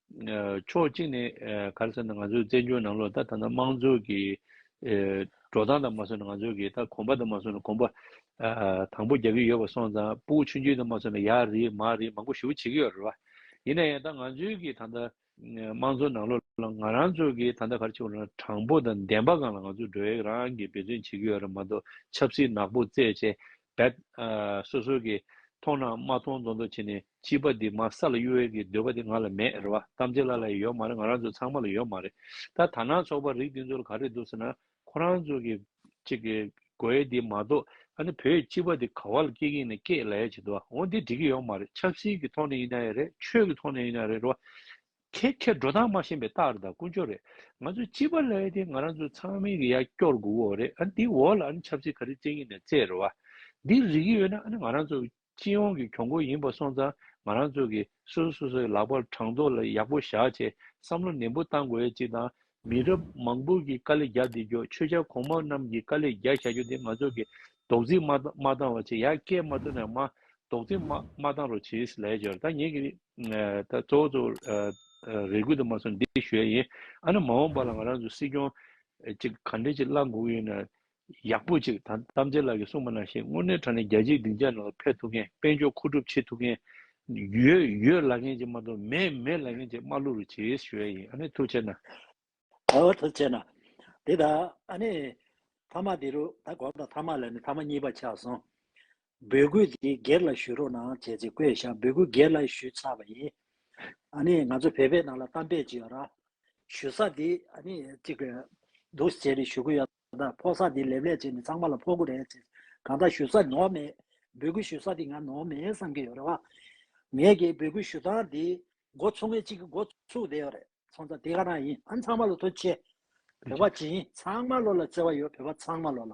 [SPEAKER 2] ཕྱོགས་གཅིག་ནས་ག་རེ་ཟེར་ན་ང་ཚོའི་བཙན་བྱོལ་ནང་ལོགས་ད་ད་ནང་དམངས་གཙོ་གི་འགྲོ་སྟངས་དང་མ་སོན་ན་ང་ཚོ་གི་ད་གོམ་པ་དང་མ་སོན་ན་གོམ་པ་དང་པོ་རྒྱག་གི་ཡོད་པ་སོང་ཙང་པུའུ་ཆུང་ཆུང་དང་མ་སོན་ན་ཡ་རེད་མ་རེད་མང་པོ་ཞུ་བྱེད་ཀྱི་ཡོད་རེད་བ། ཡིན་ན་ཡང་ད་ང་ཚོའི་གི་ད་ད་དམངས་གཙོ་ནང་ལོགས་ལ་ང་རང་ཚོ་གི་ད་ད་ག་རེ་བྱེད་དགོས་རེད་ན་དྲང་པོ་དང་བདེན་པ་གང་ལ་ང་ཚོ་འགྲོ་ཡག་རང་གི་འབད་བརྩོན་བྱེད་ཀྱི་ཡོད་རེད་མ་གཏོགས་ཆབ་སྲིད་ནག་པོ་རྩེད་ཆས་བས། སོ་སོ་གིས་མཐོང་ན་མ་མཐོང་མདོག་མདོག་བྱས་ནས་སྐྱིད་པ་འདི་མ་ས་ལ་གཡུ་བས་ཀྱི་འདོད་པ་དེ་ང་ལ་མེད་རེད་བ་གཏམ་ཚེ་ལ་ལ་ཡོད་མ་རེད་ང་རང་ཚོ་ཚང་མ་ལ་ཡོད་མ་རེད་ད་ད་ནང་ཚོགས་པ་རིགས་འདི་ཚོ་ལ་ག་རེ་འདུག་ཟེར་ན་ཁོ་རང་ཚོ་གི་གཅིག་གི་དགོས་ཡས་འདི་མ་གཏོགས་ཨ་ནི་བོད་སྐྱིད་པ་འདི་ག་བ་ལ་སྐྱིད་ཀྱིན་ནས་སྐྱེད་ལ་ཡས་བྱེད་འདུག་བ་འོ་འདི་འགྲིག་གི་ཡོད་མ་རེད་ཆབ་སྲིད་ཀྱི་ཐོག་ནས་ཡིན་ན་ཡས་རེད་ཆོས་ཀྱི་ཐོག་ནས་ཡིན་ན་ཡས་རེད་རེད་བ། ཁྱེད་ཁྱེད་འགྲོ་སྟངས་མ་ཤེས་པའི་རྟགས་རེད་དང་ཀུན་སྤྱོད་རེད། ང་ཚོས་སྤྱི་པ་ལས་དེ་ང་རང་ཚོའི་ཚང་མའི་གི་ཡ་སྐྱོར་དགོས་གོ་རེད་ཨ་ནི་དེའི་འོག་ལ་ཨ་ནི་ཆབ་སྲིད་ག་རེ་བཙན་གྱིས་ནས་བརྩད་རེད་བ། འདི་རིག་གི་ཡོད་ན་ཨ་ནི་ང་རང་ཚོ་སྤྱི་ཡོངས་ཀྱི་གྱོང་གུད་ཡིན་པ་སོང་ཙང་ང་རང་ཚོ་གི་སོ་སོ་སོ་སོའི་ལག་པར་དྲང་ལྡོག་ལ་ཡག་པོ་བཞག་ཆེད་བསམ་བློ་ནན་པོ་བཏང་དགོས་ཡ་གཅིག་དང་མི་རབས་མང་པོ་གི་དཀའ་ལས་རྒྱག་བསྡད་རྒྱུ་ཆོས་ཆ་གོང་མ་རྣམས་ཀྱི་དཀའ་ལས་རྒྱག་བཞག་རྒྱུ་དེ་ང་ཚོ་གི་རྡོག་རྫིས་མ་མ་བཏང་བར་བྱས་ཡ་སྐད་མ་ཐོན་ན་ཡང་མ་རྡོག་རྫིས་མ་མ་བཏང་རོགས་བྱས་ལས་བྱོས་ད་ངེད་ཀྱི་ད་གཙོ་བོ་གཙོ་བོ་རེ་སྐུལ་དུ་མ་སོང་འདི་ཞུ་ཡ་ཡིན་ཨ་ན་མ་འོངས་པ་ལ་ང་རང་ཚོ་སྲིད་སྐྱོང་ཅིག་ག་འདྲས་ཅིག་བླ་འགུག་ཡོད་ན་ཡག་པོ་ཅིག་དང་རྟ་མཚེ་ལགས་ཀྱིས་གསུངས་པ་ནང་བཞིན་དངོས་གནས་དྲང་ནས་རྒྱལ་སྤྱིའི་སྡིངས་ཆའི་ནང་དུ་ཕེབས་ཐུབ་མཁན་དཔལ་འབྱོར་མཁོ་སྒྲུབ་བྱེད་ཐུབ་མཁན། ཡོད་ཡོད་ལབ་མཁན་གཅིག་མ་གཏོགས་མེད་མེད་ལབ་མཁན་གཅིག་དམག་བླུ་རུ་བྱེད་ཞུ་ཡ་ཡིན་ཨ་ནི་ཐུགས་ཆེ་ན། ཨོ་ཐུགས་
[SPEAKER 1] ཆེ་ན། དེ་ད་ཨ་ནི། མཐའ་མ་དེ་རུ་ད་གོ་ད་མཐའ་མ་ལ་ནི་མཐའ་མ་གཉིས་པ་ཆགས་སོང། འབོད་སྐུལ་དེ་སྒེར་ལ་ཞུ་རོགས་གནང་བྱས་ཚེ་བཀོད་ཤག་འབོད་སྐུལ་སྒེར་ལ་ཞུས་ཚར་བ་ཡིན། ཨ་ནི་ང་ཚོ་བོད་པའི་ནང་ལ་གཏམ་དཔེ་ཅིག་ཡོད་ར། ཞུ་ས་དེ་ཨ་ནི་ཅིག་གི་འདུག་ཟེར་ཞུ་གི་ཡོད། ད་ལྟ་ཕོག་ས་དེ་ལེབ་ལེབ་བྱས་ནས་ཚང་མ་ལ་ཕོག་གི་རེད་ཟེར། གང་ལྟར་ཞུ་ས་ནོར་མེད། འབོད་སྐུལ་ཞུ་ས་དེ་ང་ནོར་མེད་བསམ་གྱི་ཡོད་རེད་བ། ངས་ཀྱི་འབོད་སྐུལ་ཞུ་སྟངས་དེ། འགོ་ཚུགས་མཁན་གཅིག་གིས་འགོ་ཚུགས་བསྡད་ཡོད་རེད། ཚོང་ཙག་དེ་ག་རང་ཡིན་ཨང་ཚང་མ་ལ་ཐུགས་ཆེ། བོད་པ་ཇི་ཡིན་ཚང་མ་བློ་ལ་བརྩེ་བ་ཡོད་བོད་པ་ཚང་མ་བློ་ལ།